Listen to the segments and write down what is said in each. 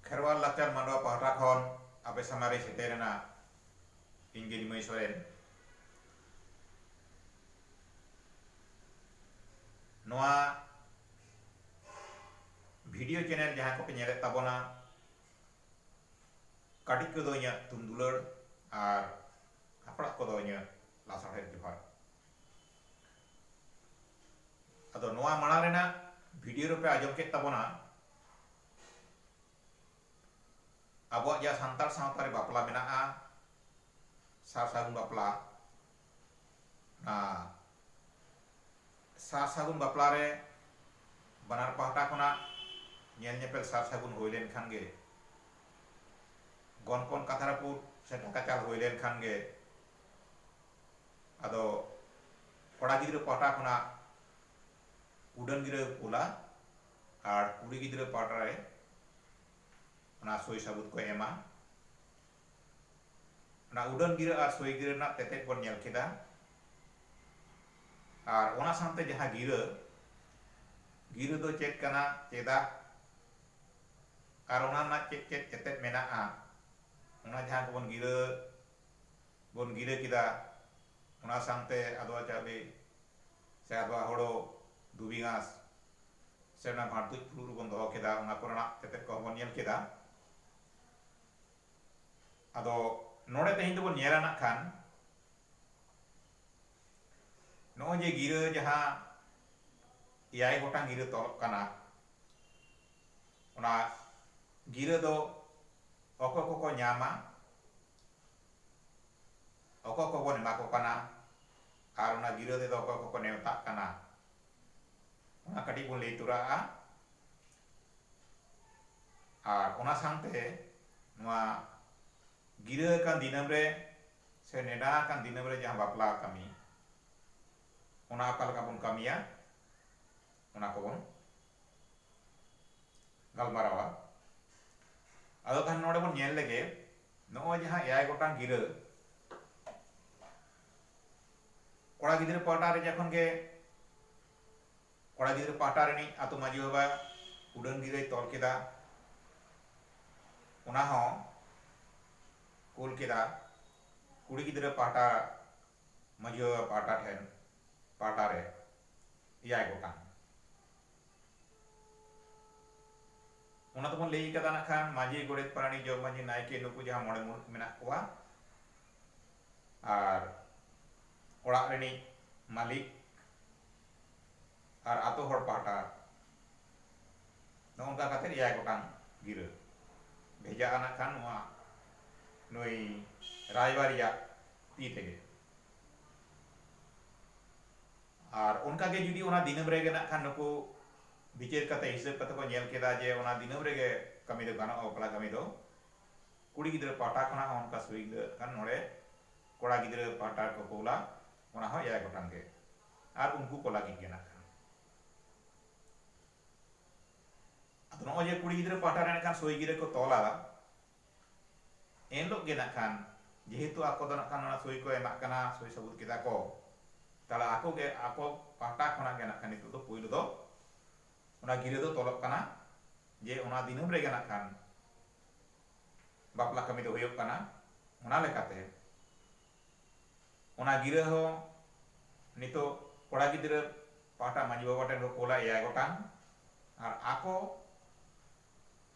ᱠᱷᱮᱨᱣᱟᱞ ᱞᱟᱠᱪᱟᱨ ᱢᱟᱰᱣᱟ ᱯᱟᱦᱴᱟ ᱠᱷᱚᱱ ᱟᱯᱮ ᱥᱟᱢᱟᱝ ᱨᱮ ᱥᱮᱴᱮᱨ ᱮᱱᱟ ᱤᱧ ᱜᱮ ᱱᱤᱢᱟᱹᱭ ᱥᱚᱨᱮᱱ ᱱᱚᱣᱟ ᱵᱷᱤᱰᱤᱭᱳ ᱪᱮᱱᱮᱞ ᱡᱟᱦᱟᱸ ᱠᱚᱯᱮ ᱧᱮᱞᱮᱫ ᱛᱟᱵᱚᱱᱟ ᱠᱟᱹᱴᱤᱡ ᱠᱚᱫᱚ ᱤᱧᱟᱹᱜ ᱛᱩᱢ ᱫᱩᱞᱟᱹᱲ ᱟᱨ ᱦᱟᱯᱲᱟᱜ ᱠᱚᱫᱚ ᱤᱧᱟᱹᱜ ᱞᱟᱥᱟᱬᱦᱮᱫ ᱡᱚᱦᱟᱨ᱾ ᱟᱫᱚ ᱱᱚᱣᱟ ᱢᱟᱲᱟᱝ ᱨᱮᱱᱟᱜ ᱵᱷᱤᱰᱤᱭᱳ ᱨᱮᱯᱮ ᱟᱸᱡᱚᱢ ᱠᱮᱫ ᱛᱟᱵᱚᱱᱟ ᱟᱵᱚᱣᱟᱜ ᱡᱟᱦᱟᱸ ᱥᱟᱱᱛᱟᱲ ᱥᱟᱶᱛᱟ ᱨᱮ ᱵᱟᱯᱞᱟ ᱢᱮᱱᱟᱜᱼᱟ ᱥᱟᱨ ᱥᱟᱹᱜᱩᱱ ᱵᱟᱯᱞᱟ ᱚᱱᱟ ᱥᱟᱨ ᱥᱟᱹᱜᱩᱱ ᱵᱟᱯᱞᱟ ᱨᱮ ᱵᱟᱱᱟᱨ ᱯᱟᱦᱴᱟ ᱠᱷᱚᱱᱟᱜ ᱧᱮᱞ ᱧᱮᱯᱮᱞ ᱥᱟᱨ ᱥᱟᱹᱜᱩᱱ ᱦᱩᱭ ᱞᱮᱱ ᱠᱷᱟᱱ ᱜᱮ ᱜᱚᱱᱯᱚᱱ ᱠᱟᱛᱷᱟ ᱨᱟᱹᱯᱩᱫ ᱥᱮ ᱰᱟᱠᱟ ᱪᱟᱞ ᱦᱩᱭ ᱞᱮᱱ ᱠᱷᱟᱱ ᱜᱮ ᱟᱫᱚ ᱠᱚᱲᱟ ᱜᱤᱫᱽᱨᱟᱹ ᱯᱟᱦᱴᱟ ᱠᱷᱚᱱᱟᱜ ᱩᱰᱟᱹᱱ ᱜᱤᱨᱟᱹ ᱠᱩᱞᱟ ᱟᱨ ᱠᱩᱲᱤ ᱜᱤᱫᱽᱨᱟᱹ ᱯᱟᱦᱴᱟ ᱨᱮ ᱚᱱᱟ ᱥᱳᱭ ᱥᱟᱵᱩᱛ ᱠᱚ ᱮᱢᱟ ᱚᱱᱟ ᱩᱰᱟᱹᱱ ᱜᱤᱨᱟᱹ ᱟᱨ ᱥᱳᱭ ᱜᱤᱨᱟᱹ ᱨᱮᱱᱟᱜ ᱛᱮᱛᱮᱫ ᱵᱚᱱ ᱧᱮᱞ ᱠᱮᱫᱟ ᱟᱨ ᱚᱱᱟ ᱥᱟᱶᱛᱮ ᱡᱟᱦᱟᱸ ᱜᱤᱨᱟᱹ ᱜᱤᱨᱟᱹ ᱫᱚ ᱪᱮᱫ ᱠᱟᱱᱟ ᱪᱮᱫᱟᱜ ᱟᱨ ᱚᱱᱟ ᱨᱮᱱᱟᱜ ᱪᱮᱫ ᱪᱮᱫ ᱛᱮᱛᱮᱫ ᱢᱮᱱᱟᱜᱼᱟ ᱚᱱᱟ ᱡᱟᱦᱟᱸ ᱠᱚᱵᱚᱱ ᱜᱤᱨᱟᱹ ᱵᱚᱱ ᱜᱤᱨᱟᱹ ᱠᱮᱫᱟ ᱚᱱᱟ ᱥᱟᱝᱛᱮ ᱟᱫᱣᱟ ᱪᱟᱣᱞᱮ ᱥᱮ ᱟᱫᱣᱟ ᱦᱳᱲᱳ ᱫᱷᱩᱵᱤ ᱜᱷᱟᱸᱥ ᱥᱮ ᱚᱱᱟ ᱵᱷᱟᱸᱴ ᱛᱩᱡ ᱯᱷᱩᱲᱩᱜ ᱨᱮᱵᱚᱱ ᱫᱚᱦᱚ ᱠᱮᱫᱟ ᱚᱱᱟ ᱠᱚᱨᱮᱱᱟᱜ ᱛᱮᱛᱮᱫ ᱠᱚᱦᱚᱸ ᱵᱚᱱ ᱧᱮᱞ ᱠᱮᱫᱟ ᱟᱫᱚ ᱱᱚᱰᱮ ᱛᱮᱦᱮᱧ ᱫᱚᱵᱚᱱ ᱧᱮᱞᱟ ᱱᱟᱜ ᱠᱷᱟᱱ ᱱᱚᱜᱼᱚᱭ ᱡᱮ ᱜᱤᱨᱟᱹ ᱡᱟᱦᱟᱸ ᱮᱭᱟᱭ ᱜᱚᱴᱟᱝ ᱜᱤᱨᱟᱹ ᱛᱚᱞᱚᱜ ᱠᱟᱱᱟ ᱚᱱᱟ ᱜᱤᱨᱟᱹ ᱫᱚ ᱚᱠᱚᱭ ᱠᱚᱠᱚ ᱧᱟᱢᱟ ᱚᱠᱚᱭ ᱠᱚ ᱵᱚᱱ ᱮᱢᱟ ᱠᱚ ᱠᱟᱱᱟ ᱟᱨ ᱚᱱᱟ ᱜᱤᱨᱟᱹ ᱛᱮᱫᱚ ᱚᱠᱚᱭ ᱠᱚ ᱠᱚ ᱱᱮᱣᱛᱟᱜ ᱠᱟᱱᱟ ᱚᱱᱟ ᱠᱟᱹᱴᱤᱡ ᱵᱚᱱ ᱞᱟᱹᱭ ᱛᱚᱨᱟᱜᱼᱟ ᱟᱨ ᱚᱱᱟ ᱥᱟᱶᱛᱮ ᱱᱚᱣᱟ ᱜᱤᱨᱟᱹ ᱟᱠᱟᱱ ᱫᱤᱱᱟᱹᱢ ᱨᱮ ᱥᱮ ᱱᱮᱰᱟ ᱟᱠᱟᱱ ᱫᱤᱱᱟᱹᱢ ᱨᱮ ᱡᱟᱦᱟᱸ ᱵᱟᱯᱞᱟ ᱠᱟᱹᱢᱤ ᱚᱱᱟ ᱚᱠᱟ ᱞᱮᱠᱟ ᱵᱚᱱ ᱠᱟᱹᱢᱤᱭᱟ ᱚᱱᱟ ᱠᱚᱵᱚᱱ ᱜᱟᱞᱢᱟᱨᱟᱣᱟ ᱟᱫᱚ ᱛᱟᱦᱞᱮ ᱱᱚᱰᱮ ᱵᱚᱱ ᱧᱮᱞ ᱞᱮᱜᱮ ᱱᱚᱜᱼᱚᱭ ᱡᱟᱦᱟᱸ ᱮᱭᱟᱭ ᱜᱚᱴᱟᱝ ᱜᱤᱨᱟᱹ ᱠᱚᱲᱟ ᱜᱤᱫᱽᱨᱟᱹ ᱯᱟᱦᱴᱟ ᱨᱮ ᱡᱚᱠᱷᱚᱱ ᱜᱮ ᱠᱚᱲᱟ ᱜᱤᱫᱽᱨᱟᱹ ᱯᱟᱦᱴᱟ ᱨᱤᱱᱤᱡ ᱟᱛᱳ ᱢᱟᱺᱡᱷᱤ ᱵᱟᱵᱟ ᱩᱰᱟᱹᱱ ᱜᱤᱨᱟᱹᱭ ᱛᱚᱞ ᱠᱮᱫᱟ ᱚᱱᱟ ᱦᱚᱸ ᱠᱩᱞ ᱠᱮᱫᱟ ᱠᱩᱲᱤ ᱜᱤᱫᱽᱨᱟᱹ ᱯᱟᱦᱴᱟ ᱢᱟᱹᱡᱷᱤ ᱵᱟᱵᱟ ᱯᱟᱦᱴᱟ ᱴᱷᱮᱱ ᱯᱟᱦᱴᱟ ᱨᱮ ᱮᱭᱟᱭ ᱜᱚᱴᱟᱝ ᱚᱱᱟ ᱫᱚᱵᱚᱱ ᱞᱟᱹᱭ ᱠᱟᱫᱟ ᱱᱟᱜ ᱠᱷᱟᱱ ᱢᱟᱹᱡᱷᱤ ᱜᱚᱰᱮᱛ ᱯᱟᱨᱟᱱᱤᱠ ᱡᱚᱜᱽ ᱢᱟᱹᱡᱷᱤ ᱱᱟᱭᱠᱮ ᱱᱩᱠᱩ ᱡᱟᱦᱟᱸ ᱢᱚᱬᱮ ᱢᱩᱬᱩᱛ ᱢᱮᱱᱟᱜ ᱠᱚᱣᱟ ᱟᱨ ᱚᱲᱟᱜ ᱨᱤᱱᱤᱡ ᱢᱟᱹᱞᱤᱠ ᱟᱨ ᱟᱛᱳ ᱦᱚᱲ ᱯᱟᱦᱴᱟ ᱱᱚᱜᱼᱚ ᱱᱚᱝᱠᱟ ᱠᱟᱛᱮ ᱮᱭᱟᱭ ᱜᱚᱴᱟᱝ ᱜᱤᱨᱟᱹ ᱵᱷᱮᱡᱟᱜᱼᱟ ᱱᱟᱜ ᱠᱷᱟᱱ ᱱᱚᱣᱟ ᱱᱩᱭ ᱨᱟᱭᱵᱟᱨᱤᱡᱟᱜ ᱛᱤ ᱛᱮᱜᱮ ᱟᱨ ᱚᱱᱠᱟ ᱜᱮ ᱡᱩᱫᱤ ᱚᱱᱟ ᱫᱤᱱᱟᱹᱢ ᱨᱮᱜᱮ ᱱᱟᱜ ᱠᱷᱟᱱ ᱱᱩᱠᱩ ᱵᱤᱪᱟᱹᱨ ᱠᱟᱛᱮ ᱦᱤᱥᱟᱹᱵ ᱠᱟᱛᱮ ᱠᱚ ᱧᱮᱞ ᱠᱮᱫᱟ ᱡᱮ ᱚᱱᱟ ᱫᱤᱱᱟᱹᱢ ᱨᱮᱜᱮ ᱠᱟᱹᱢᱤ ᱫᱚ ᱜᱟᱱᱚᱜᱼᱟ ᱵᱟᱯᱞᱟ ᱠᱟᱹᱢᱤ ᱫᱚ ᱠᱩᱲᱤ ᱜᱤᱫᱽᱨᱟᱹ ᱯᱟᱦᱴᱟ ᱠᱷᱚᱱᱟᱜ ᱦᱚᱸ ᱚᱱᱠᱟ ᱥᱩᱦᱤ ᱜᱤᱫᱽᱨᱟᱹ ᱠᱷᱟᱱ ᱱᱚᱰᱮ ᱠᱚᱲᱟ ᱜᱤᱫᱽᱨᱟᱹ ᱯᱟᱦᱴᱟ ᱨᱮᱠᱚ ᱠᱳᱞᱟ ᱚᱱᱟ ᱦᱚᱸ ᱮᱭᱟᱭ ᱜᱚᱴᱟᱝ ᱜᱮ ᱟᱨ ᱩᱱᱠᱩ ᱠᱚ ᱞᱟᱹᱜᱤᱫ ᱜᱮ ᱱᱟᱜ ᱠᱷᱟᱱ ᱟᱫᱚ ᱱᱚᱜᱼᱚᱭ ᱡᱮ ᱠᱩᱲᱤ ᱜᱤᱫᱽᱨᱟᱹ ᱯᱟᱦᱴᱟ ᱨᱮ ᱱᱟᱜ ᱠᱷᱟᱱ ᱥᱩᱦᱤ ᱜᱤᱨᱟᱹ ᱠᱚ ᱛᱚᱞᱟ ᱮᱱ ᱦᱤᱞᱚᱜ ᱜᱮ ᱱᱟᱜ ᱠᱷᱟᱱ ᱡᱮᱦᱮᱛᱩ ᱟᱠᱚ ᱫᱚ ᱱᱟᱜ ᱠᱷᱟᱱ ᱚᱱᱟ ᱥᱳᱭ ᱠᱚ ᱮᱢᱟᱜ ᱠᱟᱱᱟ ᱥᱳᱭ ᱥᱟᱹᱵᱩᱫ ᱠᱮᱫᱟ ᱠᱚ ᱛᱟᱦᱚᱞᱮ ᱟᱠᱚ ᱜᱮ ᱟᱠᱚ ᱯᱟᱦᱴᱟ ᱠᱷᱚᱱᱟᱜ ᱜᱮ ᱱᱟᱜ ᱠᱷᱟᱱ ᱱᱤᱛᱚᱜ ᱫᱚ ᱯᱩᱭᱞᱩ ᱫᱚ ᱚᱱᱟ ᱜᱤᱨᱟᱹ ᱫᱚ ᱛᱚᱞᱚᱜ ᱠᱟᱱᱟ ᱡᱮ ᱚᱱᱟ ᱫᱤᱱᱟᱹᱢ ᱨᱮᱜᱮ ᱱᱟᱜ ᱠᱷᱟᱱ ᱵᱟᱯᱞᱟ ᱠᱟᱹᱢᱤ ᱫᱚ ᱦᱩᱭᱩᱜ ᱠᱟᱱᱟ ᱚᱱᱟ ᱞᱮᱠᱟᱛᱮ ᱚᱱᱟ ᱜᱤᱨᱟᱹ ᱦᱚᱸ ᱱᱤᱛᱚᱜ ᱠᱚᱲᱟ ᱜᱤᱫᱽᱨᱟᱹ ᱯᱟᱦᱴᱟ ᱢᱟᱺᱡᱷᱤ ᱵᱟᱵᱟ ᱴᱷᱮᱱ ᱠᱚ ᱠᱳᱞᱟ ᱮᱭᱟᱭ ᱜᱚᱴᱟᱝ ᱟᱨ ᱟᱠᱚ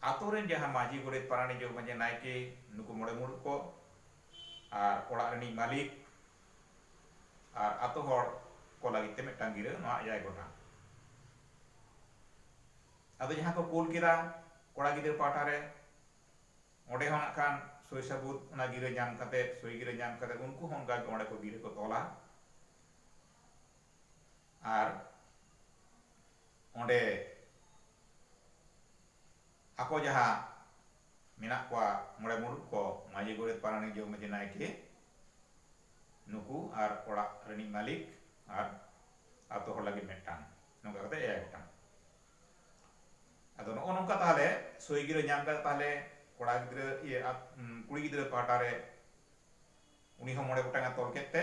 ᱟᱛᱳ ᱨᱮᱱ ᱡᱟᱦᱟᱸ ᱢᱟᱹᱡᱷᱤ, ᱜᱚᱰᱮᱛ, ᱯᱟᱨᱟᱱᱤᱠ, ᱡᱚᱜᱽ ᱢᱟᱹᱡᱷᱤ, ᱱᱟᱭᱠᱮ ᱱᱩᱠᱩ ᱢᱚᱬᱮ ᱢᱩᱬᱩᱛ ᱠᱚ ᱟᱨ ᱚᱲᱟᱜ ᱨᱤᱱᱤᱡ ᱢᱟᱹᱞᱤᱠ ᱟᱨ ᱟᱛᱳ ᱦᱚᱲ ᱠᱚ ᱞᱟᱹᱜᱤᱫ ᱛᱮ ᱢᱤᱫᱴᱟᱝ ᱜᱤᱨᱟᱹ ᱱᱚᱣᱟ ᱮᱭᱟᱭ ᱜᱚᱴᱟᱝ᱾ ᱟᱫᱚ ᱡᱟᱦᱟᱸ ᱠᱚ ᱠᱳᱞ ᱠᱮᱫᱟ ᱠᱚᱲᱟ ᱜᱤᱫᱽᱨᱟᱹ ᱯᱟᱦᱴᱟ ᱨᱮ ᱚᱸᱰᱮ ᱦᱚᱸ ᱱᱟᱜ ᱠᱷᱟᱱ ᱥᱳᱭ ᱥᱟᱹᱵᱩᱫᱽ ᱚᱱᱟ ᱜᱤᱨᱟᱹ ᱧᱟᱢ ᱠᱟᱛᱮ, ᱥᱳᱭ ᱜᱤᱨᱟᱹ ᱧᱟᱢ ᱠᱟᱛᱮ ᱩᱱᱠᱩ ᱦᱚᱸ ᱚᱱᱠᱟ ᱜᱮ ᱚᱸᱰᱮ ᱠᱚ ᱜᱤᱨᱟᱹ ᱠᱚ ᱛᱚᱞᱟ᱾ ᱟᱨ ᱚᱸᱰᱮ ᱟᱠᱚ ᱡᱟᱦᱟᱸ ᱢᱮᱱᱟᱜ ᱠᱚᱣᱟ ᱢᱚᱬᱮ ᱢᱩᱬᱩᱛ ᱠᱚ ᱢᱟᱹᱡᱷᱤ ᱜᱚᱰᱮᱛ ᱯᱟᱨᱟᱱᱤᱠ ᱡᱚᱜᱽ ᱢᱟᱹᱡᱷᱤ ᱱᱟᱭᱠᱮ ᱱᱩᱠᱩ ᱟᱨ ᱚᱲᱟᱜ ᱨᱤᱱᱤᱡ ᱢᱟᱹᱞᱤᱠ ᱟᱨ ᱟᱛᱳ ᱦᱚᱲ ᱞᱟᱹᱜᱤᱫ ᱢᱤᱫᱴᱟᱝ ᱱᱚᱝᱠᱟ ᱠᱟᱛᱮ ᱮᱭᱟᱭ ᱜᱚᱴᱟᱝ ᱟᱫᱚ ᱱᱚᱜᱼᱚ ᱱᱚᱝᱠᱟ ᱛᱟᱦᱚᱞᱮ ᱥᱳᱭ ᱜᱤᱨᱟᱹ ᱧᱟᱢ ᱠᱟᱛᱮ ᱛᱟᱦᱚᱞᱮ ᱠᱚᱲᱟ ᱜᱤᱫᱽᱨᱟᱹ ᱤᱭᱟᱹ ᱠᱩᱲᱤ ᱜᱤᱫᱽᱨᱟᱹ ᱯᱟᱦᱴᱟ ᱨᱮ ᱩᱱᱤ ᱦᱚᱸ ᱢᱚᱬᱮ ᱜᱚᱴᱟᱝ ᱮ ᱛᱚᱞ ᱠᱮᱫ ᱛᱮ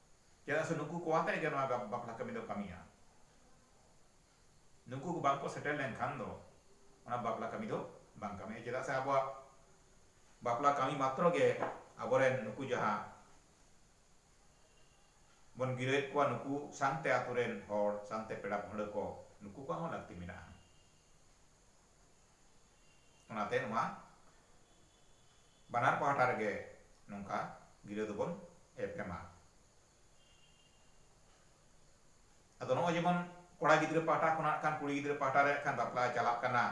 ᱪᱮᱫᱟᱜ ᱥᱮ ᱱᱩᱠᱩ ᱠᱚ ᱟᱛᱮ ᱜᱮ ᱱᱚᱣᱟ ᱵᱟᱯᱞᱟ ᱠᱟᱹᱢᱤ ᱫᱚ ᱠᱟᱹᱢᱤᱜᱼᱟ ᱱᱩᱠᱩ ᱠᱚ ᱵᱟᱝᱠᱚ ᱥᱮᱴᱮᱨ ᱞᱮᱱᱠᱷᱟᱱ ᱫᱚ ᱚᱱᱟ ᱵᱟᱯᱞᱟ ᱠᱟᱹᱢᱤ ᱫᱚ ᱵᱟᱝ ᱠᱟᱹᱢᱤᱜᱼᱟ ᱪᱮᱫᱟᱜ ᱥᱮ ᱟᱵᱚᱣᱟᱜ ᱵᱟᱯᱞᱟ ᱠᱟᱹᱢᱤ ᱢᱟᱛᱨᱚ ᱜᱮ ᱟᱵᱚᱨᱮᱱ ᱱᱩᱠᱩ ᱡᱟᱦᱟᱸ ᱵᱚᱱ ᱜᱤᱨᱟᱹᱭᱮᱫ ᱠᱚᱣᱟ ᱱᱩᱠᱩ ᱥᱟᱶᱛᱮ ᱟᱛᱳ ᱨᱮᱱ ᱦᱚᱲ ᱥᱟᱶᱛᱮ ᱯᱮᱲᱟ ᱯᱟᱹᱦᱲᱟᱹ ᱠᱚ ᱱᱩᱠᱩ ᱠᱚᱣᱟᱜ ᱦᱚᱸ ᱞᱟᱹᱠᱛᱤ ᱢᱮᱱᱟᱜᱼᱟ ᱚᱱᱟᱛᱮ ᱱᱚᱣᱟ ᱵᱟᱱᱟᱨ ᱯᱟᱦᱴᱟ ᱨᱮᱜᱮ ᱱᱚᱝᱠᱟ ᱜᱤᱨᱟᱹ ᱫᱚᱵᱚᱱ ᱮᱯᱮᱢᱟ ᱟᱫᱚ ᱱᱚᱜᱼᱚᱭ ᱡᱮᱢᱚᱱ ᱠᱚᱲᱟ ᱜᱤᱫᱽᱨᱟᱹ ᱯᱟᱦᱴᱟ ᱠᱷᱚᱱᱟᱜ ᱠᱷᱟᱱ ᱠᱩᱲᱤ ᱜᱤᱫᱽᱨᱟᱹ ᱯᱟᱦᱴᱟ ᱨᱮ ᱠᱷᱟᱱ ᱵᱟᱯᱞᱟ ᱪᱟᱞᱟᱜ ᱠᱟᱱᱟ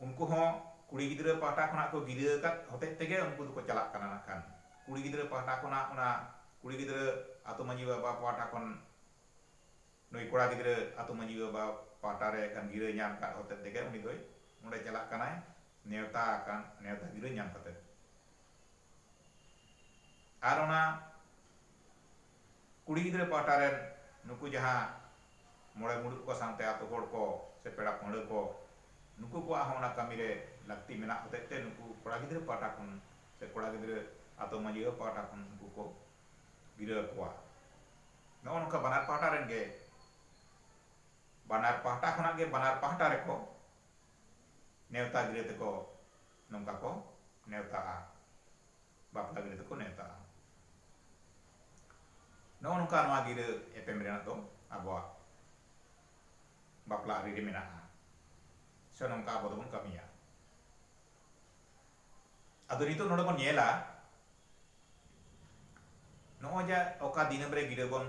ᱩᱱᱠᱩ ᱦᱚᱸ ᱠᱩᱲᱤ ᱜᱤᱫᱽᱨᱟᱹ ᱯᱟᱦᱴᱟ ᱠᱷᱚᱱᱟᱜ ᱠᱚ ᱜᱤᱨᱟᱹ ᱟᱠᱟᱫ ᱦᱚᱛᱮᱡ ᱛᱮᱜᱮ ᱩᱱᱠᱩ ᱫᱚᱠᱚ ᱪᱟᱞᱟᱜ ᱠᱟᱱᱟ ᱱᱟᱜ ᱠᱷᱟᱱ ᱠᱩᱲᱤ ᱜᱤᱫᱽᱨᱟᱹ ᱯᱟᱦᱴᱟ ᱠᱷᱚᱱᱟᱜ ᱚᱱᱟ ᱠᱩᱲᱤ ᱜᱤᱫᱽᱨᱟᱹ ᱟᱛᱳ ᱢᱟᱺᱡᱷᱤ ᱵᱟᱵᱟ ᱯᱟᱦᱴᱟ ᱠᱷᱚᱱ ᱱᱩᱭ ᱠᱚᱲᱟ ᱜᱤᱫᱽᱨᱟᱹ ᱟᱹᱛᱩ ᱢᱟᱹᱡᱷᱤ ᱵᱟᱵᱟ ᱯᱟᱦᱴᱟ ᱨᱮ ᱠᱷᱟᱱ ᱜᱤᱨᱟᱹ ᱧᱟᱢ ᱟᱠᱟᱫ ᱦᱚᱛᱮᱫ ᱛᱮᱜᱮ ᱩᱱᱤ ᱫᱚᱭ ᱚᱸᱰᱮ ᱪᱟᱞᱟᱜ ᱠᱟᱱᱟᱭ ᱱᱮᱣᱛᱟ ᱟᱠᱟᱱ ᱱᱮᱣᱛᱟ ᱜᱤᱨᱟᱹ ᱧᱟᱢ ᱠᱟᱛᱮ ᱟᱨ ᱚᱱᱟ ᱠᱩᱲᱤ ᱜᱤᱫᱽᱨᱟᱹ ᱯᱟᱦᱴᱟ ᱨᱮᱱ ᱱᱩᱠᱩ ᱡᱟᱦᱟᱸ ᱢᱚᱬᱮ ᱢᱩᱬᱩᱫ ᱠᱚ ᱥᱟᱶᱛᱮ ᱟᱹᱛᱩ ᱦᱚᱲ ᱠᱚ ᱥᱮ ᱯᱮᱲᱟ ᱯᱟᱹᱦᱲᱟᱹ ᱠᱚ ᱱᱩᱠᱩ ᱠᱚᱣᱟᱜ ᱦᱚᱸ ᱚᱱᱟ ᱠᱟᱹᱢᱤ ᱨᱮ ᱞᱟᱹᱠᱛᱤ ᱢᱮᱱᱟᱜ ᱦᱚᱛᱮᱫ ᱛᱮ ᱱᱩᱠᱩ ᱠᱚᱲᱟ ᱜᱤᱫᱽᱨᱟᱹ ᱯᱟᱦᱴᱟ ᱠᱷᱚᱱ ᱥᱮ ᱠᱚᱲᱟ ᱜᱤᱫᱽᱨᱟᱹ ᱟᱹᱛᱩ ᱢᱟᱹᱡᱷᱤ ᱵᱟᱵᱟ ᱯᱟᱦᱴᱟ ᱠᱷᱚᱱ ᱩᱱᱠᱩ ᱠᱚ ᱜᱤᱨᱟᱹ ᱟᱠᱚᱣᱟ᱾ ᱱᱚᱜᱼᱚ ᱱᱚᱝᱠᱟ ᱵᱟᱱᱟᱨ ᱯᱟᱦᱴᱟ ᱨᱮᱱ ᱜᱮ ᱵᱟᱱᱟᱨ ᱯᱟᱦᱴᱟ ᱠᱷᱚᱱᱟᱜ ᱜᱮ ᱵᱟᱱᱟᱨ ᱯᱟᱦᱴᱟ ᱨᱮᱠᱚ ᱱᱮᱣᱛᱟ ᱜᱤᱨᱟᱹ ᱛᱮᱠᱚ ᱱᱚᱝᱠᱟ ᱠᱚ ᱱᱮᱣᱛᱟᱜᱼᱟ᱾ ᱵᱟᱯᱞᱟ ᱜᱤᱨᱟᱹ ᱛᱮᱠᱚ ᱱᱮᱣᱛᱟᱜᱼᱟ᱾ ᱱᱚᱜᱼᱚ ᱱᱚᱝᱠᱟ ᱱᱚᱣᱟ ᱜᱤᱨᱟᱹ ᱮᱯᱮᱢ ᱨᱮᱱᱟᱜ ᱫᱚ ᱟᱵᱚᱣᱟᱜ ᱵᱟᱯᱞᱟ ᱟᱹᱨᱤ ᱨᱮ ᱢᱮᱱᱟᱜᱼᱟ ᱥᱮ ᱱᱚᱝᱠᱟ ᱟᱵᱚ ᱫᱚᱵᱚᱱ ᱠᱟᱹᱢᱤᱭᱟ᱾ ᱟᱫᱚ ᱱᱤᱛᱚᱜ ᱱᱚᱰᱮ ᱵᱚᱱ ᱧᱮᱞᱟ ᱱᱚᱜᱼᱚᱭ ᱡᱟ ᱚᱠᱟ ᱫᱤᱱᱟᱹᱢ ᱨᱮ ᱜᱤᱨᱟᱹ ᱵᱚᱱ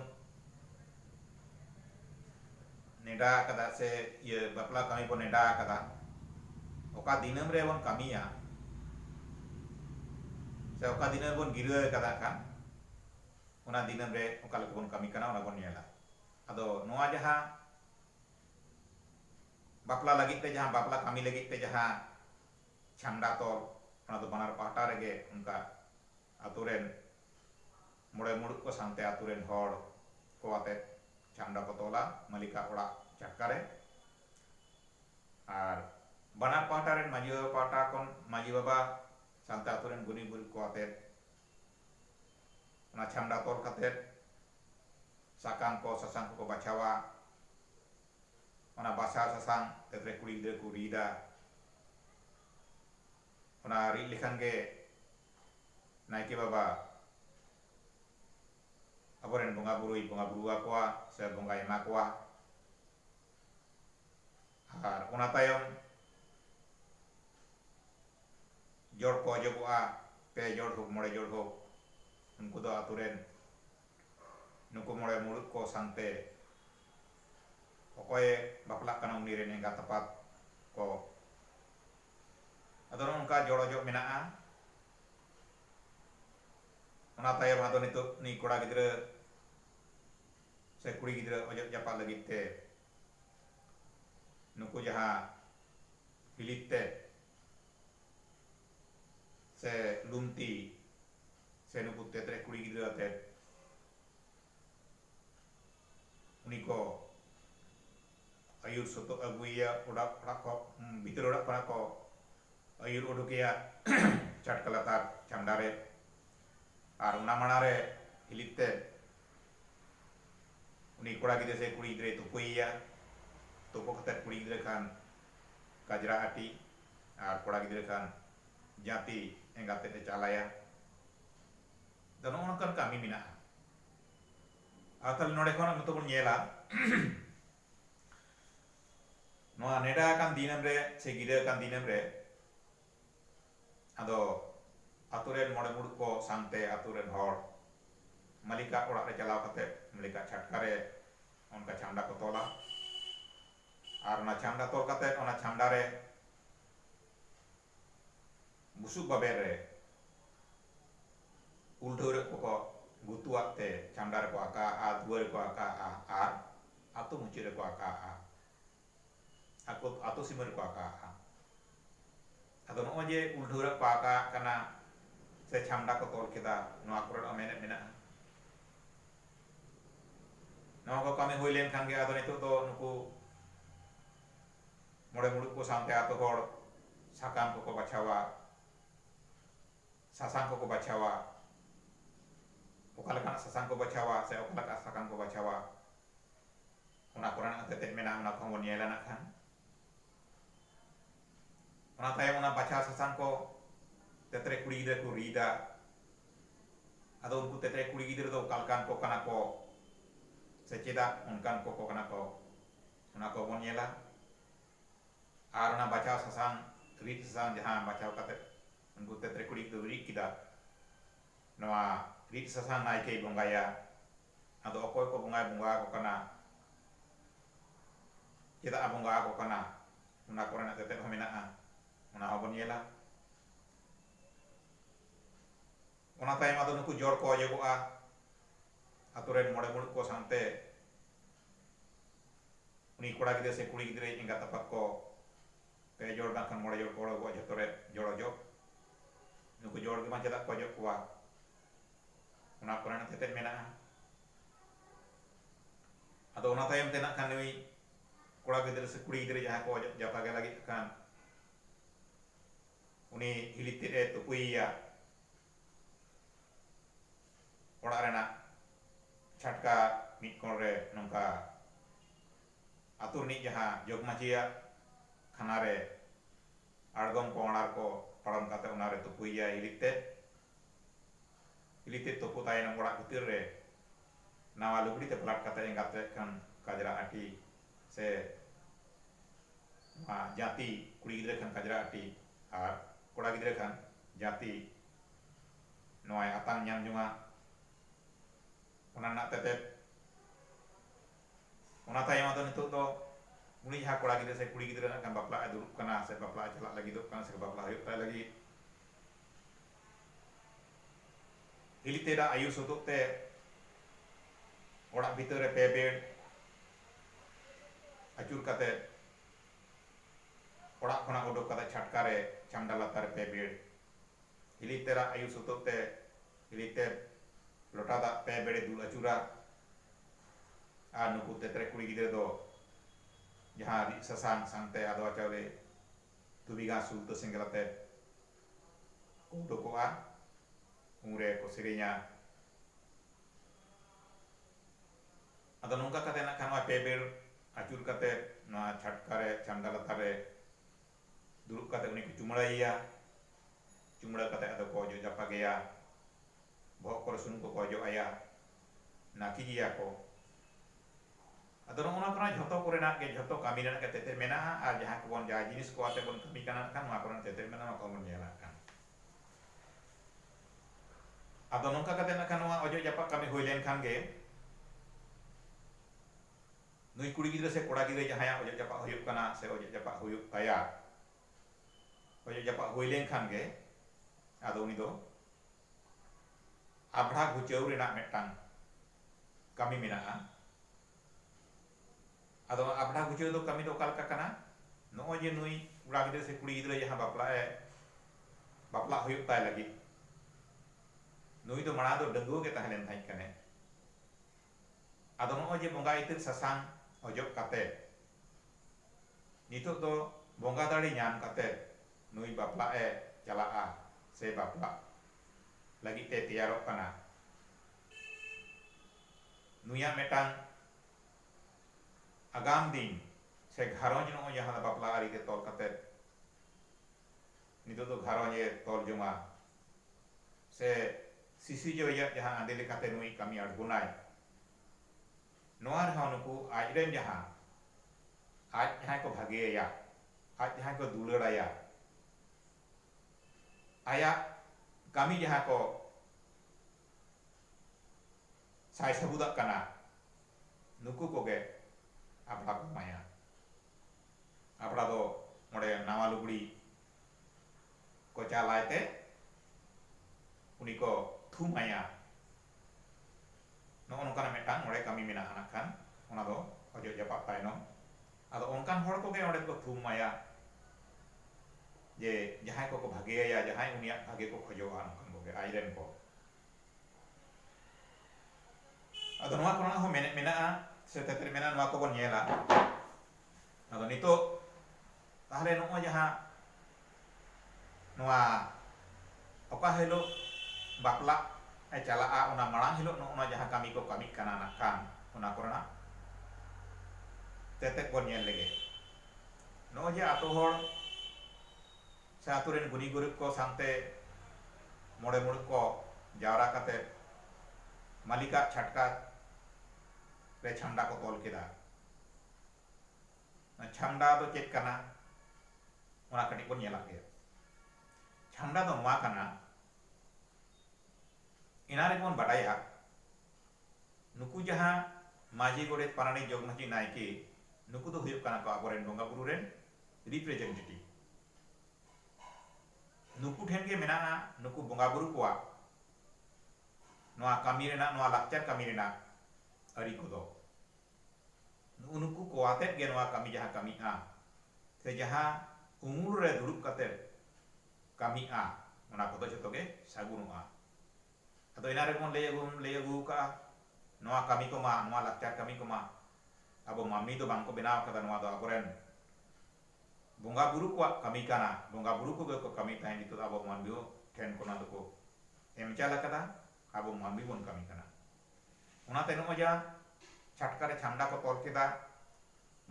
ᱱᱮᱰᱟ ᱟᱠᱟᱫᱟ ᱥᱮ ᱤᱭᱟᱹ ᱵᱟᱯᱞᱟ ᱠᱟᱹᱢᱤ ᱵᱚᱱ ᱱᱮᱰᱟ ᱟᱠᱟᱫᱟ ᱚᱠᱟ ᱫᱤᱱᱟᱹᱢ ᱨᱮ ᱵᱚᱱ ᱠᱟᱹᱢᱤᱭᱟ ᱥᱮ ᱚᱠᱟ ᱫᱤᱱᱟᱹᱢ ᱵᱚᱱ ᱜᱤᱨᱟᱹ ᱟᱠᱟᱫᱟ ᱠᱷᱟᱱ ᱚᱱᱟ ᱫᱤᱱᱟᱹᱢ ᱨᱮ ᱚᱠᱟ ᱞᱮᱠᱟ ᱵᱚᱱ ᱠᱟᱹᱢᱤ ᱠᱟᱱᱟ ᱚᱱᱟ ᱵᱚᱱ ᱧᱮᱞᱟ ᱟᱫᱚ ᱱᱚᱣᱟ ᱡᱟᱦᱟᱸ ᱵᱟᱯᱞᱟ ᱞᱟᱹᱜᱤᱫ ᱛᱮ ᱡᱟᱦᱟᱸ ᱵᱟᱯᱞᱟ ᱠᱟᱹᱢᱤ ᱞᱟᱹᱜᱤᱫ ᱛᱮ ᱡᱟᱦᱟᱸ ᱪᱷᱟᱢᱰᱟ ᱛᱚᱞ ᱚᱱᱟ ᱫᱚ ᱵᱟᱱᱟᱨ ᱯᱟᱦᱴᱟ ᱨᱮᱜᱮ ᱚᱱᱠᱟ ᱟᱹᱛᱩ ᱨᱮᱱ ᱢᱚᱬᱮ ᱢᱩᱬᱩᱛ ᱠᱚ ᱥᱟᱶᱛᱮ ᱟᱹᱛᱩ ᱨᱮᱱ ᱦᱚᱲ ᱠᱚ ᱟᱛᱮ ᱪᱷᱟᱢᱰᱟ ᱠᱚ ᱛᱚᱞᱟ ᱢᱟᱹᱞᱤᱠᱟᱜ ᱚᱲᱟᱜ ᱪᱷᱟᱴᱠᱟ ᱨᱮ ᱟᱨ ᱵᱟᱱᱟᱨ ᱯᱟᱦᱴᱟ ᱨᱮᱱ ᱢᱟᱹᱡᱷᱤ ᱵᱟᱵᱟ ᱯᱟᱦᱴᱟ ᱠᱷᱚᱱ ᱢᱟᱹᱡᱷᱤ ᱵᱟᱵᱟ ᱥᱟᱶᱛᱮ ᱟᱹᱛᱩ ᱨᱮᱱ ᱜᱩᱱᱤ ᱜᱩᱨᱤᱵᱽ ᱠᱚ ᱟᱛᱮ ᱚᱱᱟ ᱪᱷᱟᱢᱰᱟ ᱛᱚᱞ ᱠᱟᱛᱮ ᱥᱟᱠᱟᱢ ᱠᱚ ᱥᱟᱥᱟᱝ ᱠᱚᱠᱚ ᱵᱟᱪᱷᱟᱣᱟ ᱚᱱᱟ ᱵᱟᱥᱟ ᱥᱟᱥᱟᱝ ᱛᱮᱫ ᱨᱮ ᱠᱩᱲᱤ ᱜᱤᱫᱽᱨᱟᱹ ᱠᱚ ᱨᱤᱫᱟ᱾ ᱚᱱᱟ ᱨᱤᱫ ᱞᱮᱠᱷᱟᱱ ᱜᱮ ᱱᱟᱭᱠᱮ ᱵᱟᱵᱟ ᱟᱵᱚ ᱨᱮᱱ ᱵᱚᱸᱜᱟ ᱵᱩᱨᱩᱭ ᱵᱚᱸᱜᱟ ᱵᱩᱨᱩ ᱟᱠᱚᱣᱟ ᱥᱮ ᱵᱚᱸᱜᱟᱭ ᱮᱢᱟ ᱠᱚᱣᱟ᱾ ᱟᱨ ᱚᱱᱟ ᱛᱟᱭᱚᱢ ᱡᱚᱲ ᱠᱚ ᱚᱡᱚᱜᱚᱜᱼᱟ, ᱯᱮ ᱡᱚᱲ ᱦᱳᱠ ᱢᱚᱬᱮ ᱡᱚᱲ ᱦᱳᱠ ᱩᱱᱠᱩ ᱫᱚ ᱟᱹᱛᱩ ᱨᱮᱱ ᱱᱩᱠᱩ ᱢᱚᱬᱮ ᱢᱩᱬᱩᱛ ᱠᱚ ᱥᱟᱝᱛᱮ ᱚᱠᱚᱭᱮ ᱵᱟᱯᱞᱟᱜ ᱠᱟᱱᱟ ᱩᱱᱤ ᱨᱮᱱ ᱮᱸᱜᱟᱛ ᱟᱯᱟᱛ ᱠᱚ ᱟᱫᱚ ᱱᱚᱜᱼᱚ ᱱᱚᱝᱠᱟ ᱡᱚᱲ ᱚᱡᱚᱜ ᱢᱮᱱᱟᱜᱼᱟ ᱚᱱᱟ ᱛᱟᱭᱚᱢ ᱟᱫᱚ ᱱᱤᱛᱚᱜ ᱩᱱᱤ ᱠᱚᱲᱟ ᱜᱤᱫᱽᱨᱟᱹ ᱥᱮ ᱠᱩᱲᱤ ᱜᱤᱫᱽᱨᱟᱹ ᱚᱡᱚᱜ ᱡᱟᱯᱟᱜ ᱞᱟᱹᱜᱤᱫ ᱛᱮ ᱱᱩᱠᱩ ᱡᱟᱦᱟᱸ ᱦᱤᱞᱤᱛ ᱛᱮᱫ ᱥᱮ ᱞᱩᱢᱛᱤ ᱥᱮ ᱱᱩᱠᱩ ᱛᱮᱛᱨᱮ ᱠᱩᱲᱤ ᱜᱤᱫᱽᱨᱟᱹ ᱟᱛᱮᱫ ᱩᱱᱤ ᱠᱚ ᱟᱹᱭᱩᱨ ᱥᱚᱛᱚᱜ ᱟᱹᱜᱩᱭᱮᱭᱟ ᱚᱲᱟᱜ ᱚᱲᱟᱜ ᱠᱚ ᱵᱷᱤᱛᱟᱹᱨ ᱚᱲᱟᱜ ᱠᱷᱚᱱᱟᱜ ᱠᱚ ᱟᱹᱭᱩᱨ ᱩᱰᱩᱠᱮᱭᱟ ᱪᱷᱟᱴᱠᱟ ᱞᱟᱛᱟᱨ ᱪᱷᱟᱢᱰᱟ ᱨᱮ ᱟᱨ ᱚᱱᱟ ᱢᱟᱲᱟᱝ ᱨᱮ ᱦᱤᱞᱤᱠ ᱛᱮ ᱩᱱᱤ ᱠᱚᱲᱟ ᱜᱤᱫᱽᱨᱟᱹ ᱥᱮ ᱠᱩᱲᱤ ᱜᱤᱫᱽᱨᱟᱹᱭ ᱛᱩᱯᱩᱭᱮᱭᱟ ᱛᱩᱯᱩ ᱠᱟᱛᱮ ᱠᱩᱲᱤ ᱜᱤᱫᱽᱨᱟᱹ ᱠᱷᱟᱱ ᱠᱟᱡᱽᱨᱟ ᱟᱹᱴᱤ ᱟᱨ ᱠᱚᱲᱟ ᱜᱤᱫᱽᱨᱟᱹ ᱠᱷᱟᱱ ᱡᱟᱹᱛᱤ ᱮᱸᱜᱟᱛ ᱛᱮᱫ ᱮ ᱪᱟᱞ ᱟᱭᱟ ᱟᱫᱚ ᱱᱚᱜᱼᱚ ᱱᱚᱝᱠᱟᱱ ᱠᱟᱹᱢᱤ ᱢᱮᱱᱟᱜᱼᱟ ᱟᱨ ᱛᱟᱦᱚᱞᱮ ᱱᱚᱰᱮ ᱠᱷᱚᱱ ᱱᱤᱛᱚᱜ ᱵᱚᱱ ᱧᱮᱞᱟ ᱱᱚᱣᱟ ᱱᱮᱰᱟ ᱟᱠᱟᱱ ᱫᱤᱱᱟᱹᱢ ᱨᱮ ᱥᱮ ᱜᱤᱨᱟᱹ ᱟᱠᱟᱱ ᱫᱤᱱᱟᱹᱢ ᱨᱮ ᱟᱫᱚ ᱟᱛᱳ ᱨᱮᱱ ᱢᱚᱬᱮ ᱢᱩᱬᱩᱫ ᱠᱚ ᱥᱟᱶᱛᱮ ᱟᱛᱳ ᱨᱮᱱ ᱦᱚᱲ ᱢᱟᱹᱞᱤᱠᱟᱜ ᱚᱲᱟᱜ ᱨᱮ ᱪᱟᱞᱟᱣ ᱠᱟᱛᱮ ᱢᱟᱹᱞᱤᱠᱟᱜ ᱪᱷᱟᱴᱠᱟ ᱨᱮ ᱚᱱᱠᱟ ᱪᱷᱟᱢᱰᱟ ᱠᱚ ᱛᱚᱞᱟ ᱟᱨ ᱚᱱᱟ ᱪᱷᱟᱢᱰᱟ ᱛᱚᱞ ᱠᱟᱛᱮ ᱚᱱᱟ ᱪᱷᱟᱢᱰᱟ ᱨᱮ ᱵᱩᱥᱩᱵ ᱵᱟᱵᱮᱨ ᱨᱮ ᱩᱞ ᱰᱷᱟᱹᱣᱨᱟᱹᱜ ᱠᱚᱠᱚ ᱜᱩᱛᱩᱣᱟᱜ ᱛᱮ ᱪᱷᱟᱢᱰᱟ ᱨᱮᱠᱚ ᱟᱠᱟᱜᱼᱟ, ᱫᱩᱣᱟᱹᱨ ᱨᱮᱠᱚ ᱟᱠᱟᱜᱼᱟ ᱟᱨ ᱟᱹᱛᱩ ᱢᱩᱪᱟᱹᱫ ᱨᱮᱠᱚ ᱟᱠᱟᱜᱼᱟ᱾ ᱟᱠᱚ ᱟᱹᱛᱩ ᱥᱤᱢᱟᱹ ᱨᱮᱠᱚ ᱟᱠᱟᱜᱼᱟ᱾ ᱟᱫᱚ ᱱᱚᱜᱼᱚᱭ ᱡᱮ ᱩᱞ ᱰᱷᱟᱹᱣᱨᱟᱹᱜ ᱠᱚ ᱟᱠᱟᱜ ᱠᱟᱱᱟ ᱥᱮ ᱪᱷᱟᱢᱰᱟ ᱠᱚ ᱛᱚᱞ ᱠᱮᱫᱟ ᱱᱚᱣᱟ ᱠᱚᱨᱮ ᱦᱚᱸ ᱢᱮᱱᱮᱛ ᱢᱮᱱᱟᱜᱼᱟ᱾ ᱱᱚᱣᱟ ᱠᱚ ᱠᱟᱹᱢᱤ ᱦᱩᱭ ᱞᱮᱱ ᱠᱷᱟᱱ ᱜᱮ ᱟᱫᱚ ᱱᱤᱛᱚᱜ ᱫᱚ ᱱᱩᱠᱩ ᱢᱚᱬᱮ ᱢᱩᱲᱩᱫ ᱠᱚ ᱥᱟᱶᱛᱮ ᱟᱛᱳ ᱦᱚᱲ ᱥᱟᱠᱟᱢ ᱠᱚᱠᱚ ᱵᱟᱪᱷᱟᱣᱟ ᱥᱟᱥᱟᱝ ᱠᱚᱠᱚ ᱵᱟᱪᱷᱟᱣᱟ ᱚᱠᱟ ᱞᱮᱠᱟᱱᱟᱜ ᱥᱟᱥᱟᱝ ᱠᱚ ᱵᱟᱪᱷᱟᱣᱟ ᱥᱮ ᱚᱠᱟ ᱞᱮᱠᱟᱱᱟᱜ ᱥᱟᱠᱟᱢ ᱠᱚ ᱵᱟᱪᱷᱟᱣᱟ ᱚᱱᱟ ᱠᱚᱨᱮᱱᱟᱜ ᱦᱚᱸ ᱛᱮᱛᱮᱫ ᱢᱮᱱᱟᱜᱼᱟ ᱚᱱᱟ ᱠᱚᱦᱚᱸ ᱵᱚᱱ ᱧᱮᱞᱟ ᱱᱟᱜ ᱠᱷᱟᱱ ᱚᱱᱟ ᱛᱟᱭᱚᱢ ᱚᱱᱟ ᱵᱟᱪᱷᱟᱣ ᱥᱟᱥᱟᱝ ᱠᱚ ᱛᱮᱛᱨᱮ ᱠᱩᱲᱤ ᱜᱤᱫᱽᱨᱟᱹ ᱠᱚ ᱨᱤᱫᱟ ᱟᱫᱚ ᱩᱱᱠᱩ ᱛᱮᱛᱨᱮ ᱠᱩᱲᱤ ᱜᱤᱫᱽᱨᱟᱹ ᱫᱚ ᱚᱠᱟ ᱞᱮᱠᱟᱱ ᱠᱚ ᱠᱟᱱᱟ ᱠᱚ ᱥᱮ ᱪᱮᱫᱟᱜ ᱚᱱᱠᱟᱱ ᱠᱚᱠᱚ ᱠᱟᱱᱟ ᱠᱚ ᱚᱱᱟ ᱠᱚ ᱵᱚᱱ ᱧᱮᱞᱟ ᱟᱨ ᱚᱱᱟ ᱵᱟᱪᱷᱟᱣ ᱥᱟᱥᱟᱝ ᱨᱤᱫ ᱥᱟᱥᱟᱝ ᱡᱟᱦᱟᱸ ᱵᱟᱪᱷᱟᱣ ᱠᱟᱛᱮ ᱩᱱᱠᱩ ᱛᱮᱛᱨᱮ ᱠᱩᱲᱤ ᱠᱚ ᱨᱤᱫ ᱠᱮᱫᱟ ᱱᱚᱣᱟ ᱨᱤᱫ ᱥᱟᱥᱟᱝ ᱱᱟᱭᱠᱮᱭ ᱵᱚᱸᱜᱟᱭᱟ ᱟᱫᱚ ᱚᱠᱚᱭ ᱠᱚ ᱵᱚᱸᱜᱟᱭ ᱵᱚᱸᱜᱟ ᱟᱠᱚ ᱠᱟᱱᱟ ᱪᱮᱫᱟᱜ ᱮ ᱵᱚᱸᱜᱟ ᱟᱠᱚ ᱠᱟᱱᱟ ᱚᱱᱟ ᱠᱚᱨᱮᱱᱟᱜ ᱛᱮᱛᱮᱫ ᱦᱚᱸ ᱢᱮᱱᱟᱜᱼᱟ ᱚᱱᱟ ᱦᱚᱸ ᱵᱚᱱ ᱧᱮᱞᱟ ᱚᱱᱟ ᱛᱟᱭᱚᱢ ᱟᱫᱚ ᱱᱩᱠᱩ ᱡᱚᱲ ᱠᱚ ᱚᱡᱚᱜᱚᱜᱼᱟ ᱟᱛᱳ ᱨᱮᱱ ᱢᱚᱬᱮ ᱢᱩᱬᱩᱫ ᱠᱚ ᱥᱟᱶᱛᱮ ᱩᱱᱤ ᱠᱚᱲᱟ ᱜᱤᱫᱽᱨᱟᱹ ᱥᱮ ᱠᱩᱲᱤ ᱜᱤᱫᱽᱨᱟᱹ ᱤᱡ ᱮᱸᱜᱟᱛ ᱟᱯᱟᱛ ᱠᱚ ᱯᱮ ᱡᱚᱲ ᱵᱟᱝ ᱠᱷᱟᱱ ᱢᱚᱬᱮ ᱡᱚᱲ ᱠᱚ ᱚᱰᱚᱠᱚᱜᱼᱟ ᱡᱷᱚᱛᱚ ᱨᱮ ᱡᱚᱲ ᱚᱡᱚᱜ ᱱᱩᱠᱩ ᱡᱚᱲ ᱜᱮ ᱵᱟᱝ ᱪᱮᱫᱟᱜ ᱠᱚ ᱚᱡᱚᱜ ᱠᱚᱣᱟ ᱚᱱᱟ ᱠᱚᱨᱮᱱᱟᱜ ᱛᱮᱛᱮᱫ ᱢᱮᱱᱟᱜᱼᱟ ᱟᱫᱚ ᱚᱱᱟ ᱛᱟᱭᱚᱢ ᱛᱮ ᱱᱟᱜ ᱠᱷᱟᱱ ᱱᱩᱭ ᱠᱚᱲᱟ ᱜᱤᱫᱽᱨᱟᱹ ᱥᱮ ᱠᱩᱲᱤ ᱜᱤᱫᱽᱨᱟᱹ ᱡᱟᱦᱟᱸᱭ ᱠᱚ ᱚᱡᱚᱜ ᱡᱟᱯᱟᱜ ᱮ ᱞᱟᱹᱜᱤᱫ ᱠᱷᱟᱱ ᱩᱱᱤ ᱦᱤᱞᱤ ᱛᱮᱫ ᱮ ᱛᱩᱯᱩᱭᱮᱭᱟ ᱚᱲᱟᱜ ᱨᱮᱱᱟᱜ ᱪᱷᱟᱴᱠᱟ ᱢᱤᱫ ᱠᱚᱬ ᱨᱮ ᱱᱚᱝᱠᱟ ᱟᱹᱛᱩ ᱨᱤᱱᱤᱡ ᱡᱟᱦᱟᱸ ᱡᱚᱜᱽ ᱢᱟᱺᱡᱷᱤᱭᱟᱜ ᱠᱷᱟᱱᱟ ᱨᱮ ᱟᱬᱜᱚᱢ ᱠᱚ ᱟᱬᱟᱨ ᱠᱚ ᱯᱟᱲᱚᱱ ᱠᱟᱛᱮ ᱚᱱᱟ ᱨᱮ ᱛᱩᱯᱩᱭᱮᱭᱟᱭ ᱦᱤᱞᱤᱡ ᱛᱮᱫ ᱦᱤᱞᱤᱡ ᱛᱮᱫ ᱛᱩᱯᱩ ᱛᱟᱭᱱᱚᱢ ᱚᱲᱟᱜ ᱵᱷᱤᱛᱤᱨ ᱨᱮ ᱱᱟᱣᱟ ᱞᱩᱜᱽᱲᱤ ᱛᱮ ᱯᱟᱞᱟᱴ ᱠᱟᱛᱮ ᱮᱸᱜᱟᱛ ᱛᱮᱫ ᱠᱷᱟᱱ ᱠᱟᱡᱽᱨᱟ ᱟᱹᱴᱤ ᱥᱮ ᱱᱚᱣᱟ ᱡᱟᱹᱛᱤ ᱠᱩᱲᱤ ᱜᱤᱫᱽᱨᱟᱹ ᱠᱷᱟᱱ ᱠᱟᱡᱽᱨᱟ ᱟᱹᱴᱤ ᱟᱨ ᱠᱚᱲᱟ ᱜᱤᱫᱽᱨᱟᱹ ᱠᱷᱟᱱ ᱡᱟᱹᱛᱤ ᱱᱚᱣᱟᱭ ᱟᱛᱟᱝ ᱧᱟᱢ ᱡᱚᱝᱟ᱾ ᱚᱱᱟ ᱨᱮᱱᱟᱜ ᱛᱮᱛᱮᱫ ᱚᱱᱟ ᱛᱟᱭᱚᱢ ᱟᱫᱚ ᱱᱤᱛᱚᱜ ᱫᱚ ᱩᱱᱤ ᱡᱟᱦᱟᱸ ᱠᱚᱲᱟ ᱜᱤᱫᱽᱨᱟᱹ ᱥᱮ ᱠᱩᱲᱤ ᱜᱤᱫᱽᱨᱟᱹ ᱱᱟᱜ ᱠᱷᱟᱱ ᱵᱟᱯᱞᱟᱜ ᱮ ᱫᱩᱲᱩᱵ ᱠᱟᱱᱟ ᱥᱮ ᱵᱟᱯᱞᱟᱜ ᱮ ᱪᱟᱞᱟᱜ ᱞᱟᱹᱜᱤᱫᱚᱜ ᱠᱟᱱᱟ ᱥᱮ ᱵᱟᱯᱞᱟ ᱦᱩᱭᱩᱜ ᱛᱟᱭ ᱞᱟᱹᱜᱤᱫ ᱦᱤᱞᱤ ᱛᱮᱫ ᱟᱜ ᱟᱭᱩᱥ ᱦᱚᱛᱚᱜ ᱛᱮ ᱚᱲᱟᱜ ᱵᱷᱤᱛᱟᱹᱨ ᱨᱮ ᱯᱮ ᱵᱮᱲ ᱟᱹᱪᱩᱨ ᱠᱟᱛᱮ ᱚᱲᱟᱜ ᱠᱷᱚᱱᱟᱜ ᱚᱰᱚᱠ ᱠᱟᱛᱮ ᱪᱷᱟᱴᱠᱟ ᱨᱮ ᱪᱷᱟᱢᱰᱟ ᱞᱟᱛᱟᱨ ᱨᱮ ᱯᱮ ᱵᱮᱲ᱾ ᱦᱤᱞᱤ ᱛᱮᱨᱟᱜ ᱟᱭᱩ ᱥᱩᱛᱩᱜ ᱛᱮ ᱦᱤᱞᱤ ᱛᱮᱫ ᱞᱚᱴᱟ ᱫᱟᱜ ᱯᱮ ᱵᱮᱲᱮ ᱫᱩᱞ ᱟᱹᱪᱩᱨᱟ ᱟᱨ ᱱᱩᱠᱩ ᱛᱮᱛᱨᱮ ᱠᱩᱲᱤ ᱜᱤᱫᱽᱨᱟᱹ ᱫᱚ ᱡᱟᱦᱟᱸ ᱨᱤᱫ ᱥᱟᱥᱟᱝ ᱥᱟᱝᱛᱮ ᱟᱫᱣᱟ ᱪᱟᱣᱞᱮ ᱫᱷᱩᱵᱤ ᱜᱷᱟᱸᱥ ᱥᱩᱞᱛᱟᱹ ᱥᱮᱸᱜᱮᱞ ᱟᱛᱮ ᱠᱚ ᱚᱰᱚᱠᱚᱜᱼᱟ ᱩᱱᱨᱮ ᱠᱚ ᱥᱮᱨᱮᱧᱟ᱾ ᱟᱫᱚ ᱱᱚᱝᱠᱟ ᱠᱟᱛᱮ ᱱᱟᱜ ᱠᱷᱟᱱ ᱱᱚᱜᱼᱚᱭ ᱯᱮ ᱵᱮᱲ ᱟᱹᱪᱩᱨ ᱠᱟᱛᱮ ᱱᱚᱣᱟ ᱪᱷᱟᱴᱠᱟ ᱨᱮ ᱪᱷᱟᱢᱰᱟ ᱞᱟᱛᱟᱨ ᱨᱮ ᱫᱩᱲᱩᱵ ᱠᱟᱛᱮ ᱩᱱᱤ ᱠᱚ ᱪᱩᱢᱟᱹᱲᱟᱭᱮᱭᱟ ᱪᱩᱢᱟᱹᱲᱟ ᱠᱟᱛᱮ ᱟᱫᱚ ᱠᱚ ᱚᱡᱚᱜ ᱡᱟᱯᱟᱜᱮᱭᱟ ᱵᱚᱦᱚᱜ ᱠᱚᱨᱮ ᱥᱩᱱᱩᱢ ᱠᱚᱠᱚ ᱚᱡᱚᱜ ᱟᱭᱟ ᱱᱟᱹᱠᱤᱡᱮᱭᱟ ᱠᱚ ᱟᱫᱚ ᱱᱚᱜᱼᱚ ᱱᱚᱣᱟ ᱠᱚᱨᱮᱱᱟᱜ ᱡᱷᱚᱛᱚ ᱠᱚᱨᱮᱱᱟᱜ ᱜᱮ ᱡᱷᱚᱛᱚ ᱠᱟᱹᱢᱤ ᱨᱮᱱᱟᱜ ᱜᱮ ᱛᱮᱛᱮᱫ ᱢᱮᱱᱟᱜᱼᱟ ᱟᱨ ᱡᱟᱦᱟᱸ ᱠᱚᱵᱚᱱ ᱡᱟᱦᱟᱸ ᱡᱤᱱᱤᱥ ᱠᱚ ᱟᱛᱮ ᱵᱚᱱ ᱠᱟᱹᱢᱤ ᱠᱟᱱᱟ ᱱᱟᱜ ᱠᱷᱟᱱ ᱱᱚᱣᱟ ᱠᱚᱨᱮᱱᱟᱜ ᱛᱮᱛᱮᱫ ᱢᱮᱱᱟᱜᱼᱟ ᱱᱚᱣᱟ ᱠᱚᱦᱚᱸ ᱵᱚᱱ ᱧᱮᱞᱟ ᱱᱟᱜ ᱠᱷᱟᱱ ᱟᱫᱚ ᱱᱚᱝᱠᱟ ᱠᱟᱛᱮ ᱱᱟᱜ ᱠᱷᱟᱱ ᱱᱚᱣᱟ ᱚᱡᱚᱜ ᱡᱟᱯᱟᱜ ᱠᱟᱹᱢᱤ ᱦᱩᱭ ᱞᱮᱱ ᱠᱷᱟᱱ ᱜᱮ ᱱᱩᱭ ᱠᱩᱲᱤ ᱜᱤᱫᱽᱨᱟᱹ ᱥᱮ ᱠᱚᱲᱟ ᱜᱤᱫᱽᱨᱟᱹ ᱡᱟᱦᱟᱸᱭᱟᱜ ᱚᱡᱚᱜ ᱡᱟᱯᱟᱜ ᱦᱩᱭᱩᱜ ᱠᱟᱱᱟ ᱥᱮ ᱚᱡᱚᱜ ᱡᱟᱯᱟᱜ ᱦᱩᱭᱩᱜ ᱛᱟᱭᱟ ᱚᱡᱚᱜ ᱡᱟᱯᱟᱜ ᱦᱩᱭ ᱞᱮᱱ ᱠᱷᱟᱱ ᱜᱮ ᱟᱫᱚ ᱩᱱᱤ ᱫᱚ ᱟᱵᱷᱲᱟ ᱜᱷᱩᱪᱟᱹᱣ ᱨᱮᱱᱟᱜ ᱢᱤᱫᱴᱟᱝ ᱠᱟᱹᱢᱤ ᱢᱮᱱᱟᱜᱼᱟ ᱟᱫᱚ ᱟᱵᱽᱲᱟ ᱜᱩᱪᱟᱹᱣ ᱫᱚ ᱠᱟᱹᱢᱤ ᱫᱚ ᱚᱠᱟ ᱞᱮᱠᱟ ᱠᱟᱱᱟ? ᱱᱚᱜᱼᱚᱭ ᱡᱮ ᱱᱩᱭ ᱠᱚᱲᱟ ᱜᱤᱫᱽᱨᱟᱹ ᱥᱮ ᱠᱩᱲᱤ ᱜᱤᱫᱽᱨᱟᱹ ᱡᱟᱦᱟᱸ ᱵᱟᱯᱞᱟᱜ ᱮ ᱵᱟᱯᱞᱟᱜ ᱦᱩᱭᱩᱜ ᱛᱟᱭ ᱞᱟᱹᱜᱤᱫ ᱱᱩᱭ ᱫᱚ ᱢᱟᱲᱟᱝ ᱫᱚ ᱰᱟᱺᱜᱩᱣᱟᱹ ᱜᱮ ᱛᱟᱦᱮᱸ ᱞᱮᱱ ᱛᱟᱦᱮᱸᱫ ᱠᱟᱱᱮ ᱟᱫᱚ ᱱᱚᱜᱼᱚᱭ ᱡᱮ ᱵᱚᱸᱜᱟ ᱤᱛᱟᱹᱫ ᱥᱟᱥᱟᱝ ᱚᱡᱚᱜ ᱠᱟᱛᱮ ᱱᱤᱛᱚᱜ ᱫᱚ ᱵᱚᱸᱜᱟ ᱫᱟᱲᱮ ᱧᱟᱢ ᱠᱟᱛᱮ ᱱᱩᱭ ᱵᱟᱯᱞᱟᱜ ᱮ ᱪᱟᱞᱟᱜᱼᱟ ᱥᱮ ᱵᱟᱯᱞᱟᱜ ᱞᱟᱹᱜᱤᱫ ᱛᱮ ᱛᱮᱭᱟᱨᱚᱜ ᱠᱟᱱᱟ ᱱᱩᱭᱟᱜ ᱢᱤᱫᱴᱟᱝ ᱟᱜᱟᱢ ᱫᱤᱱ ᱥᱮ ᱜᱷᱟᱨᱚᱸᱡᱽ ᱱᱚᱜᱼᱚᱭ ᱡᱟᱦᱟᱸ ᱫᱚ ᱵᱟᱯᱞᱟ ᱟᱹᱨᱤ ᱛᱮ ᱛᱚᱞ ᱠᱟᱛᱮ ᱱᱤᱛᱚᱜ ᱫᱚ ᱜᱷᱟᱨᱚᱸᱡᱽ ᱮ ᱛᱚᱞ ᱡᱚᱝᱟ ᱥᱮ ᱥᱤᱥᱤ ᱡᱚᱭᱟᱜ ᱡᱟᱦᱟᱸ ᱟᱸᱫᱮ ᱞᱮᱠᱟᱛᱮ ᱱᱩᱭ ᱠᱟᱹᱢᱤ ᱟᱬᱜᱚᱱᱟᱭ ᱱᱚᱣᱟ ᱨᱮᱦᱚᱸ ᱱᱩᱠᱩ ᱟᱡ ᱨᱮᱱ ᱡᱟᱦᱟᱸ ᱟᱡ ᱡᱟᱦᱟᱸᱭ ᱠᱚ ᱵᱷᱟᱜᱮᱭᱟᱭᱟ ᱟᱡ ᱡᱟᱦᱟᱸᱭ ᱠᱚ ᱫᱩᱞᱟᱹᱲᱟᱭᱟ ᱟᱭᱟᱜ ᱠᱟᱹᱢᱤ ᱡᱟᱦᱟᱸ ᱠᱚ ᱥᱟᱭ ᱥᱟᱹᱵᱩᱫᱟᱜ ᱠᱟᱱᱟ ᱱᱩᱠᱩ ᱠᱚᱜᱮ ᱟᱵᱽᱲᱟ ᱠᱚ ᱮᱢᱟᱭᱟ᱾ ᱟᱵᱽᱲᱟ ᱫᱚ ᱚᱸᱰᱮ ᱱᱟᱣᱟ ᱞᱩᱜᱽᱲᱤ ᱠᱚ ᱪᱟᱞ ᱟᱭ ᱛᱮ ᱩᱱᱤ ᱠᱚ ᱛᱷᱩᱢ ᱟᱭᱟ᱾ ᱱᱚᱜᱼᱚ ᱱᱚᱝᱠᱟᱱᱟᱜ ᱢᱤᱫᱴᱟᱝ ᱚᱸᱰᱮ ᱠᱟᱹᱢᱤ ᱢᱮᱱᱟᱜᱼᱟ ᱱᱟᱜ ᱠᱷᱟᱱ ᱚᱱᱟ ᱫᱚ ᱚᱡᱚᱜ ᱡᱟᱯᱟᱜ ᱛᱟᱭᱱᱚᱢ ᱟᱫᱚ ᱚᱱᱠᱟᱱ ᱦᱚᱲ ᱠᱚᱜᱮ ᱚᱸᱰᱮ ᱫᱚᱠᱚ ᱛᱷᱩᱢ ᱟᱭᱟ᱾ ᱡᱮ ᱡᱟᱦᱟᱸᱭ ᱠᱚᱠᱚ ᱵᱷᱟᱜᱮ ᱟᱭᱟ ᱡᱟᱦᱟᱸᱭ ᱩᱱᱤᱭᱟᱜ ᱵᱷᱟᱜᱮ ᱠᱚ ᱠᱷᱚᱡᱚᱜᱼᱟ ᱱᱚᱝᱠᱟᱱ ᱠᱚᱜᱮ ᱟᱡ ᱨᱮᱱ ᱠᱚ ᱟᱫᱚ ᱱᱚᱣᱟ ᱠᱚᱨᱮᱱᱟᱜ ᱦᱚᱸ ᱢᱮᱱᱮᱫ ᱢᱮᱱᱟᱜᱼᱟ ᱥᱮ ᱛᱮᱛᱮᱫ ᱨᱮ ᱢᱮᱱᱟᱜᱼᱟ ᱱᱚᱣᱟ ᱠᱚᱵᱚᱱ ᱧᱮᱞᱟ ᱟᱫᱚ ᱱᱤᱛᱚᱜ ᱛᱟᱦᱚᱞᱮ ᱱᱚᱜᱼᱚᱭ ᱡᱟᱦᱟᱸ ᱱᱚᱣᱟ ᱚᱠᱟ ᱦᱤᱞᱳᱜ ᱵᱟᱯᱞᱟᱜ ᱮ ᱪᱟᱞᱟᱜᱼᱟ ᱚᱱᱟ ᱢᱟᱲᱟᱝ ᱦᱤᱞᱳᱜ ᱱᱚᱜᱼᱚ ᱱᱚᱣᱟ ᱡᱟᱦᱟᱸ ᱠᱟᱹᱢᱤ ᱠᱚ ᱠᱟᱹᱢᱤᱜ ᱠᱟᱱᱟ ᱱᱟᱜ ᱠᱷᱟᱱ ᱚᱱᱟ ᱠᱚᱨᱮᱱᱟᱜ ᱛᱮᱛᱮᱫ ᱵᱚᱱ ᱧᱮᱞ ᱞᱮᱜᱮ ᱱᱚᱜᱼᱚᱭ ᱡᱮ ᱟᱛᱳ ᱦᱚᱲ ᱥᱮ ᱟᱛᱳ ᱨᱮᱱ ᱜᱩᱱᱤ ᱜᱩᱨᱤᱵ ᱠᱚ ᱥᱟᱶᱛᱮ ᱢᱚᱬᱮ ᱢᱩᱬᱩᱛ ᱠᱚ ᱡᱟᱣᱨᱟ ᱠᱟᱛᱮ ᱢᱟᱹᱞᱤᱠᱟᱜ ᱪᱷᱟᱴᱠᱟ ᱨᱮ ᱪᱷᱟᱢᱰᱟ ᱠᱚ ᱛᱚᱞ ᱠᱮᱫᱟ ᱪᱷᱟᱢᱰᱟ ᱫᱚ ᱪᱮᱫ ᱠᱟᱱᱟ ᱚᱱᱟ ᱠᱟᱹᱴᱤᱡ ᱵᱚᱱ ᱧᱮᱞᱟᱜ ᱜᱮ ᱪᱷᱟᱢᱰᱟ ᱫᱚ ᱱᱚᱣᱟ ᱠᱟᱱᱟ ᱮᱱᱟ ᱨᱮᱜᱮ ᱵᱚᱱ ᱵᱟᱰᱟᱭᱟ ᱱᱩᱠᱩ ᱡᱟᱦᱟᱸ ᱢᱟᱹᱡᱷᱤ, ᱜᱚᱰᱮᱛ, ᱯᱟᱨᱟᱱᱤᱠ, ᱡᱚᱜᱽᱢᱟᱹᱡᱷᱤ, ᱱᱟᱭᱠᱮ ᱱᱩᱠᱩ ᱫᱚ ᱦᱩᱭᱩᱜ ᱠᱟᱱᱟ ᱠᱚ ᱟᱵᱚ ᱨᱮᱱ ᱵᱚᱸᱜᱟ ᱵᱩᱨᱩ ᱨᱮᱱ ᱨᱤᱯᱨᱮᱡᱮᱱᱴᱮᱴᱤᱵᱷ᱾ ᱱᱩᱠᱩ ᱴᱷᱮᱱ ᱜᱮ ᱢᱮᱱᱟᱜᱼᱟ ᱱᱩᱠᱩ ᱵᱚᱸᱜᱟ ᱵᱩᱨᱩ ᱠᱚᱣᱟᱜ ᱱᱚᱣᱟ ᱠᱟᱹᱢᱤ ᱨᱮᱱᱟᱜ ᱱᱚᱣᱟ ᱞᱟᱠᱪᱟᱨ ᱠᱟᱹᱢᱤ ᱨᱮᱱᱟᱜ ᱟᱹᱨᱤ ᱠᱚᱫᱚ᱾ ᱱᱩᱜᱼᱩ ᱱᱩᱠᱩ ᱠᱚ ᱟᱛᱮᱫ ᱜᱮ ᱱᱚᱣᱟ ᱠᱟᱹᱢᱤ ᱡᱟᱦᱟᱸ ᱠᱟᱹᱢᱤᱜᱼᱟ ᱥᱮ ᱡᱟᱦᱟᱸ ᱩᱢᱩᱞ ᱨᱮ ᱫᱩᱲᱩᱵ ᱠᱟᱛᱮᱫ ᱠᱟᱹᱢᱤᱜᱼᱟ ᱚᱱᱟ ᱠᱚᱫᱚ ᱡᱷᱚᱛᱚ ᱜᱮ ᱥᱟᱹᱜᱩᱱᱚᱜᱼᱟ᱾ ᱟᱫᱚ ᱮᱱᱟᱝ ᱨᱮᱜᱮ ᱵᱚᱱ ᱞᱟᱹᱭ ᱟᱹᱜᱩ ᱞᱟᱹᱭ ᱟᱹᱜᱩ ᱟᱠᱟᱫᱼᱟ ᱱᱚᱣᱟ ᱠᱟᱹᱢᱤ ᱠᱚᱢᱟ ᱱᱚᱣᱟ ᱞᱟᱠᱪᱟᱨ ᱠᱟᱹᱢᱤ ᱠᱚᱢᱟ ᱟᱵᱚ ᱢᱟᱹᱱᱢᱤ ᱫᱚ ᱵᱟᱝ ᱠᱚ ᱵᱮᱱᱟᱣ ᱟᱠᱟᱫᱟ ᱱᱚᱣᱟ ᱫᱚ ᱟᱵᱚᱨᱮᱱ ᱵᱚᱸᱜᱟ ᱵᱩᱨᱩ ᱠᱚᱣᱟᱜ ᱠᱟᱹᱢᱤ ᱠᱟᱱᱟ ᱵᱚᱸᱜᱟ ᱵᱩᱨᱩ ᱠᱚᱜᱮ ᱠᱚ ᱠᱟᱹᱢᱤ ᱛᱟᱦᱮᱸᱫ ᱱᱤᱛᱚᱜ ᱫᱚ ᱟᱵᱚ ᱢᱟᱹᱱᱢᱤ ᱴᱷᱮᱱ ᱠᱚ ᱱᱚᱣᱟ ᱫᱚᱠᱚ ᱮᱢ ᱪᱟᱞ ᱟᱠᱟᱫᱟ ᱟᱵᱚ ᱢᱟᱹᱱᱢᱤ ᱵᱚᱱ ᱠᱟᱹᱢᱤ ᱠᱟᱱᱟ ᱚᱱᱟᱛᱮ ᱱᱚᱜᱼᱚᱭ ᱡᱟ ᱪᱷᱟᱴᱠᱟ ᱨᱮ ᱪᱷᱟᱢᱰᱟ ᱠᱚ ᱛᱚᱞ ᱠᱮᱫᱟ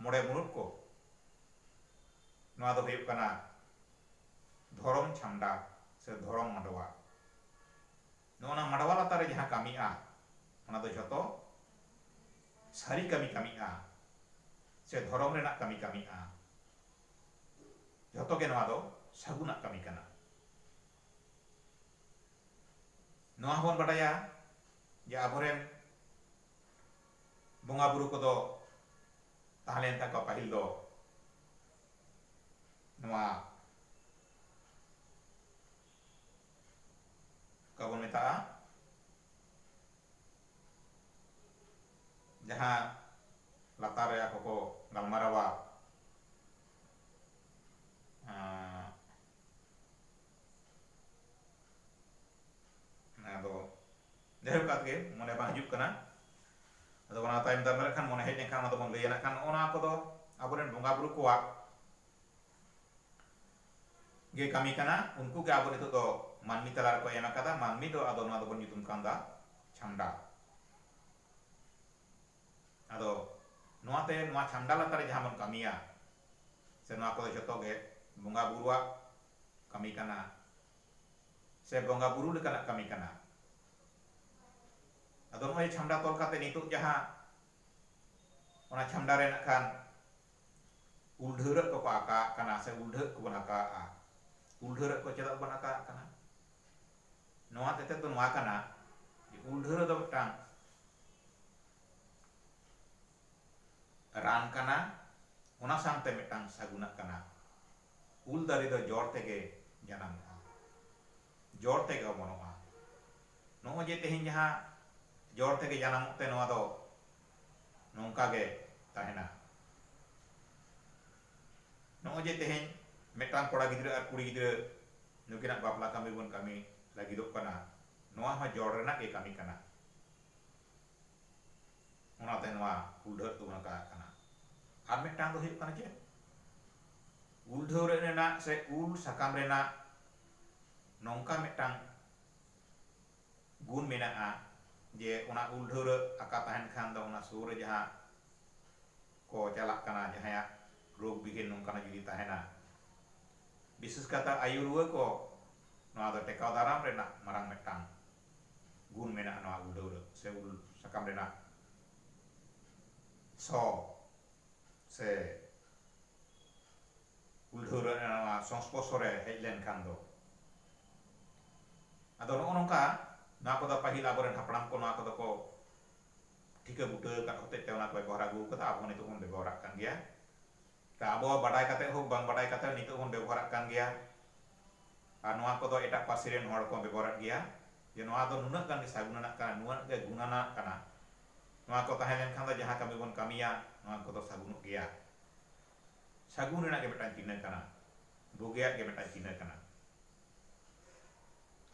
ᱢᱚᱬᱮ ᱢᱩᱬᱩᱛ ᱠᱚ ᱱᱚᱣᱟ ᱫᱚ ᱦᱩᱭᱩᱜ ᱠᱟᱱᱟ ᱫᱷᱚᱨᱚᱢ ᱪᱷᱟᱢᱰᱟ ᱥᱮ ᱫᱷᱚᱨᱚᱢ ᱢᱟᱰᱣᱟ ᱱᱚᱜᱼᱚ ᱱᱟ ᱢᱟᱰᱣᱟ ᱞᱟᱛᱟᱨ ᱨᱮ ᱡᱟᱦᱟᱸ ᱠᱟᱹᱢᱤᱜᱼᱟ ᱚᱱᱟ ᱫᱚ ᱡᱷᱚᱛᱚ ᱥᱟᱹᱨᱤ ᱠᱟᱹᱢᱤ ᱠᱟᱹᱢᱤᱜᱼᱟ ᱥᱮ ᱫᱷᱚᱨᱚᱢ ᱨᱮᱱᱟᱜ ᱠᱟᱹᱢᱤ ᱠᱟᱹᱢᱤᱜᱼᱟ ᱡᱷᱚᱛᱚ ᱜᱮ ᱱᱚᱣᱟ ᱫᱚ ᱥᱟᱹᱜᱩᱱᱟᱜ ᱠᱟᱹᱢᱤ ᱠᱟᱱᱟ ᱱᱚᱣᱟ ᱦᱚᱸᱵᱚᱱ ᱵᱟᱰᱟᱭᱟ ᱡᱮ ᱟᱵᱚᱨᱮᱱ ᱵᱚᱸᱜᱟ ᱵᱩᱨᱩ ᱠᱚᱫᱚ ᱛᱟᱦᱮᱸ ᱞᱮᱱ ᱛᱟᱠᱚᱣᱟ ᱯᱟᱹᱦᱤᱞ ᱫᱚ ᱱᱚᱣᱟ ᱚᱠᱟ ᱵᱚᱱ ᱢᱮᱛᱟᱜᱼᱟ ᱡᱟᱦᱟᱸ ᱞᱟᱛᱟᱨ ᱨᱮ ᱟᱠᱚ ᱠᱚ ᱜᱟᱞᱢᱟᱨᱟᱣᱟ ᱟᱫᱚ ᱡᱟᱭᱦᱳᱠ ᱠᱟᱜ ᱜᱮ ᱢᱚᱱᱮ ᱵᱟᱝ ᱦᱤᱡᱩᱜ ᱠᱟᱱᱟ ᱟᱫᱚ ᱚᱱᱟ ᱛᱟᱭᱚᱢ ᱫᱟᱨᱟᱢ ᱨᱮ ᱠᱷᱟᱱ ᱢᱚᱱᱮ ᱦᱮᱡ ᱞᱮᱱᱠᱷᱟᱱ ᱚᱱᱟ ᱫᱚᱵᱚᱱ ᱞᱟᱹᱭᱟ ᱱᱟᱜ ᱠᱷᱟᱱ ᱱᱚᱜᱼᱚ ᱱᱚᱣᱟ ᱠᱚᱫᱚ ᱟᱵᱚᱨᱮᱱ ᱵᱚᱸᱜᱟ ᱵᱩᱨᱩ ᱠᱚᱣᱟᱜ ᱜᱮ ᱠᱟᱹᱢᱤ ᱠᱟᱱᱟ ᱩᱱᱠᱩ ᱜᱮ ᱟᱵᱚ ᱱᱤᱛᱚᱜ ᱫᱚ ᱢᱟᱹᱱᱢᱤ ᱛᱟᱞᱟ ᱨᱮᱠᱚ ᱮᱢ ᱟᱠᱟᱫᱟ ᱢᱟᱹᱱᱢᱤ ᱫᱚ ᱟᱫᱚ ᱱᱚᱣᱟ ᱫᱚᱵᱚᱱ ᱧᱩᱛᱩᱢ ᱠᱟᱣᱫᱟ ᱪᱷᱟᱢᱰᱟ ᱟᱫᱚ ᱱᱚᱣᱟ ᱛᱮ ᱱᱚᱣᱟ ᱪᱷᱟᱢᱰᱟ ᱞᱟᱛᱟᱨ ᱨᱮ ᱡᱟᱦᱟᱸ ᱵᱚᱱ ᱠᱟᱹᱢᱤᱭᱟ ᱥᱮ ᱱᱚᱣᱟ ᱠᱚᱫᱚ ᱡᱚᱛᱚ ᱜᱮ ᱵᱚᱸᱜᱟ ᱵᱩᱨᱩᱣᱟᱜ ᱠᱟᱹᱢᱤ ᱠᱟᱱᱟ ᱥᱮ ᱵᱚᱸᱜᱟ ᱵᱩᱨᱩ ᱞᱮᱠᱟᱱᱟᱜ ᱠᱟᱹᱢᱤ ᱠᱟᱱᱟ ᱟᱫᱚ ᱱᱚᱜᱼᱚᱭ ᱪᱷᱟᱢᱰᱟ ᱛᱚᱞ ᱠᱟᱛᱮ ᱱᱤᱛᱚᱜ ᱡᱟᱦᱟᱸ ᱚᱱᱟ ᱪᱷᱟᱢᱰᱟ ᱨᱮ ᱱᱟᱜ ᱠᱷᱟᱱ ᱩᱞᱰᱷᱟᱹᱨᱟᱹᱜ ᱠᱚᱠᱚ ᱟᱠᱟᱜ ᱠᱟᱱᱟ ᱥᱮ ᱩᱞᱰᱷᱟᱹᱜ ᱠᱚᱵᱚᱱ ᱟᱠᱟᱜᱼᱟ ᱩᱞᱰᱷᱟᱹᱨᱟᱹᱜ ᱠᱚ ᱪᱮᱫᱟᱜ ᱵᱚᱱ ᱟᱠᱟᱜ ᱠᱟᱱᱟ ᱱᱚᱣᱟ ᱛᱮᱛᱮᱫ ᱫᱚ ᱱᱚᱣᱟ ᱠᱟᱱᱟ ᱡᱮ ᱩᱞᱰᱷᱟᱹᱨᱟᱹ ᱫᱚ ᱢᱤᱫᱴᱟᱝ ᱨᱟᱱ ᱠᱟᱱᱟ ᱚᱱᱟ ᱥᱟᱶᱛᱮ ᱢᱤᱫᱴᱟᱝ ᱥᱟᱹᱜᱩᱱᱟᱜ ᱠᱟᱱᱟ ᱩᱞ ᱫᱟᱨᱮ ᱫᱚ ᱡᱚᱲ ᱛᱮᱜᱮ ᱡᱟᱱᱟᱢᱚᱜᱼᱟ ᱡᱚᱲ ᱛᱮᱜᱮ ᱚᱢᱚᱱᱚᱜᱼᱟ᱾ ᱱᱚᱜᱼᱚᱭ ᱡᱮ ᱛᱮᱦᱮᱧ ᱡᱟᱦᱟᱸ ᱡᱚᱲ ᱛᱮᱜᱮ ᱡᱟᱱᱟᱢᱚᱜ ᱛᱮ ᱱᱚᱣᱟ ᱫᱚ ᱱᱚᱝᱠᱟ ᱜᱮ ᱛᱟᱦᱮᱸᱱᱟ᱾ ᱱᱚᱜᱼᱚᱭ ᱡᱮ ᱛᱮᱦᱮᱧ ᱢᱤᱫᱴᱟᱝ ᱠᱚᱲᱟ ᱜᱤᱫᱽᱨᱟᱹ ᱟᱨ ᱠᱩᱲᱤ ᱜᱤᱫᱽᱨᱟᱹ ᱱᱩᱠᱤᱱᱟᱜ ᱵᱟᱯᱞᱟ ᱠᱟᱹᱢᱤ ᱵᱚᱱ ᱠᱟᱹᱢᱤ ᱞᱟᱹᱜᱤᱫᱚᱜ ᱠᱟᱱᱟ ᱱᱚᱣᱟ ᱦᱚᱸ ᱡᱚᱲ ᱨᱮᱱᱟᱜ ᱜᱮ ᱠᱟᱹᱢᱤ ᱠᱟᱱᱟ᱾ ᱚᱱᱟᱛᱮ ᱱᱚᱣᱟ ᱩᱞᱰᱷᱟᱹᱜ ᱫᱚᱵᱚᱱ ᱢᱮᱛᱟᱜ ᱠᱟᱱᱟ᱾ ᱟᱨ ᱢᱤᱫᱴᱟᱝ ᱫᱚ ᱦᱩᱭᱩᱜ ᱠᱟᱱᱟ ᱪᱮᱫ? ᱩᱞᱰᱷᱟᱹᱣ ᱨᱮᱱᱟᱜ ᱥᱮ ᱩᱞ ᱥᱟᱠᱟᱢ ᱨᱮᱱᱟᱜ ᱱᱚᱝᱠᱟ ᱢᱤᱫᱴᱟᱝ ᱜᱩᱱ ᱢᱮᱱᱟᱜᱼᱟ ᱡᱮ ᱚᱱᱟ ᱩᱞ ᱰᱷᱟᱹᱣᱨᱟᱹᱜ ᱟᱠᱟ ᱛᱟᱦᱮᱱ ᱠᱷᱟᱱ ᱫᱚ ᱚᱱᱟ ᱥᱩᱨ ᱨᱮ ᱡᱟᱦᱟᱸ ᱠᱚ ᱪᱟᱞᱟᱜ ᱠᱟᱱᱟ ᱡᱟᱦᱟᱸᱭᱟᱜ ᱨᱳᱜᱽ ᱵᱤᱜᱷᱤᱱ ᱱᱚᱝᱠᱟᱱᱟᱜ ᱡᱩᱫᱤ ᱛᱟᱦᱮᱱᱟ ᱵᱤᱥᱮᱥ ᱠᱟᱛᱮ ᱟᱭᱩ ᱨᱩᱣᱟᱹ ᱠᱚ ᱱᱚᱣᱟ ᱫᱚ ᱴᱮᱠᱟᱣ ᱫᱟᱨᱟᱢ ᱨᱮᱱᱟᱜ ᱢᱟᱨᱟᱝ ᱢᱤᱫᱴᱟᱝ ᱜᱩᱱ ᱢᱮᱱᱟᱜᱼᱟ ᱱᱚᱣᱟ ᱩᱞ ᱰᱷᱟᱹᱣᱨᱟᱹᱜ ᱥᱮ ᱩᱞ ᱥᱟᱠᱟᱢ ᱨᱮᱱᱟᱜ ᱥᱚ ᱥᱮ ᱩᱞᱰᱷᱟᱹᱣ ᱨᱮ ᱱᱚᱣᱟ ᱥᱚᱝᱥᱯᱚᱨᱥᱚ ᱨᱮ ᱦᱮᱡ ᱞᱮᱱᱠᱷᱟᱱ ᱫᱚ ᱟᱫᱚ ᱱᱚᱜᱼᱚ ᱱᱚᱝᱠᱟ ᱱᱚᱣᱟ ᱠᱚᱫᱚ ᱯᱟᱹᱦᱤᱞ ᱟᱵᱚᱨᱮᱱ ᱦᱟᱯᱲᱟᱢ ᱠᱚ ᱱᱚᱣᱟ ᱠᱚᱫᱚ ᱠᱚ ᱴᱷᱤᱠᱟᱹ ᱵᱩᱴᱟᱹ ᱟᱠᱟᱫ ᱦᱚᱛᱮᱡ ᱛᱮ ᱚᱱᱟ ᱠᱚ ᱵᱮᱵᱚᱦᱟᱨ ᱟᱹᱜᱩ ᱟᱠᱟᱫᱟ ᱟᱵᱚ ᱱᱤᱛᱚᱜ ᱵᱚᱱ ᱵᱮᱵᱚᱦᱟᱨᱟᱜ ᱠᱟᱱ ᱜᱮᱭᱟ ᱛᱚ ᱟᱵᱚ ᱵᱟᱰᱟᱭ ᱠᱟᱛᱮ ᱦᱳᱠ ᱵᱟᱝ ᱵᱟᱰᱟᱭ ᱠᱟᱛᱮ ᱱᱤᱛᱚᱜ ᱵᱚᱱ ᱵᱮᱵᱚᱦᱟᱨᱟᱜ ᱠᱟᱱ ᱜᱮᱭᱟ ᱟᱨ ᱱᱚᱣᱟ ᱠᱚᱫᱚ ᱮᱴᱟᱜ ᱯᱟᱹᱨᱥᱤ ᱨᱮᱱ ᱦᱚᱲ ᱠᱚ ᱵᱮᱵᱚᱦᱟᱨᱮᱫ ᱜᱮᱭᱟ ᱡᱮ ᱱᱚᱣᱟ ᱫᱚ ᱱᱩᱱᱟᱹᱜ ᱜᱟᱱ ᱜᱮ ᱥᱟᱹᱜᱩᱱ ᱟᱱᱟᱜ ᱠᱟᱱᱟ ᱱᱩᱱᱟᱹᱜ ᱜᱮ ᱜᱩᱱ ᱟᱱᱟᱜ ᱠᱟᱱᱟ ᱱᱚᱣᱟ ᱠᱚ ᱛᱟᱦᱮᱸ ᱞᱮᱱᱠᱷᱟᱱ ᱫᱚ ᱡᱟᱦᱟᱸ ᱠᱟᱹᱢᱤ ᱵᱚᱱ ᱠᱟᱹᱢᱤᱭᱟ ᱱᱚᱣᱟ ᱠᱚᱫᱚ ᱥᱟᱹᱜᱩᱱᱚᱜ ᱜᱮᱭᱟ ᱥᱟᱹᱜᱩᱱ ᱨᱮᱱᱟᱜ ᱜᱮ ᱢᱤᱫᱴᱟᱝ ᱪᱤᱱᱦᱟᱹ ᱠᱟᱱᱟ ᱵᱩᱜᱤᱭᱟᱜ ᱜᱮ ᱢᱤᱫᱴᱟᱝ ᱪᱤᱱᱦᱟᱹ ᱠᱟᱱᱟ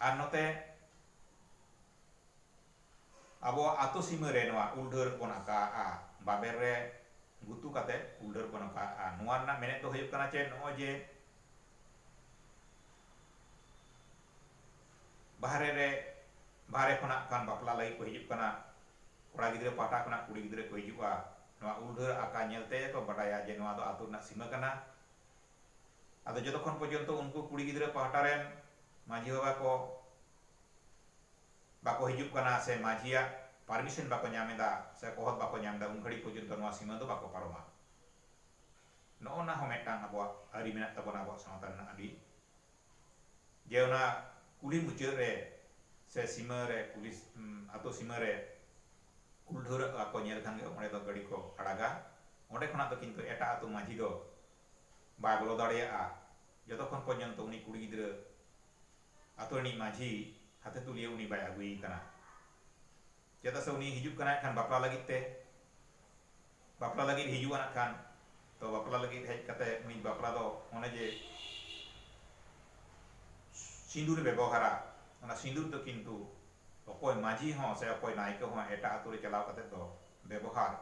ᱟᱨ ᱱᱚᱛᱮ ᱟᱵᱚᱣᱟᱜ ᱟᱛᱳ ᱥᱤᱢᱟᱹ ᱨᱮ ᱱᱚᱣᱟ ᱩᱞ ᱰᱷᱟᱹᱨ ᱵᱚᱱ ᱟᱠᱟᱜᱼᱟ ᱵᱟᱵᱮᱨ ᱨᱮ ᱜᱩᱛᱩ ᱠᱟᱛᱮ ᱩᱞ ᱰᱷᱟᱹᱨ ᱵᱚᱱ ᱟᱠᱟᱜᱼᱟ ᱱᱚᱣᱟ ᱨᱮᱱᱟᱜ ᱢᱮᱱᱮᱛ ᱫᱚ ᱦᱩᱭᱩᱜ ᱠᱟᱱᱟ ᱪᱮ ᱱᱚᱜᱼᱚᱭ ᱡᱮ ᱵᱟᱦᱨᱮ ᱨᱮ ᱵᱟᱦᱨᱮ ᱠᱷᱚᱱᱟᱜ ᱠᱷᱟᱱ ᱵᱟᱯᱞᱟ ᱞᱟᱹᱜᱤᱫ ᱠᱚ ᱦᱤᱡᱩᱜ ᱠᱟᱱᱟ ᱠᱚᱲᱟ ᱜᱤᱫᱽᱨᱟᱹ ᱯᱟᱦᱴᱟ ᱠᱷᱚᱱᱟᱜ ᱠᱩᱲᱤ ᱜᱤᱫᱽᱨᱟᱹ ᱠᱚ ᱦᱤᱡᱩᱜᱼᱟ ᱱᱚᱣᱟ ᱩᱞ ᱰᱷᱟᱹᱨ ᱟᱠᱟ ᱧᱮᱞ ᱛᱮᱜᱮ ᱠᱚ ᱵᱟᱰᱟᱭᱟ ᱡᱮ ᱱᱚᱣᱟ ᱫᱚ ᱟᱹᱛᱩ ᱨᱮᱱᱟᱜ ᱥᱤᱢᱟᱹ ᱠᱟᱱᱟ ᱟᱫᱚ ᱡᱚᱛᱚ ᱠᱷᱚᱱ ᱯᱚᱨᱡᱚᱱᱛᱚ ᱩᱱᱠᱩ ᱠᱩᱲᱤ ᱜᱤᱫᱽᱨᱟᱹ ᱯᱟᱦᱴᱟ ᱨᱮᱱ ᱢᱟᱹᱡᱷᱤ ᱵᱟᱵᱟ ᱠᱚ ᱵᱟᱠᱚ ᱦᱤᱡᱩᱜ ᱠᱟᱱᱟ ᱥᱮ ᱢᱟᱹᱡᱷᱤᱭᱟᱜ ᱯᱟᱨᱢᱤᱥᱚᱱ ᱵᱟᱠᱚ ᱧᱟᱢ ᱮᱫᱟ ᱥᱮ ᱠᱚᱦᱚᱫ ᱵᱟᱠᱚ ᱧᱟᱢ ᱮᱫᱟ ᱩᱱ ᱜᱷᱟᱹᱲᱤᱡ ᱯᱚᱨᱡᱚᱱᱛᱚ ᱱᱚᱣᱟ ᱥᱤᱢᱟᱹ ᱫᱚ ᱵᱟᱠᱚ ᱯᱟᱨᱚᱢᱟ ᱱᱚᱜᱼᱚ ᱱᱟ ᱦᱚᱸ ᱢᱤᱫᱴᱟᱝ ᱟᱵᱚᱣᱟᱜ ᱟᱹᱨᱤ ᱢᱮᱱᱟᱜ ᱛᱟᱵᱚᱱᱟ ᱟᱵᱚᱣᱟᱜ ᱥᱟᱶᱛᱟ ᱨᱮᱱᱟᱜ ᱟᱹᱰᱤ ᱡᱮ ᱚᱱᱟ ᱠᱩᱞᱦᱤ ᱢᱩᱪᱟᱹᱫ ᱨᱮ ᱥᱮ ᱥᱤᱢᱟᱹ ᱨᱮ ᱠᱩᱞᱦᱤ ᱟᱛᱳ ᱥᱤᱢᱟᱹ ᱨᱮ ᱠᱩᱞᱰᱷᱟᱹᱣᱨᱟᱹᱜ ᱚᱲᱟᱜ ᱠᱚ ᱧᱮᱞ ᱠᱷᱟᱱ ᱜᱮ ᱚᱸᱰᱮ ᱫᱚ ᱜᱟᱹᱰᱤ ᱠᱚ ᱟᱲᱟᱜᱟ ᱚᱸᱰᱮ ᱠᱷᱚᱱᱟᱜ ᱫᱚ ᱠᱤᱱᱛᱩ ᱮᱴᱟᱜ ᱟᱛᱳ ᱢᱟᱹᱡᱷᱤ ᱫᱚ ᱵᱟᱭ ᱵᱚᱞᱚ ᱫᱟᱲᱮᱭᱟᱜᱼᱟ ᱡᱚᱛᱚᱠᱷᱚᱱ ᱯᱚᱨᱡᱚᱱᱛᱚ ᱩᱱᱤ ᱠᱩᱲᱤ ᱜᱤᱫᱽᱨᱟᱹ ᱟᱛᱳ ᱨᱤᱱᱤᱡ ᱢᱟᱹᱡᱷᱤ ᱦᱟᱛᱮ ᱛᱩᱞᱤᱭᱟᱹ ᱩᱱᱤ ᱵᱟᱭ ᱟᱹᱜᱩᱭᱮ ᱠᱟᱱᱟ ᱪᱮᱫᱟᱜ ᱥᱮ ᱩᱱᱤ ᱦᱤᱡᱩᱜ ᱠᱟᱱᱟᱭ ᱠᱷᱟᱱ ᱵᱟᱯᱞᱟ ᱞᱟᱹᱜᱤᱫ ᱛᱮ ᱵᱟᱯᱞᱟ ᱞᱟᱹᱜᱤᱫ ᱦᱤᱡᱩᱜᱼᱟ ᱱᱟᱜ ᱠᱷᱟᱱ ᱛᱚ ᱵᱟᱯᱞᱟ ᱞᱟᱹᱜᱤᱫ ᱦᱮᱡ ᱠᱟᱛᱮ ᱩᱱᱤ ᱵᱟᱯᱞᱟ ᱫᱚ ᱚᱱᱮ ᱡᱮ ᱥᱤᱸᱫᱩᱨ ᱵᱮᱵᱚᱦᱟᱨᱟ ᱚᱱᱟ ᱥᱤᱸᱫᱩᱨ ᱫᱚ ᱠᱤᱱᱛᱩ ᱚᱠᱚᱭ ᱢᱟᱹᱡᱷᱤ ᱦᱚᱸ ᱥᱮ ᱚᱠᱚᱭ ᱱᱟᱭᱠᱮ ᱦᱚᱸ ᱮᱴᱟᱜ ᱟᱛᱳ ᱨᱮ ᱪᱟᱞᱟᱣ ᱠᱟᱛᱮ ᱫᱚ ᱵᱮᱵᱚᱦᱟᱨ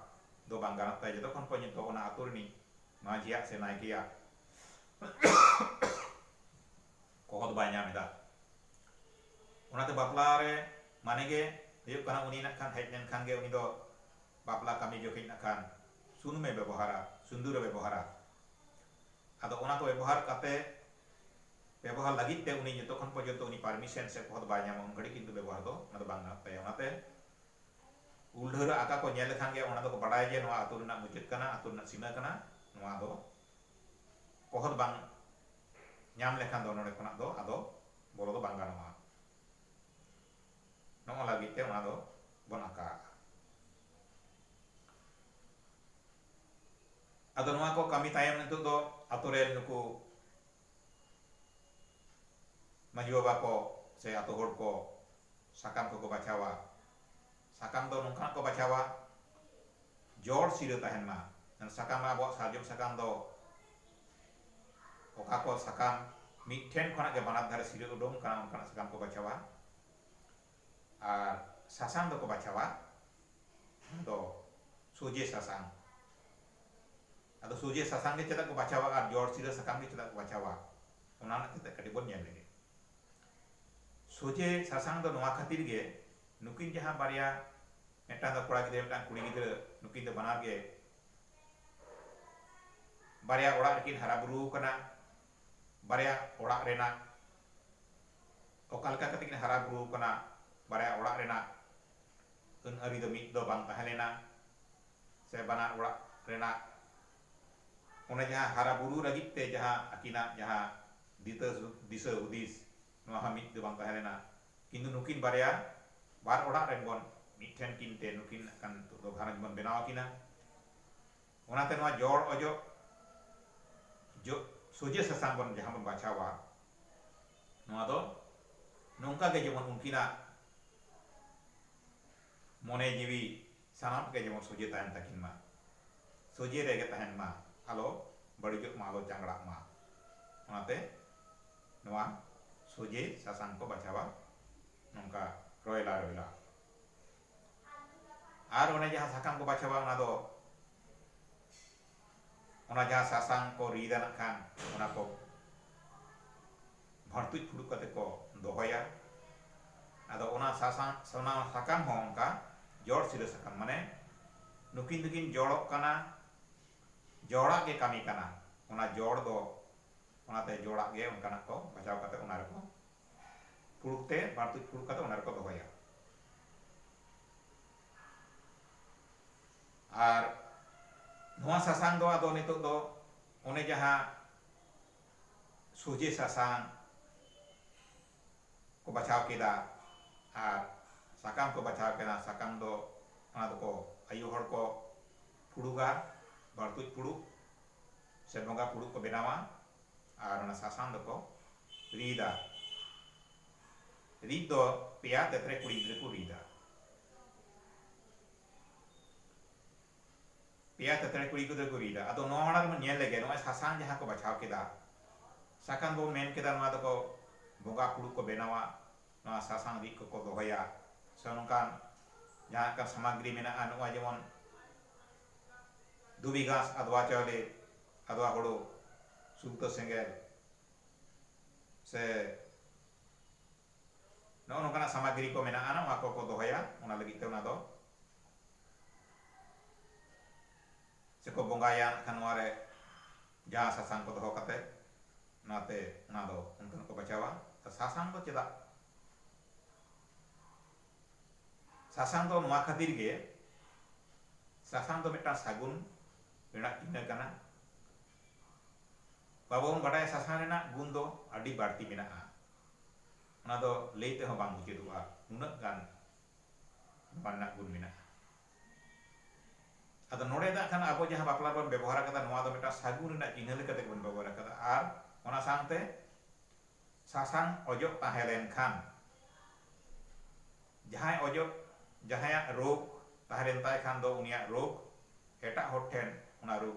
ᱫᱚ ᱵᱟᱝ ᱜᱟᱱᱚᱜ ᱛᱟᱭᱟ ᱡᱚᱛᱚ ᱠᱷᱚᱱ ᱯᱟᱹᱧ ᱫᱚ ᱚᱱᱟ ᱟᱛᱳ ᱨᱤᱱᱤᱡ ᱢᱟᱹᱡᱷᱤᱭᱟᱜ ᱥᱮ ᱱᱟᱭᱠᱮᱭᱟᱜ ᱠᱚᱦᱚᱫ ᱵᱟᱭ ᱧᱟᱢ ᱮᱫᱟ᱾ ᱚᱱᱟᱛᱮ ᱵᱟᱯᱞᱟ ᱨᱮ ᱢᱟᱱᱮ ᱜᱮ ᱦᱩᱭᱩᱜ ᱠᱟᱱᱟ ᱩᱱᱤ ᱱᱟᱜ ᱠᱷᱟᱱ ᱦᱮᱡ ᱞᱮᱱ ᱠᱷᱟᱱ ᱜᱮ ᱩᱱᱤ ᱫᱚ ᱵᱟᱯᱞᱟ ᱠᱟᱹᱢᱤ ᱡᱚᱠᱷᱮᱡ ᱱᱟᱜ ᱠᱷᱟᱱ ᱥᱩᱱᱩᱢ ᱮ ᱵᱮᱵᱚᱦᱟᱨᱟ, ᱥᱤᱸᱫᱩᱨ ᱮ ᱵᱮᱵᱚᱦᱟᱨᱟ᱾ ᱟᱫᱚ ᱚᱱᱟ ᱠᱚ ᱵᱮᱵᱚᱦᱟᱨ ᱠᱟᱛᱮ ᱵᱮᱵᱚᱦᱟᱨ ᱞᱟᱹᱜᱤᱫ ᱛᱮ ᱩᱱᱤ ᱡᱚᱛᱚ ᱠᱷᱚᱱ ᱯᱚᱨᱡᱚᱱᱛᱚ ᱩᱱᱤ ᱯᱟᱨᱢᱤᱥᱮᱱ ᱥᱮ ᱠᱚᱦᱚᱫ ᱵᱟᱭ ᱧᱟᱢᱟ ᱩᱱ ᱜᱷᱟᱹᱲᱤᱡ ᱠᱤᱱᱛᱩ ᱵᱮᱵᱚᱦᱟᱨ ᱫᱚ ᱚᱱᱟ ᱫᱚ ᱵᱟᱝ ᱜᱟᱱᱚᱜ ᱛᱟᱭᱟ᱾ ᱚᱱᱟᱛᱮ ᱩᱞ ᱰᱷᱟᱹᱣᱨᱟᱹᱜ ᱟᱠᱟ ᱠᱚ ᱧᱮᱞ ᱞᱮᱠᱷᱟᱱ ᱜᱮ ᱚᱱᱟ ᱫᱚᱠᱚ ᱵᱟᱰᱟᱭᱟ ᱡᱮ ᱱᱚᱣᱟ ᱟᱹᱛᱩ ᱨᱮᱱᱟᱜ ᱢᱩᱪᱟᱹᱫ ᱠᱟᱱᱟ, ᱟᱹᱛᱩ ᱨᱮᱱᱟᱜ ᱥᱤᱢᱟᱹ ᱠᱟᱱᱟ, ᱱᱚᱣᱟ ᱫᱚ ᱠᱚᱦᱚᱫ ᱵᱟᱝ ᱧᱟᱢ ᱞᱮᱠᱷᱟᱱ ᱫᱚ ᱱᱚᱸᱰᱮ ᱠᱷᱚᱱᱟᱜ ᱫᱚ ᱟᱫᱚ ᱵᱚᱞᱚ ᱫᱚ ᱵᱟᱝ ᱜᱟᱱᱚᱜᱼᱟ᱾ ᱱᱚᱜᱼᱚ ᱞᱟᱹᱜᱤᱫ ᱛᱮ ᱚᱱᱟ ᱫᱚ ᱵᱚᱱ ᱟᱠᱟᱜᱼᱟ᱾ ᱟᱫᱚ ᱱᱚᱣᱟ ᱠᱚ ᱠᱟᱹᱢᱤ ᱛᱟᱭᱚᱢ ᱱᱤᱛᱚᱜ ᱫᱚ ᱟᱛᱳ ᱨᱮᱱ ᱱᱩᱠᱩ ᱢᱟᱺᱡᱷᱤ ᱵᱟᱵᱟ ᱠᱚ ᱥᱮ ᱟᱛᱳ ᱦᱚᱲ ᱠᱚ ᱥᱟᱠᱟᱢ ᱠᱚᱠᱚ ᱵᱟᱪᱷᱟᱣᱟ᱾ ᱥᱟᱠᱟᱢ ᱫᱚ ᱱᱚᱝᱠᱟᱱᱟᱜ ᱠᱚ ᱵᱟᱪᱷᱟᱣᱟ ᱡᱚᱲ ᱥᱤᱨᱟᱹ ᱛᱟᱦᱮᱱ ᱢᱟ᱾ ᱥᱟᱠᱟᱢ ᱢᱟ ᱟᱵᱚᱣᱟᱜ ᱥᱟᱨᱡᱚᱢ ᱥᱟᱠᱟᱢ ᱫᱚ ᱚᱠᱟ ᱠᱚ ᱥᱟᱠᱟᱢ ᱢᱤᱫ ᱴᱷᱮᱱ ᱠᱷᱚᱱᱟᱜ ᱜᱮ ᱵᱟᱱᱟᱨ ᱫᱷᱟᱨᱮ ᱥᱤᱨᱟᱹ ᱩᱰᱩᱝ ᱟᱠᱟᱱᱟ ᱚᱱᱠᱟᱱᱟᱜ ᱥᱟᱠᱟᱢ ᱠᱚ ᱵᱟᱪᱷᱟᱣᱟ ᱟᱨ ᱥᱟᱥᱟᱝ ᱫᱚᱠᱚ ᱵᱟᱪᱷᱟᱣᱟ ᱚᱱᱟ ᱫᱚ ᱥᱚᱡᱷᱮ ᱥᱟᱥᱟᱝ ᱟᱫᱚ ᱥᱚᱡᱷᱮ ᱥᱟᱥᱟᱝ ᱜᱮ ᱪᱮᱫᱟᱜ ᱠᱚ ᱵᱟᱪᱷᱟᱣᱟ ᱟᱨ ᱡᱚᱲ ᱥᱤᱨᱟᱹ ᱥᱟᱠᱟᱢ ᱜᱮ ᱪᱮᱫᱟᱜ ᱠᱚ ᱵᱟᱪᱷᱟᱣᱟ ᱚᱱᱟ ᱨᱮᱱᱟᱜ ᱛᱮᱛᱮᱫ ᱠᱟᱹᱴᱤᱡ ᱵᱚᱱ ᱧᱮᱞ ᱞᱮᱜᱮ ᱥᱚᱡᱷᱮ ᱥᱟᱥᱟᱝ ᱫᱚ ᱱᱚᱣᱟ ᱠᱷᱟᱹᱛᱤᱨ ᱜᱮ ᱱᱩᱠᱤᱱ ᱡᱟᱦᱟᱸ ᱵᱟᱨᱭᱟ ᱢᱤᱫᱴᱟᱝ ᱫᱚ ᱠᱚᱲᱟ ᱜᱤᱫᱽᱨᱟᱹ ᱢᱤᱫᱴᱟᱝ ᱠᱩᱲᱤ ᱜᱤᱫᱽᱨᱟᱹ ᱱᱩᱠᱤᱱ ᱫᱚ ᱵᱟᱱᱟᱨ ᱜᱮ ᱵᱟᱨᱭᱟ ᱚᱲᱟᱜ ᱨᱮᱠᱤᱱ ᱦᱟᱨᱟ ᱵᱩᱨᱩ ᱟᱠᱟᱱᱟ ᱵᱟᱨᱭᱟ ᱚᱲᱟᱜ ᱨᱮᱱᱟᱜ ᱚᱠᱟ ᱞᱮᱠᱟ ᱠᱟᱛᱮ ᱠᱤᱱ ᱦᱟᱨᱟ ᱵᱩᱨᱩ ᱟᱠᱟᱱᱟ ᱵᱟᱨᱭᱟ ᱚᱲᱟᱜ ᱨᱮᱱᱟᱜ ᱟᱹᱱ ᱟᱹᱨᱤ ᱫᱚ ᱢᱤᱫ ᱫᱚ ᱵᱟᱝ ᱛᱟᱦᱮᱸ ᱞᱮᱱᱟ ᱥᱮ ᱵᱟᱱᱟᱨ ᱚᱲᱟᱜ ᱨᱮᱱᱟᱜ ᱚᱱᱮ ᱡᱟᱦᱟᱸ ᱦᱟᱨᱟ ᱵᱩᱨᱩ ᱞᱟᱹᱜᱤᱫ ᱛᱮ ᱡᱟᱦᱟᱸ ᱟᱹᱠᱤᱱᱟᱜ ᱡᱟᱦᱟᱸ ᱫᱤᱥᱟᱹ ᱦᱩᱫᱤᱥ ᱱᱚᱣᱟ ᱦᱚᱸ ᱢᱤᱫ ᱫᱚ ᱵᱟᱝ ᱛᱟᱦᱮᱸ ᱞᱮᱱᱟ ᱠᱤᱱᱛᱩ ᱱᱩᱠᱤᱱ ᱵᱟᱨᱭᱟ ᱵᱟᱨ ᱚᱲᱟᱜ ᱨᱮᱱ ᱵᱚᱱ ᱢᱤᱫ ᱴᱷᱮᱱ ᱠᱤᱱ ᱛᱮ ᱱᱩᱠᱤᱱ ᱱᱟᱜ ᱠᱷᱟᱱ ᱱᱤᱛᱚᱜ ᱫᱚ ᱜᱷᱟᱨᱚᱸᱡᱽ ᱵᱚᱱ ᱵᱮᱱᱟᱣ ᱟᱠᱤᱱᱟ ᱚᱱᱟᱛᱮ ᱱᱚᱣᱟ ᱡᱚᱲ ᱚᱡᱚᱜ ᱡᱚ ᱥᱚᱡᱷᱮ ᱥᱟᱥᱟᱝ ᱵᱚᱱ ᱡᱟᱦᱟᱸ ᱵᱚᱱ ᱵᱟᱪᱷᱟᱣᱟ ᱱᱚᱣᱟ ᱫᱚ ᱱᱚᱝᱠᱟ ᱜᱮ ᱡᱮᱢᱚᱱ ᱩᱱᱠᱤᱱᱟᱜ ᱢᱚᱱᱮ ᱡᱤᱣᱤ ᱥᱟᱱᱟᱢᱟᱜ ᱜᱮ ᱡᱮᱢᱚᱱ ᱥᱚᱡᱷᱮ ᱛᱟᱦᱮᱱ ᱛᱟᱹᱠᱤᱱ ᱢᱟ᱾ ᱥᱚᱡᱷᱮ ᱨᱮ ᱜᱮ ᱛᱟᱦᱮᱱ ᱢᱟ, ᱟᱞᱚ ᱵᱟᱹᱲᱤᱡᱚᱜ ᱢᱟ, ᱟᱞᱚ ᱪᱟᱝᱜᱽᱲᱟᱜ ᱢᱟ᱾ ᱚᱱᱟᱛᱮ ᱱᱚᱣᱟ ᱥᱚᱡᱷᱮ ᱥᱟᱥᱟᱝ ᱠᱚ ᱵᱟᱪᱷᱟᱣᱟ ᱱᱚᱝᱠᱟ ᱨᱚᱭᱞᱟ ᱨᱚᱭᱞᱟ᱾ ᱟᱨ ᱚᱱᱮ ᱡᱟᱦᱟᱸ ᱥᱟᱠᱟᱢ ᱠᱚ ᱵᱟᱪᱷᱟᱣᱟ ᱚᱱᱟ ᱫᱚ ᱚᱱᱟ ᱡᱟᱦᱟᱸ ᱥᱟᱥᱟᱝ ᱠᱚ ᱨᱤᱫᱟ ᱱᱟᱜ ᱠᱷᱟᱱ ᱚᱱᱟ ᱠᱚ ᱵᱷᱟᱹᱲᱛᱩᱡ ᱯᱷᱩᱲᱩᱜ ᱠᱟᱛᱮ ᱠᱚ ᱫᱚᱦᱚᱭᱟ ᱟᱫᱚ ᱚᱱᱟ ᱥᱟᱥᱟᱝ ᱚᱱᱟ ᱥᱟᱠᱟᱢ ᱦᱚᱸ ᱚᱱᱠᱟ ᱡᱚᱲ ᱥᱤᱨᱟᱹ ᱥᱟᱠᱟᱢ ᱢᱟᱱᱮ ᱱᱩᱠᱤᱱ ᱫᱚᱠᱤᱱ ᱡᱚᱲᱚᱜ ᱠᱟᱱᱟ ᱡᱚᱲᱟᱜ ᱜᱮ ᱠᱟᱹᱢᱤ ᱠᱟᱱᱟ ᱚᱱᱟ ᱡᱚᱲ ᱫᱚ ᱚᱱᱟᱛᱮ ᱡᱚᱲᱟᱜ ᱜᱮ ᱚᱱᱠᱟᱱᱟᱜ ᱠᱚ ᱵᱟᱪᱷᱟᱣ ᱠᱟᱛᱮ ᱚᱱᱟ ᱨᱮᱠᱚ ᱯᱷᱩᱲᱩᱜ ᱛᱮ ᱵᱷᱟᱹᱲᱛᱩᱡ ᱯᱷᱩᱲᱩᱜ ᱠᱟᱛᱮ ᱚᱱᱟ ᱨᱮᱠᱚ ᱫᱚᱦᱚᱭᱟ ᱟᱨ ᱱᱚᱣᱟ ᱥᱟᱥᱟᱝ ᱫᱚ ᱟᱫᱚ ᱱᱤᱛᱚᱜ ᱫᱚ ᱚᱱᱮ ᱡᱟᱦᱟᱸ ᱥᱚᱡᱷᱮ ᱥᱟᱥᱟᱝ ᱠᱚ ᱵᱟᱪᱷᱟᱣ ᱠᱮᱫᱟ ᱟᱨ ᱥᱟᱠᱟᱢ ᱠᱚ ᱵᱟᱪᱷᱟᱣ ᱠᱮᱫᱟ ᱥᱟᱠᱟᱢ ᱫᱚ ᱚᱱᱟ ᱫᱚᱠᱚ ᱟᱭᱳ ᱦᱚᱲ ᱠᱚ ᱯᱷᱩᱲᱩᱜᱟ ᱵᱟᱹᱲᱛᱩᱡ ᱯᱷᱩᱲᱩᱜ ᱥᱮ ᱵᱚᱸᱜᱟ ᱯᱷᱩᱲᱩᱜ ᱠᱚ ᱵᱮᱱᱟᱣᱟ ᱟᱨ ᱚᱱᱟ ᱥᱟᱥᱟᱝ ᱫᱚᱠᱚ ᱨᱤᱫᱟ ᱨᱤᱫ ᱫᱚ ᱯᱮᱭᱟ ᱛᱮᱫ ᱨᱮ ᱠᱩᱲᱤᱫ ᱨᱮᱠᱚ ᱨᱤᱫᱟ᱾ ᱯᱮᱭᱟ ᱛᱮᱫ ᱨᱮ ᱠᱩᱲᱤᱫ ᱨᱮᱠᱚ ᱨᱤᱫᱟ᱾ ᱟᱫᱚ ᱱᱚᱣᱟ ᱢᱟᱲᱟᱝ ᱨᱮᱵᱚᱱ ᱧᱮᱞ ᱞᱮᱜᱮ ᱱᱚᱜᱼᱚᱭ ᱥᱟᱥᱟᱝ ᱡᱟᱦᱟᱸ ᱠᱚ ᱵᱟᱪᱷᱟᱣ ᱠᱮᱫᱟ, ᱥᱟᱠᱟᱱ ᱵᱚᱱ ᱢᱮᱱ ᱠᱮᱫᱟ ᱱᱚᱣᱟ ᱫᱚᱠᱚ ᱵᱚᱸᱜᱟ ᱯᱷᱩᱲᱩᱜ ᱠᱚ ᱵᱮᱱᱟᱣᱟ, ᱱᱚᱣᱟ ᱥᱟᱥᱟᱝ ᱨᱤᱫ ᱠᱚᱠᱚ ᱫᱚᱦᱚᱭᱟ ᱥᱮ ᱱᱚᱝᱠᱟᱱ ᱡᱟᱦᱟᱸ ᱚᱱᱠᱟᱱ ᱥᱟᱢᱟᱜᱽᱨᱤ ᱢᱮᱱᱟᱜᱼᱟ ᱱᱚᱜᱼᱚᱭ ᱡᱮᱢᱚᱱ ᱫᱷᱩᱵᱤ ᱜᱷᱟᱸᱥ, ᱟᱫᱽᱣᱟ ᱪᱟᱣᱞᱮ, ᱟᱫᱽᱣᱟ ᱦᱳᱲᱳ, ᱥᱩᱞᱛᱟᱹ ᱥᱮᱸᱜᱮᱞ, ᱥᱮ ᱱᱚᱜᱼᱚ ᱱᱚᱝᱠᱟᱱᱟᱜ ᱥᱟᱢᱟᱜᱨᱤ ᱠᱚ ᱢᱮᱱᱟᱜᱼᱟ ᱱᱚᱣᱟ ᱠᱚᱠᱚ ᱫᱚᱦᱚᱭᱟ ᱚᱱᱟ ᱞᱟᱹᱜᱤᱫ ᱛᱮ ᱚᱱᱟ ᱫᱚ ᱥᱮᱠᱚ ᱵᱚᱸᱜᱟᱭᱟ ᱠᱷᱟᱱ ᱱᱚᱣᱟ ᱨᱮ ᱡᱟᱦᱟᱸ ᱥᱟᱥᱟᱝ ᱠᱚ ᱫᱚᱦᱚ ᱠᱟᱛᱮ ᱚᱱᱟᱛᱮ ᱚᱱᱟ ᱫᱚ ᱚᱱᱠᱟᱱ ᱠᱚ ᱵᱟᱪᱷᱟᱣᱟ ᱥᱟᱥᱟᱝ ᱫᱚ ᱪᱮᱫᱟᱜ ᱥᱟᱥᱟᱝ ᱫᱚ ᱱᱚᱣᱟ ᱠᱷᱟᱹᱛᱤᱨ ᱜᱮ ᱥᱟᱥᱟᱝ ᱫᱚ ᱢᱤᱫᱴᱟᱝ ᱥᱟᱹᱜᱩᱱ ᱨᱮᱱᱟᱜ ᱪᱤᱱᱦᱟᱹ ᱠᱟᱱᱟ ᱵᱟᱵᱚ ᱵᱚᱱ ᱵᱟᱰᱟᱭᱟ ᱥᱟᱥᱟᱝ ᱨᱮᱱᱟᱜ ᱜᱩᱱ ᱫᱚ ᱟᱹᱰᱤ ᱵᱟᱹᱲᱛᱤ ᱢᱮᱱᱟᱜᱼᱟ ᱚᱱᱟ ᱫᱚ ᱞᱟᱹᱭ ᱛᱮᱦᱚᱸ ᱵᱟᱝ ᱢᱩᱪᱟᱹᱫᱚᱜᱼᱟ ᱱᱩᱱᱟᱹᱜ ᱜᱟᱱ ᱱᱚᱣᱟ ᱨᱮᱱᱟᱜ ᱜᱩᱱ ᱢᱮᱱᱟᱜᱼᱟ ᱟᱫᱚ ᱱᱚᱰᱮ ᱫᱚ ᱠᱷᱟᱱ ᱟᱵᱚ ᱡᱟᱦᱟᱸ ᱵᱟᱯᱞᱟ ᱨᱮᱵᱚᱱ ᱵᱮᱵᱚᱦᱟᱨ ᱟᱠᱟᱫᱟ ᱱᱚᱣᱟ ᱫᱚ ᱢᱤᱫᱴᱟᱝ ᱥᱟᱹᱜᱩᱱ ᱨᱮᱱᱟᱜ ᱪᱤᱱᱦᱟᱹ ᱞᱮᱠᱟ ᱛᱮᱜᱮ ᱵᱚᱱ ᱵᱮᱵᱚᱦᱟᱨ ᱟᱠᱟᱫᱟ ᱟᱨ ᱚᱱᱟ ᱥᱟᱶᱛᱮ ᱥᱟᱥᱟᱝ ᱚᱡᱚᱜ ᱛᱟᱦᱮᱸ ᱞᱮᱱᱠᱷᱟᱱ ᱡᱟᱦᱟᱸᱭ ᱚᱡᱚᱜ ᱡᱟᱦᱟᱸᱭᱟᱜ ᱨᱳᱜᱽ ᱛᱟᱦᱮᱸ ᱞᱮᱱ ᱛᱟᱭ ᱠᱷᱟᱱ ᱫᱚ ᱩᱱᱤᱭᱟᱜ ᱨᱳᱜᱽ ᱮᱴᱟᱜ ᱦᱚᱲ ᱴᱷᱮᱱ ᱚᱱᱟ ᱨᱳᱜᱽ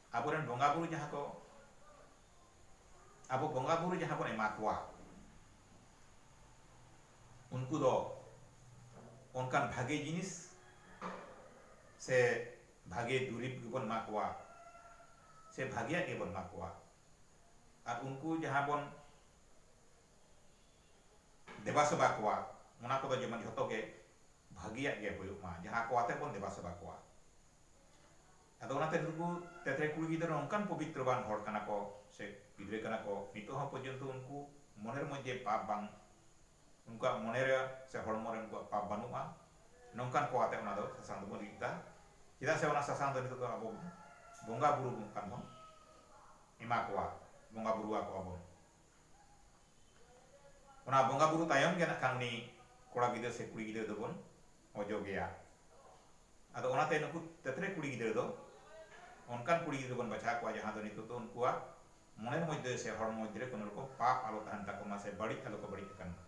ᱟᱵᱚᱨᱮᱱ ᱵᱚᱸᱜᱟ ᱵᱩᱨᱩ ᱡᱟᱦᱟᱸ ᱠᱚ ᱟᱵᱚ ᱵᱚᱸᱜᱟ ᱵᱩᱨᱩ ᱡᱟᱦᱟᱸ ᱵᱚᱱ ᱮᱢᱟ ᱠᱚᱣᱟ ᱩᱱᱠᱩ ᱫᱚ ᱚᱱᱠᱟᱱ ᱵᱷᱟᱜᱮ ᱡᱤᱱᱤᱥ ᱥᱮ ᱵᱷᱟᱜᱮ ᱫᱩᱨᱤᱵᱽ ᱜᱮᱵᱚᱱ ᱮᱢᱟ ᱠᱚᱣᱟ ᱥᱮ ᱵᱷᱟᱜᱮᱭᱟᱜ ᱜᱮᱵᱚᱱ ᱮᱢᱟ ᱠᱚᱣᱟ ᱟᱨ ᱩᱱᱠᱩ ᱡᱟᱦᱟᱸ ᱵᱚᱱ ᱫᱮᱵᱟ ᱥᱮᱵᱟ ᱠᱚᱣᱟ ᱚᱱᱟ ᱠᱚᱫᱚ ᱡᱮᱢᱚᱱ ᱡᱷᱚᱛᱚ ᱜᱮ ᱵᱷᱟᱜᱮᱭᱟᱜ ᱜᱮ ᱦᱩᱭᱩᱜ ᱢᱟ ᱡᱟᱦᱟᱸ ᱠᱚ ᱟᱛᱮ ᱵᱚᱱ ᱫᱮᱵᱟ ᱥᱮᱵᱟ ᱠᱚᱣᱟ ᱟᱫᱚ ᱚᱱᱟᱛᱮ ᱱᱩᱠᱩ ᱛᱮᱛᱨᱮ ᱠᱩᱲᱤ ᱜᱤᱫᱽᱨᱟᱹ ᱱᱚᱝᱠᱟᱱ ᱯᱚᱵᱤᱛᱨᱚᱵᱟᱱ ᱦᱚᱲ ᱠᱟᱱᱟ ᱠᱚ ᱥᱮ ᱜᱤᱫᱽᱨᱟᱹ ᱠᱟᱱᱟ ᱠᱚ ᱱᱤᱛᱚᱜ ᱦᱚᱸ ᱯᱚᱨᱡᱚᱱᱛᱚ ᱩᱱᱠᱩ ᱢᱚᱱᱮᱨ ᱢᱚᱫᱽᱫᱷᱮ ᱯᱟᱯ ᱵᱟᱝ ᱩᱱᱠᱩᱣᱟᱜ ᱢᱚᱱᱮ ᱨᱮ ᱥᱮ ᱦᱚᱲᱢᱚ ᱨᱮ ᱩᱱᱠᱩᱣᱟᱜ ᱯᱟᱯ ᱵᱟᱹᱱᱩᱜᱼᱟ ᱱᱚᱝᱠᱟᱱ ᱠᱚ ᱟᱛᱮ ᱚᱱᱟ ᱫᱚ ᱥᱟᱥᱟᱝ ᱫᱚᱵᱚᱱ ᱨᱤᱫ ᱮᱫᱟ ᱪᱮᱫᱟᱜ ᱥᱮ ᱚᱱᱟ ᱥᱟᱥᱟᱝ ᱫᱚ ᱱᱤᱛᱚᱜ ᱫᱚ ᱟᱵᱚ ᱵᱚᱱ ᱵᱚᱸᱜᱟ ᱵᱩᱨᱩ ᱵᱚᱱ ᱠᱟᱱ ᱵᱚᱱ ᱮᱢᱟ ᱠᱚᱣᱟ ᱵᱚᱸᱜᱟ ᱵᱩᱨᱩ ᱟᱠᱚᱣᱟ ᱵᱚᱱ ᱚᱱᱟ ᱵᱚᱸᱜᱟ ᱵᱩᱨᱩ ᱛᱟᱭᱚᱢ ᱜᱮ ᱱᱟᱜ ᱠᱷᱟᱱ ᱩᱱᱤ ᱠᱚᱲᱟ ᱜᱤᱫᱽᱨᱟᱹ ᱥᱮ ᱠᱩᱲᱤ ᱜᱤᱫᱽᱨᱟᱹ ᱫᱚᱵᱚᱱ ᱚᱡᱚᱜᱮᱭᱟ ᱟᱫᱚ ᱚᱱᱟᱛᱮ ᱱᱩᱠᱩ ᱛᱮᱛᱨᱮ ᱠᱩᱲᱤ ᱜᱤᱫᱽᱨᱟᱹ ᱫᱚ ᱚᱱᱠᱟᱱ ᱠᱩᱲᱤ ᱜᱤᱫᱽᱨᱟᱹ ᱵᱚᱱ ᱵᱟᱪᱷᱟᱣ ᱠᱚᱣᱟ ᱡᱟᱦᱟᱸ ᱫᱚ ᱱᱤᱛᱚᱜ ᱫᱚ ᱩᱱᱠᱩᱣᱟᱜ ᱢᱚᱱᱮᱨ ᱢᱚᱫᱽᱫᱷᱮ ᱥᱮ ᱦᱚᱲ ᱢᱚᱫᱽᱫᱷᱮ ᱨᱮ ᱠᱳᱱᱳ ᱨᱚᱠᱚᱢ ᱯᱟᱯ ᱟᱞᱚ ᱛᱟᱦᱮᱱ ᱛᱟᱠᱚ ᱢᱟ ᱥᱮ ᱵᱟᱹᱲᱤᱡ ᱟᱞᱚ ᱠᱚ ᱵᱟᱹᱲᱤᱡ ᱟᱠᱟᱱ ᱢᱟ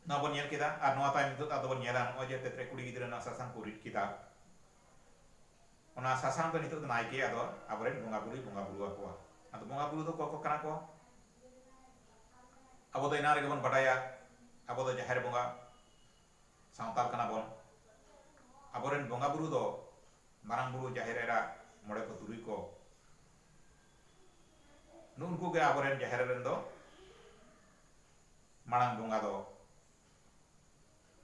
ᱱᱚᱣᱟ ᱵᱚᱱ ᱧᱮᱞ ᱠᱮᱫᱟ ᱟᱨ ᱱᱚᱣᱟ ᱛᱟᱭᱚᱢ ᱱᱤᱛᱚᱜ ᱟᱫᱚ ᱵᱚᱱ ᱧᱮᱞᱟ ᱱᱚᱜᱼᱚᱭ ᱡᱮ ᱛᱮᱛᱨᱮ ᱠᱩᱲᱤ ᱜᱤᱫᱽᱨᱟᱹ ᱱᱚᱣᱟ ᱥᱟᱥᱟᱝ ᱠᱚ ᱨᱤᱫ ᱠᱮᱫᱟ ᱚᱱᱟ ᱥᱟᱥᱟᱝ ᱫᱚ ᱱᱤᱛᱚᱜ ᱫᱚ ᱱᱟᱭᱠᱮ ᱟᱫᱚ ᱟᱵᱚᱨᱮᱱ ᱵᱚᱸᱜᱟ ᱵᱩᱨᱩᱭ ᱵᱚᱸᱜᱟ ᱵᱩᱨᱩ ᱟᱠᱚᱣᱟ ᱟᱫᱚ ᱵᱚᱸᱜᱟ ᱵᱩᱨᱩ ᱫᱚ ᱚᱠᱚᱭ ᱠᱚ ᱠᱟᱱᱟ ᱠᱚ ᱟᱵᱚ ᱫᱚ ᱮᱱᱟᱝ ᱨᱮᱜᱮ ᱵᱚᱱ ᱵᱟᱰᱟᱭᱟ ᱟᱵᱚ ᱫᱚ ᱡᱟᱦᱮᱨ ᱵᱚᱸᱜᱟ ᱥᱟᱶᱛᱟᱞ ᱠᱟᱱᱟ ᱵᱚᱱ ᱟᱵᱚᱨᱮᱱ ᱵᱚᱸᱜᱟ ᱵᱩᱨᱩ ᱫᱚ ᱢᱟᱨᱟᱝ ᱵᱩᱨᱩ ᱡᱟᱦᱮᱨ ᱮᱨᱟ ᱢᱚᱬᱮ ᱠᱚ ᱛᱩᱨᱩᱭ ᱠᱚ ᱱᱩᱜᱼᱩ ᱱᱩᱠᱩ ᱜᱮ ᱟᱵᱚᱨᱮᱱ ᱡᱟᱦᱮᱨ ᱨᱮᱱ ᱫᱚ ᱢᱟᱲᱟᱝ ᱵᱚᱸᱜᱟ ᱫᱚ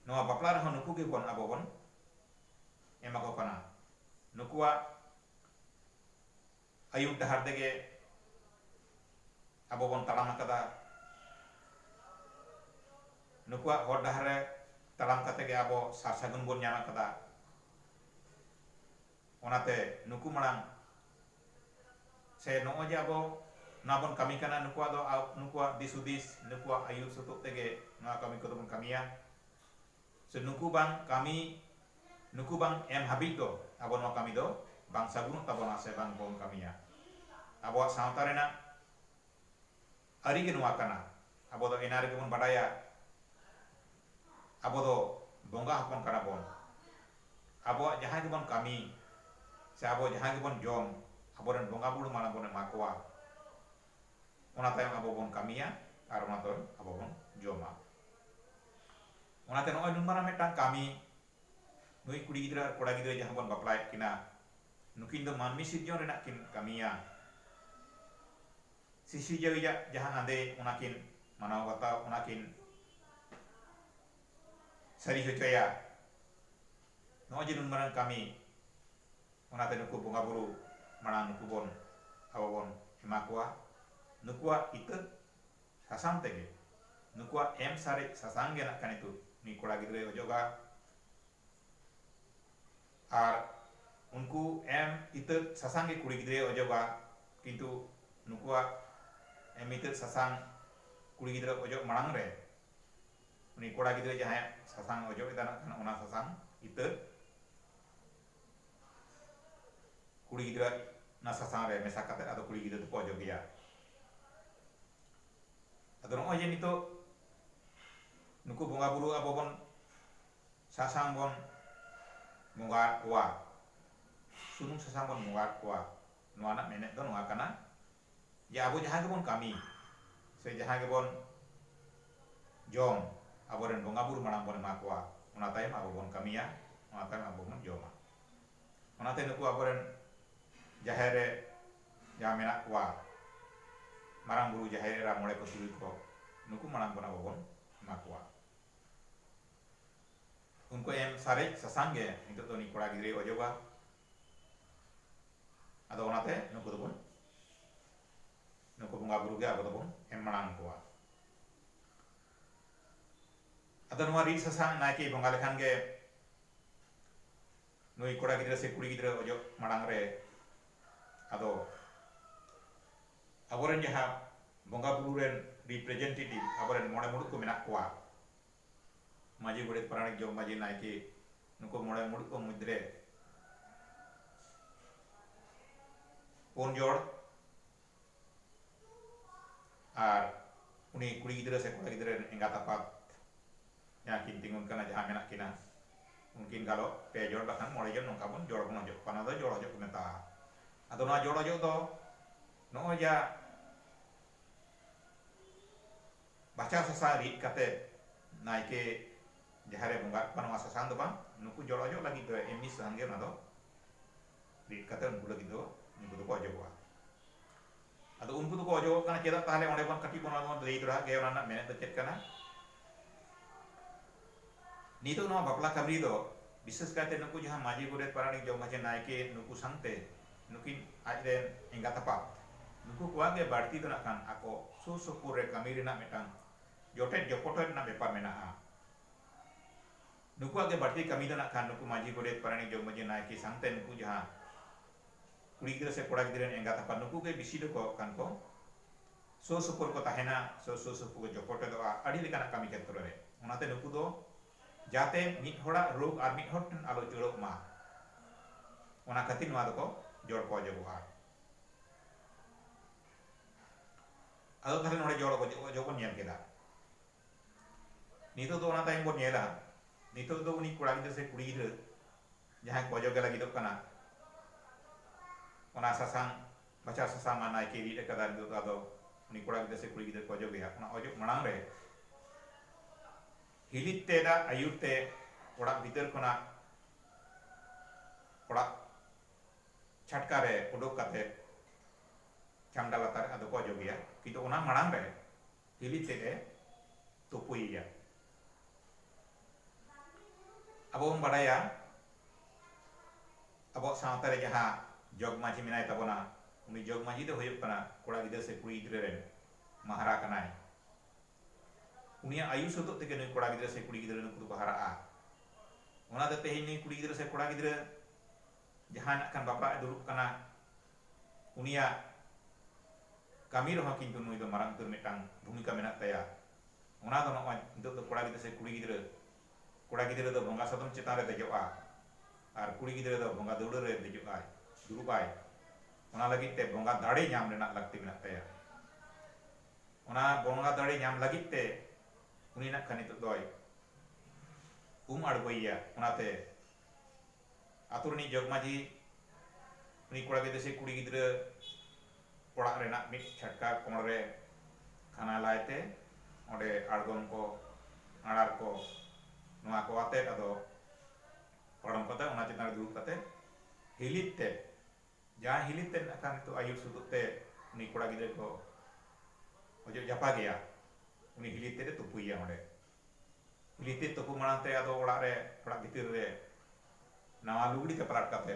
ᱱᱚᱣᱟ ᱵᱟᱯᱞᱟ ᱨᱮᱦᱚᱸ ᱱᱩᱠᱩ ᱜᱮ ᱵᱚᱱ ᱟᱵᱚ ᱵᱚᱱ ᱮᱢᱟ ᱠᱚ ᱠᱟᱱᱟ ᱱᱩᱠᱩᱣᱟᱜ ᱟᱹᱭᱩᱨ ᱰᱟᱦᱟᱨ ᱛᱮᱜᱮ ᱟᱵᱚ ᱵᱚᱱ ᱛᱟᱲᱟᱢ ᱟᱠᱟᱫᱟ ᱱᱩᱠᱩᱣᱟᱜ ᱦᱚᱨ ᱰᱟᱦᱟᱨ ᱨᱮ ᱛᱟᱲᱟᱢ ᱠᱟᱛᱮ ᱜᱮ ᱟᱵᱚ ᱥᱟᱨ ᱥᱟᱹᱜᱩᱱ ᱵᱚᱱ ᱧᱟᱢ ᱟᱠᱟᱫᱟ ᱚᱱᱟᱛᱮ ᱱᱩᱠᱩ ᱢᱟᱲᱟᱝ ᱥᱮ ᱱᱚᱜᱼᱚᱭ ᱡᱮ ᱟᱵᱚ ᱱᱚᱣᱟ ᱵᱚᱱ ᱠᱟᱹᱢᱤ ᱠᱟᱱᱟ ᱱᱩᱠᱩᱣᱟᱜ ᱫᱚ ᱱᱩᱠᱩᱣᱟᱜ ᱫᱤᱥ ᱦᱩᱫᱤᱥ ᱱᱩᱠᱩᱣᱟᱜ ᱟᱹᱭᱩᱨ ᱥᱩᱛᱩᱜ ᱛᱮᱜᱮ ᱱᱚᱣᱟ ᱠᱟᱹᱢᱤ ᱠᱚᱫᱚ ᱵᱚᱱ ᱠᱟᱹᱢᱤᱭᱟ ᱥᱮ ᱱᱩᱠᱩ ᱵᱟᱝ ᱠᱟᱹᱢᱤ ᱱᱩᱠᱩ ᱵᱟᱝ ᱮᱢ ᱦᱟᱹᱵᱤᱡ ᱫᱚ ᱟᱵᱚ ᱱᱚᱣᱟ ᱠᱟᱹᱢᱤ ᱫᱚ ᱵᱟᱝ ᱥᱟᱹᱜᱩᱱᱚᱜ ᱛᱟᱵᱚᱱᱟ ᱥᱮ ᱵᱟᱝ ᱵᱚᱱ ᱠᱟᱹᱢᱤᱭᱟ ᱟᱵᱚᱣᱟᱜ ᱥᱟᱶᱛᱟ ᱨᱮᱱᱟᱜ ᱟᱹᱨᱤ ᱜᱮ ᱱᱚᱣᱟ ᱠᱟᱱᱟ᱾ ᱟᱵᱚ ᱫᱚ ᱮᱱᱟ ᱨᱮᱜᱮ ᱵᱚᱱ ᱵᱟᱰᱟᱭᱟ ᱟᱵᱚ ᱫᱚ ᱵᱚᱸᱜᱟ ᱦᱚᱯᱚᱱ ᱠᱟᱱᱟ ᱵᱚᱱ᱾ ᱟᱵᱚᱣᱟᱜ ᱡᱟᱦᱟᱸ ᱜᱮᱵᱚᱱ ᱠᱟᱹᱢᱤ ᱥᱮ ᱟᱵᱚ ᱡᱟᱦᱟᱸ ᱜᱮᱵᱚᱱ ᱡᱚᱢ ᱟᱵᱚ ᱨᱮᱱ ᱵᱚᱸᱜᱟ ᱵᱩᱲᱩ ᱢᱟᱲᱟᱝ ᱵᱚᱱ ᱮᱢᱟ ᱠᱚᱣᱟ᱾ ᱚᱱᱟ ᱛᱟᱭᱚᱢ ᱟᱵᱚ ᱵᱚᱱ ᱠᱟᱹᱢᱤᱭᱟ ᱟᱨ ᱚᱱᱟ ᱛᱟᱭᱚᱢ ᱟᱵᱚ ᱵᱚᱱ ᱡᱚᱢᱟ᱾ ᱚᱱᱟᱛᱮ ᱱᱚᱜᱼᱚᱭ ᱱᱩᱱ ᱢᱟᱨᱟᱝ ᱢᱤᱫᱴᱟᱝ ᱠᱟᱹᱢᱤ ᱱᱩᱭ ᱠᱩᱲᱤ ᱜᱤᱫᱽᱨᱟᱹ ᱟᱨ ᱠᱚᱲᱟ ᱜᱤᱫᱽᱨᱟᱹ ᱡᱟᱦᱟᱸ ᱵᱚᱱ ᱵᱟᱯᱞᱟᱭᱮᱫ ᱠᱤᱱᱟ ᱱᱩᱠᱤᱱ ᱫᱚ ᱢᱟᱹᱱᱢᱤ ᱥᱤᱨᱡᱚᱱ ᱨᱮᱱᱟᱜ ᱠᱤᱱ ᱠᱟᱹᱢᱤᱭᱟ᱾ ᱥᱤᱥᱤᱡᱟᱹᱣᱤᱡ ᱟᱜ ᱡᱟᱦᱟᱸ ᱟᱸᱫᱮ ᱚᱱᱟ ᱠᱤᱱ ᱢᱟᱱᱟᱣ ᱵᱟᱛᱟᱣ ᱚᱱᱟ ᱠᱤᱱ ᱥᱟᱹᱨᱤ ᱦᱚᱪᱚᱭᱟ ᱱᱚᱜᱼᱚᱭ ᱡᱮ ᱱᱩᱱ ᱢᱟᱨᱟᱝ ᱠᱟᱹᱢᱤ ᱚᱱᱟᱛᱮ ᱱᱩᱠᱩ ᱵᱚᱸᱜᱟ ᱵᱩᱨᱩ ᱢᱟᱲᱟᱝ ᱱᱩᱠᱩ ᱵᱚᱱ ᱟᱵᱚ ᱵᱚᱱ ᱮᱢᱟ ᱠᱚᱣᱟ ᱱᱩᱠᱩᱣᱟᱜ ᱤᱛᱟᱹᱫ ᱥᱟᱥᱟᱝ ᱛᱮᱜᱮ ᱱᱩᱠᱩᱣᱟᱜ ᱮᱢ ᱥᱟᱨᱮᱡ ᱥᱟᱥᱟᱝ ᱜᱮ ᱱᱟᱜ ᱠᱷᱟᱱ ᱱᱤᱛᱚᱜ ᱱᱩᱭ ᱠᱚᱲᱟ ᱜᱤᱫᱽᱨᱟᱹᱭ ᱚᱡᱚᱜᱟ ᱟᱨ ᱩᱱᱠᱩ ᱮᱢ ᱤᱛᱟᱹᱫ ᱥᱟᱥᱟᱝ ᱜᱮ ᱠᱩᱲᱤ ᱜᱤᱫᱽᱨᱟᱹᱭ ᱚᱡᱚᱜᱟ ᱠᱤᱱᱛᱩ ᱱᱩᱠᱩᱣᱟᱜ ᱮᱢ ᱤᱛᱟᱹᱫ ᱥᱟᱥᱟᱝ ᱠᱩᱲᱤ ᱜᱤᱫᱽᱨᱟᱹ ᱚᱡᱚᱜ ᱢᱟᱲᱟᱝ ᱨᱮ ᱩᱱᱤ ᱠᱚᱲᱟ ᱜᱤᱫᱽᱨᱟᱹ ᱡᱟᱦᱟᱸᱭᱟᱜ ᱥᱟᱥᱟᱝ ᱚᱡᱚᱜ ᱮᱫᱟ ᱱᱟᱜ ᱠᱷᱟᱱ ᱚᱱᱟ ᱥᱟᱥᱟᱝ ᱤᱛᱟᱹᱫ ᱠᱩᱲᱤ ᱜᱤᱫᱽᱨᱟᱹ ᱚᱱᱟ ᱥᱟᱥᱟᱝ ᱨᱮ ᱢᱮᱥᱟ ᱠᱟᱛᱮ ᱟᱫᱚ ᱠᱩᱲᱤ ᱜᱤᱫᱽᱨᱟᱹ ᱫᱚᱠᱚ ᱚᱡᱚᱜᱮᱭᱟ ᱟᱫᱚ ᱱᱚᱜᱼᱚᱭ ᱡᱮ ᱱᱤᱛᱚᱜ ᱱᱩᱠᱩ ᱵᱚᱸᱜᱟ ᱵᱩᱨᱩ ᱟᱵᱚ ᱵᱚᱱ ᱥᱟᱥᱟᱝ ᱵᱚᱱ ᱵᱚᱸᱜᱟ ᱟᱫ ᱠᱚᱣᱟ᱾ ᱥᱩᱱᱩᱢ ᱥᱟᱥᱟᱝ ᱵᱚᱱ ᱵᱚᱸᱜᱟ ᱟᱫ ᱠᱚᱣᱟ᱾ ᱱᱚᱣᱟ ᱨᱮᱱᱟᱜ ᱢᱮᱱᱮᱛ ᱫᱚ ᱱᱚᱣᱟ ᱠᱟᱱᱟ ᱡᱮ ᱟᱵᱚ ᱡᱟᱦᱟᱸ ᱜᱮᱵᱚᱱ ᱠᱟᱹᱢᱤ ᱥᱮ ᱡᱟᱦᱟᱸ ᱜᱮᱵᱚᱱ ᱡᱚᱢ ᱟᱵᱚ ᱨᱮᱱ ᱵᱚᱸᱜᱟ ᱵᱩᱨᱩ ᱢᱟᱲᱟᱝ ᱵᱚᱱ ᱮᱢᱟ ᱠᱚᱣᱟ ᱚᱱᱟ ᱛᱟᱭᱚᱢ ᱟᱵᱚ ᱵᱚᱱ ᱠᱟᱹᱢᱤᱭᱟ ᱚᱱᱟ ᱛᱟᱭᱚᱢ ᱟᱵᱚ ᱵᱚᱱ ᱡᱚᱢᱟ᱾ ᱚᱱᱟᱛᱮ ᱱᱩᱠᱩ ᱟᱵᱚ ᱨᱮᱱ ᱡᱟᱦᱮᱨ ᱨᱮ ᱡᱟᱦᱟᱸ ᱢᱮᱱᱟᱜ ᱠᱚᱣᱟ ᱢᱟᱨᱟᱝ ᱵᱩᱨᱩ ᱡᱟᱦᱮᱨ ᱮᱨᱟ ᱢᱚᱬᱮ ᱠᱚ ᱛᱩᱨᱩᱭ ᱠᱚ ᱱᱩᱠᱩ ᱢᱟᱲᱟᱝ ᱵᱚᱱ ᱟᱵᱚ ᱵᱚᱱ ᱮᱢᱟ ᱠᱚᱣᱟ᱾ ᱩᱱᱠᱩ ᱮᱢ ᱥᱟᱨᱮᱡ ᱥᱟᱥᱟᱝ ᱜᱮ ᱱᱤᱛᱚᱜ ᱫᱚ ᱩᱱᱤ ᱠᱚᱲᱟ ᱜᱤᱫᱽᱨᱟᱹᱭ ᱚᱡᱚᱜᱟ ᱟᱫᱚ ᱚᱱᱟᱛᱮ ᱱᱩᱠᱩ ᱫᱚᱵᱚᱱ ᱱᱩᱠᱩ ᱵᱚᱸᱜᱟ ᱵᱩᱨᱩ ᱜᱮ ᱟᱵᱚ ᱫᱚᱵᱚᱱ ᱮᱢ ᱢᱟᱲᱟᱝ ᱠᱚᱣᱟ ᱟᱫᱚ ᱱᱚᱣᱟ ᱨᱤᱫ ᱥᱟᱥᱟᱝ ᱱᱟᱭᱠᱮ ᱵᱚᱸᱜᱟ ᱞᱮᱠᱷᱟᱱ ᱜᱮ ᱱᱩᱭ ᱠᱚᱲᱟ ᱜᱤᱫᱽᱨᱟᱹ ᱥᱮ ᱠᱩᱲᱤ ᱜᱤᱫᱽᱨᱟᱹ ᱚᱡᱚᱜ ᱢᱟᱲᱟᱝ ᱨᱮ ᱟᱫᱚ ᱟᱵᱚᱨᱮᱱ ᱡᱟᱦᱟᱸ ᱵᱚᱸᱜᱟ ᱵᱩᱨᱩ ᱨᱮᱱ ᱨᱤᱯᱨᱮᱡᱮᱱᱴᱮᱴᱤᱵᱷ ᱟᱵᱚᱨᱮᱱ ᱢᱚᱬᱮ ᱢᱩᱬᱩᱛ ᱠᱚ ᱢᱮᱱᱟᱜ ᱠᱚᱣᱟ, ᱢᱟᱹᱡᱷᱤ, ᱜᱚᱰᱮᱛ, ᱯᱟᱨᱟᱱᱤᱠ, ᱡᱚᱜᱽ ᱢᱟᱹᱡᱷᱤ, ᱱᱟᱭᱠᱮ, ᱱᱩᱠᱩ ᱢᱚᱬᱮ ᱢᱩᱬᱩᱛ ᱠᱚ ᱢᱩᱫᱽ ᱨᱮ ᱯᱩᱱ ᱡᱚᱲ ᱟᱨ ᱩᱱᱤ ᱠᱩᱲᱤ ᱜᱤᱫᱽᱨᱟᱹ ᱥᱮ ᱠᱚᱲᱟ ᱜᱤᱫᱽᱨᱟᱹ ᱨᱮᱱ ᱮᱸᱜᱟᱛ ᱟᱯᱟᱛ ᱡᱟᱦᱟᱸ ᱠᱤᱱ ᱛᱤᱸᱜᱩᱱ ᱠᱟᱱᱟ ᱡᱟᱦᱟᱸ ᱢᱮᱱᱟᱜ ᱠᱤᱱᱟ, ᱩᱱᱠᱤᱱ ᱜᱟᱞᱚᱜ ᱯᱮ ᱡᱚᱲ ᱵᱟᱠᱷᱟᱱ ᱢᱚᱬᱮ ᱡᱚᱲ ᱱᱚᱝᱠᱟ ᱵᱚᱱ ᱡᱚᱲ ᱵᱚᱱ ᱚᱡᱚᱜ ᱠᱚᱣᱟ ᱱᱚᱣᱟ ᱫᱚ ᱡᱚᱲ ᱚᱡᱚᱜ ᱠᱚ ᱢᱮᱛᱟᱜᱼᱟ ᱟᱫᱚ ᱱᱚᱣᱟ ᱡᱚᱲ ᱚᱡᱚᱜ ᱫᱚ ᱱᱚᱜᱼᱚᱭ ᱡᱟ ᱵᱟᱪᱷᱟᱣ ᱥᱟᱥᱟᱝ ᱨᱤᱫ ᱠᱟᱛᱮ ᱱᱟᱭᱠᱮ ᱡᱟᱦᱮᱨ ᱨᱮ ᱵᱚᱸᱜᱟᱜ ᱠᱚᱣᱟ ᱱᱚᱣᱟ ᱥᱟᱥᱟᱝ ᱫᱚ ᱵᱟᱝ ᱱᱩᱠᱩ ᱡᱚᱲ ᱚᱡᱚᱜ ᱞᱟᱹᱜᱤᱫ ᱫᱚ ᱮᱢᱱᱤ ᱥᱟᱥᱟᱝ ᱜᱮ ᱚᱱᱟ ᱫᱚ ᱨᱤᱫ ᱠᱟᱛᱮ ᱩᱱᱠᱩ ᱞᱟᱹᱜᱤᱫ ᱫᱚ ᱩᱱᱠᱩ ᱫᱚᱠᱚ ᱚᱡᱚᱜᱚᱜᱼᱟ ᱟᱫᱚ ᱩᱱᱠᱩ ᱫᱚᱠᱚ ᱚᱡᱚᱜᱚᱜ ᱠᱟᱱᱟ ᱪᱮᱫᱟᱜ ᱛᱟᱦᱚᱞᱮ ᱚᱸᱰᱮ ᱵᱚᱱ ᱠᱟᱹᱴᱤᱡ ᱵᱚᱱ ᱚᱱᱟ ᱫᱚᱵᱚᱱ ᱞᱟᱹᱭ ᱫᱚᱲᱦᱟ ᱜᱮ ᱚᱱᱟ ᱨᱮᱱᱟᱜ ᱢᱮᱱᱮᱫ ᱫᱚ ᱪᱮᱫ ᱠᱟᱱᱟ ᱱᱤᱛᱚᱜ ᱱᱚᱣᱟ ᱵᱟᱯᱞᱟ ᱠᱟᱹᱢᱤ ᱫᱚ ᱵᱤᱥᱮᱥ ᱠᱟᱭᱛᱮ ᱱᱩᱠᱩ ᱡᱟᱦᱟᱸ ᱢᱟᱹᱡᱷᱤ ᱜᱚᱰᱮᱛ ᱯᱟᱨᱟᱱᱤᱠ ᱡᱚᱜᱽ ᱢᱟᱹᱡᱷᱤ ᱱᱟᱭᱠᱮ ᱱᱩᱠᱩ ᱥᱟᱶᱛᱮ ᱱᱩᱠᱤᱱ ᱟᱡ ᱨᱮᱱ ᱮᱸᱜᱟᱛ ᱟᱯᱟᱛ ᱱᱩᱠᱩ ᱠᱚᱣᱟᱜ ᱜᱮ ᱵᱟᱹᱲᱛᱤ ᱫᱚ ᱱᱟᱜ ᱠᱷᱟᱱ ᱟᱠᱚ ᱥᱩᱨ ᱥᱩᱯᱩᱨ ᱨᱮ ᱠᱟᱹᱢᱤ ᱨᱮᱱᱟᱜ ᱢᱤᱫᱴᱟᱝ ᱡᱚᱴᱮᱫ ᱡᱚᱯᱚᱴᱚᱡ ᱨᱮᱱᱟᱜ ᱵᱮᱯᱟᱨ ᱢᱮᱱᱟᱜᱼᱟ ᱱᱩᱠᱩᱣᱟᱜ ᱜᱮ ᱵᱟᱹᱲᱛᱤ ᱠᱟᱹᱢᱤ ᱫᱚ ᱱᱟᱜ ᱠᱷᱟᱱ ᱱᱩᱠᱩ ᱢᱟᱹᱡᱷᱤ ᱜᱚᱰᱮᱛ ᱯᱟᱨᱟᱱᱤᱠ ᱡᱚᱜᱽ ᱢᱟᱹᱡᱷᱤ ᱱᱟᱭᱠᱮ ᱥᱟᱶᱛᱮ ᱱᱩᱠᱩ ᱡᱟᱦᱟᱸ ᱠᱩᱲᱤ ᱜᱤᱫᱽᱨᱟᱹ ᱥᱮ ᱠᱚᱲᱟ ᱜᱤᱫᱽᱨᱟᱹ ᱨᱮᱱ ᱮᱸᱜᱟᱛ ᱟᱯᱟᱛ ᱱᱩᱠᱩ ᱜᱮ ᱵᱤᱥᱤ ᱫᱚ ᱠᱚᱭᱚᱜ ᱠᱟᱱ ᱠᱚ ᱥᱩᱨ ᱥᱩᱯᱩᱨ ᱨᱮᱠᱚ ᱛᱟᱦᱮᱱᱟ ᱥᱮ ᱥᱩᱨ ᱥᱩᱯᱩᱨ ᱠᱚ ᱡᱚᱯᱚᱴᱮᱫᱚᱜᱼᱟ ᱟᱹᱰᱤ ᱞᱮᱠᱟᱱᱟᱜ ᱠᱟᱹᱢᱤ ᱠᱷᱮᱛᱨᱚ ᱨᱮ ᱚᱱᱟᱛᱮ ᱱᱩᱠᱩ ᱫᱚ ᱡᱟᱛᱮ ᱢᱤᱫ ᱦᱚᱲᱟᱜ ᱨᱳᱜᱽ ᱟᱨ ᱢᱤᱫ ᱦᱚᱲ ᱴᱷᱮᱱ ᱟᱞᱚ ᱩᱪᱟᱹᱲᱚᱜ ᱢᱟ ᱚᱱᱟ ᱠᱷᱟᱹᱛᱤᱨ ᱱᱚᱣᱟ ᱫᱚᱠᱚ ᱡᱚᱲ ᱠᱚ ᱚᱡᱚᱜᱚᱜᱼᱟ ᱟᱫᱚ ᱛᱟᱦᱞᱮ ᱱᱚᱰᱮ ᱡᱚᱲ ᱚᱡᱚᱜ ᱵᱚᱱ ᱧᱮᱞ ᱠᱮᱫᱟ ᱱᱤᱛᱚᱜ ᱫᱚ ᱚᱱᱟ ᱛᱟᱭᱚᱢ ᱵᱚᱱ ᱧᱮᱞᱟ ᱱᱤᱛᱚᱜ ᱫᱚ ᱩᱱᱤ ᱠᱚᱲᱟ ᱜᱤᱫᱽᱨᱟᱹ ᱥᱮ ᱠᱩᱲᱤ ᱜᱤᱫᱽᱨᱟᱹ ᱡᱟᱦᱟᱸᱭ ᱠᱚ ᱚᱡᱚᱜᱮ ᱞᱟᱹᱜᱤᱫᱚᱜ ᱠᱟᱱᱟ ᱚᱱᱟ ᱥᱟᱥᱟᱝ ᱵᱟᱪᱷᱟᱣ ᱥᱟᱥᱟᱝ ᱢᱟ ᱱᱟᱭᱠᱮᱭ ᱨᱤᱫ ᱟᱠᱟᱫᱟ ᱟᱨ ᱱᱤᱛᱚᱜ ᱫᱚ ᱟᱫᱚ ᱩᱱᱤ ᱠᱚᱲᱟ ᱜᱤᱫᱽᱨᱟᱹ ᱥᱮ ᱠᱩᱲᱤ ᱜᱤᱫᱽᱨᱟᱹ ᱠᱚ ᱚᱡᱚᱜᱮᱭᱟ ᱚᱱᱟ ᱚᱡᱚᱜ ᱢᱟᱲᱟᱝ ᱨᱮ ᱦᱤᱞᱤᱫ ᱛᱮ ᱫᱟᱜ ᱟᱹᱭᱩᱨ ᱛᱮ ᱚᱲᱟᱜ ᱵᱷᱤᱛᱟᱹᱨ ᱠᱷᱚᱱᱟᱜ ᱚᱲᱟᱜ ᱪᱷᱟᱴᱠᱟ ᱨᱮ ᱩᱰᱩᱠ ᱠᱟᱛᱮ ᱪᱷᱟᱢᱰᱟ ᱞᱟᱛᱟᱨ ᱨᱮ ᱟᱫᱚ ᱠᱚ ᱚᱡᱚᱜᱮᱭᱟ ᱠᱤᱱᱛᱩ ᱚᱱᱟ ᱢᱟᱲᱟᱝ ᱨᱮ ᱦᱤᱞᱤᱫ ᱛᱮᱫ ᱮ ᱛᱩᱯᱩᱭᱮᱭᱟ ᱟᱵᱚ ᱵᱚᱱ ᱵᱟᱰᱟᱭᱟ ᱟᱵᱚᱣᱟᱜ ᱥᱟᱶᱛᱟ ᱨᱮ ᱡᱟᱦᱟᱸ ᱡᱚᱜᱽ ᱢᱟᱺᱡᱷᱤ ᱢᱮᱱᱟᱭ ᱛᱟᱵᱚᱱᱟ ᱩᱱᱤ ᱡᱚᱜᱽ ᱢᱟᱺᱡᱷᱤ ᱫᱚ ᱦᱩᱭᱩᱜ ᱠᱟᱱᱟ ᱠᱚᱲᱟ ᱜᱤᱫᱽᱨᱟᱹ ᱥᱮ ᱠᱩᱲᱤ ᱜᱤᱫᱽᱨᱟᱹ ᱨᱮᱱ ᱢᱟᱦᱟᱨᱟ ᱠᱟᱱᱟᱭ ᱩᱱᱤᱭᱟᱜ ᱟᱭᱩ ᱥᱟᱹᱛᱚᱜ ᱛᱮᱜᱮ ᱱᱩᱭ ᱠᱚᱲᱟ ᱜᱤᱫᱽᱨᱟᱹ ᱥᱮ ᱠᱩᱲᱤ ᱜᱤᱫᱽᱨᱟᱹ ᱱᱩᱠᱩ ᱫᱚᱠᱚ ᱦᱟᱨᱟᱜᱼᱟ ᱚᱱᱟ ᱫᱚ ᱛᱮᱦᱮᱧ ᱱᱩᱭ ᱠᱩᱲᱤ ᱜᱤᱫᱽᱨᱟᱹ ᱥᱮ ᱠᱚᱲᱟ ᱜᱤᱫᱽᱨᱟᱹ ᱡᱟᱦᱟᱸᱭ ᱱᱟᱜ ᱠᱷᱟᱱ ᱵᱟᱯᱞᱟᱜ ᱮ ᱫᱩᱲᱩᱵ ᱠᱟᱱᱟ ᱩᱱᱤᱭᱟᱜ ᱠᱟᱹᱢᱤ ᱨᱮᱦᱚᱸ ᱠᱤᱱᱛᱩ ᱱᱩᱭ ᱫᱚ ᱢᱟᱨᱟᱝ ᱩᱛᱟᱹᱨ ᱢᱤᱫᱴᱟᱝ ᱵᱷᱩᱢᱤᱠᱟ ᱢᱮᱱᱟᱜ ᱛᱟᱭᱟ ᱚᱱᱟ ᱫᱚ ᱱᱚᱜᱼᱚᱭ ᱱᱤᱛᱚᱜ ᱫᱚ ᱠᱚᱲᱟ ᱜᱤᱫᱽᱨᱟᱹ ᱥᱮ ᱠᱩᱲᱤ ᱜᱤᱫᱽᱨᱟᱹ ᱠᱚᱲᱟ ᱜᱤᱫᱽᱨᱟᱹ ᱫᱚ ᱵᱚᱸᱜᱟ ᱥᱟᱫᱚᱢ ᱪᱮᱛᱟᱱ ᱨᱮ ᱫᱮᱡᱚᱜᱼᱟ ᱟᱨ ᱠᱩᱲᱤ ᱜᱤᱫᱽᱨᱟᱹ ᱫᱚ ᱵᱚᱸᱜᱟ ᱫᱟᱹᱣᱲᱟᱹ ᱨᱮ ᱫᱮᱡᱚᱜ ᱟᱭ ᱫᱩᱲᱩᱵ ᱟᱭ ᱚᱱᱟ ᱞᱟᱹᱜᱤᱫ ᱛᱮ ᱵᱚᱸᱜᱟ ᱫᱟᱲᱮ ᱧᱟᱢ ᱨᱮᱱᱟᱜ ᱞᱟᱹᱠᱛᱤ ᱢᱮᱱᱟᱜ ᱛᱟᱭᱟ ᱚᱱᱟ ᱵᱚᱸᱜᱟ ᱫᱟᱲᱮ ᱧᱟᱢ ᱞᱟᱹᱜᱤᱫ ᱛᱮ ᱩᱱᱤ ᱱᱟᱜ ᱠᱷᱟᱱ ᱱᱤᱛᱚᱜ ᱫᱚᱭ ᱩᱢ ᱟᱬᱜᱚᱭᱮᱭᱟ ᱚᱱᱟᱛᱮ ᱟᱹᱛᱩ ᱨᱤᱱᱤᱡ ᱡᱚᱜᱽᱢᱟᱹᱡᱷᱤ ᱩᱱᱤ ᱠᱚᱲᱟ ᱜᱤᱫᱽᱨᱟᱹ ᱥᱮ ᱠᱩᱲᱤ ᱜᱤᱫᱽᱨᱟᱹ ᱚᱲᱟᱜ ᱨᱮᱱᱟᱜ ᱢᱤᱫ ᱪᱷᱟᱴᱠᱟ ᱠᱚᱬ ᱨᱮ ᱠᱷᱟᱱᱟ ᱞᱟᱭ ᱛᱮ ᱚᱸᱰᱮ ᱟᱬᱜᱚᱢ ᱠᱚ ᱟᱬᱟᱨ ᱠᱚ ᱱᱚᱣᱟ ᱠᱚ ᱟᱛᱮᱫ ᱟᱫᱚ ᱯᱟᱲᱚᱢ ᱠᱟᱛᱮ ᱚᱱᱟ ᱪᱮᱛᱟᱱ ᱨᱮ ᱫᱩᱲᱩᱵ ᱠᱟᱛᱮ ᱦᱤᱞᱤᱫ ᱛᱮ ᱡᱟᱦᱟᱸᱭ ᱦᱤᱞᱤᱫ ᱛᱮ ᱱᱟᱜ ᱠᱷᱟᱱ ᱱᱤᱛᱚᱜ ᱟᱹᱭᱩᱨ ᱥᱩᱛᱩᱜ ᱛᱮ ᱩᱱᱤ ᱠᱚᱲᱟ ᱜᱤᱫᱽᱨᱟᱹ ᱠᱚ ᱚᱡᱚᱜ ᱡᱟᱯᱟᱜᱮᱭᱟ ᱩᱱᱤ ᱦᱤᱞᱤᱫ ᱛᱮᱫ ᱮ ᱛᱩᱯᱩᱭᱮᱭᱟ ᱚᱸᱰᱮ ᱞᱤᱯᱤᱛ ᱛᱩᱯᱩ ᱢᱟᱬᱟᱝ ᱛᱮ ᱟᱫᱚ ᱚᱲᱟᱜ ᱨᱮ ᱚᱲᱟᱜ ᱵᱷᱤᱛᱤᱨ ᱨᱮ ᱱᱟᱣᱟ ᱞᱩᱜᱽᱲᱤ ᱛᱮ ᱯᱟᱞᱟᱴ ᱠᱟᱛᱮ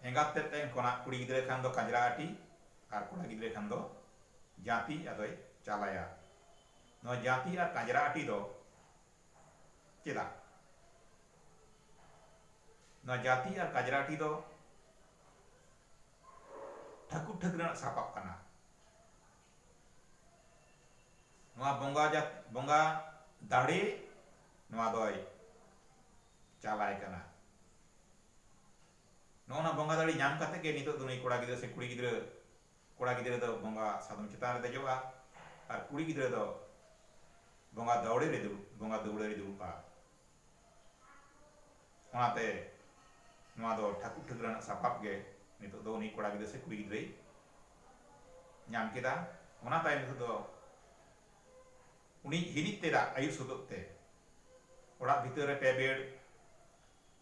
ᱮᱸᱜᱟᱛ ᱛᱮᱫ ᱴᱷᱮᱱ ᱠᱷᱚᱱᱟᱜ ᱠᱩᱲᱤ ᱜᱤᱫᱽᱨᱟᱹ ᱠᱷᱟᱱ ᱫᱚ ᱠᱟᱡᱽᱨᱟ ᱟᱹᱴᱤ ᱟᱨ ᱠᱚᱲᱟ ᱜᱤᱫᱽᱨᱟᱹ ᱠᱷᱟᱱ ᱫᱚ ᱡᱟᱸᱛᱤ ᱟᱫᱚᱭ ᱪᱟᱞ ᱟᱭᱟ᱾ ᱱᱚᱣᱟ ᱡᱟᱸᱛᱤ ᱟᱨ ᱠᱟᱡᱽᱨᱟ ᱟᱹᱴᱤ ᱫᱚ ᱪᱮᱫᱟᱜ? ᱱᱚᱣᱟ ᱡᱟᱸᱛᱤ ᱟᱨ ᱠᱟᱡᱽᱨᱟ ᱟᱹᱴᱤ ᱫᱚ ᱴᱷᱟᱹᱠᱩᱨ ᱴᱷᱟᱹᱠᱨᱟᱹᱱᱟᱜ ᱥᱟᱯᱟᱵ ᱠᱟᱱᱟ᱾ ᱱᱚᱣᱟ ᱵᱚᱸᱜᱟ ᱡᱟᱛ ᱵᱚᱸᱜᱟ ᱫᱟᱲᱮ ᱱᱚᱣᱟ ᱫᱚᱭ ᱪᱟᱞᱟᱭ ᱠᱟᱱᱟ ᱱᱚᱜᱼᱚ ᱱᱟ ᱵᱚᱸᱜᱟ ᱫᱟᱲᱮ ᱧᱟᱢ ᱠᱟᱛᱮ ᱜᱮ ᱱᱤᱛᱚᱜ ᱫᱚ ᱱᱩᱭ ᱠᱚᱲᱟ ᱜᱤᱫᱽᱨᱟᱹ ᱥᱮ ᱠᱩᱲᱤ ᱜᱤᱫᱽᱨᱟᱹ ᱠᱚᱲᱟ ᱜᱤᱫᱽᱨᱟᱹ ᱫᱚ ᱵᱚᱸᱜᱟ ᱥᱟᱫᱚᱢ ᱪᱮᱛᱟᱱ ᱨᱮ ᱫᱮᱡᱚᱜᱼᱟ ᱟᱨ ᱠᱩᱲᱤ ᱜᱤᱫᱽᱨᱟᱹ ᱫᱚ ᱵᱚᱸᱜᱟ ᱫᱟᱣᱲᱮ ᱨᱮ ᱫᱩᱲᱩᱵ ᱵᱚᱸᱜᱟ ᱫᱟᱹᱣᱲᱟᱹ ᱨᱮ ᱫᱩᱲᱩᱵᱼᱟ ᱚᱱᱟᱛᱮ ᱱᱚᱣᱟ ᱫᱚ ᱴᱷᱟᱹᱠᱩᱨ ᱴᱷᱟᱹᱠᱨᱟᱹᱱᱟᱜ ᱥᱟᱯᱟᱵ ᱜᱮ ᱱᱤᱛᱚᱜ ᱫᱚ ᱩᱱᱤ ᱠᱚᱲᱟ ᱜᱤᱫᱽᱨᱟᱹ ᱥᱮ ᱠᱩᱲᱤ ᱜᱤᱫᱽᱨᱟᱹᱭ ᱧᱟᱢ ᱠᱮᱫᱟ ᱚᱱᱟ ᱛᱟᱭᱚᱢ ᱦᱤᱞᱳᱜ ᱫᱚ ᱩᱱᱤ ᱦᱤᱨᱤᱡ ᱛᱮᱫᱟᱜ ᱟᱭᱩᱵ ᱥᱚᱫᱚᱜ ᱛᱮ ᱚᱲᱟᱜ ᱵᱷᱤᱛᱟᱹᱨ ᱨᱮ ᱯᱮ ᱵᱮᱲ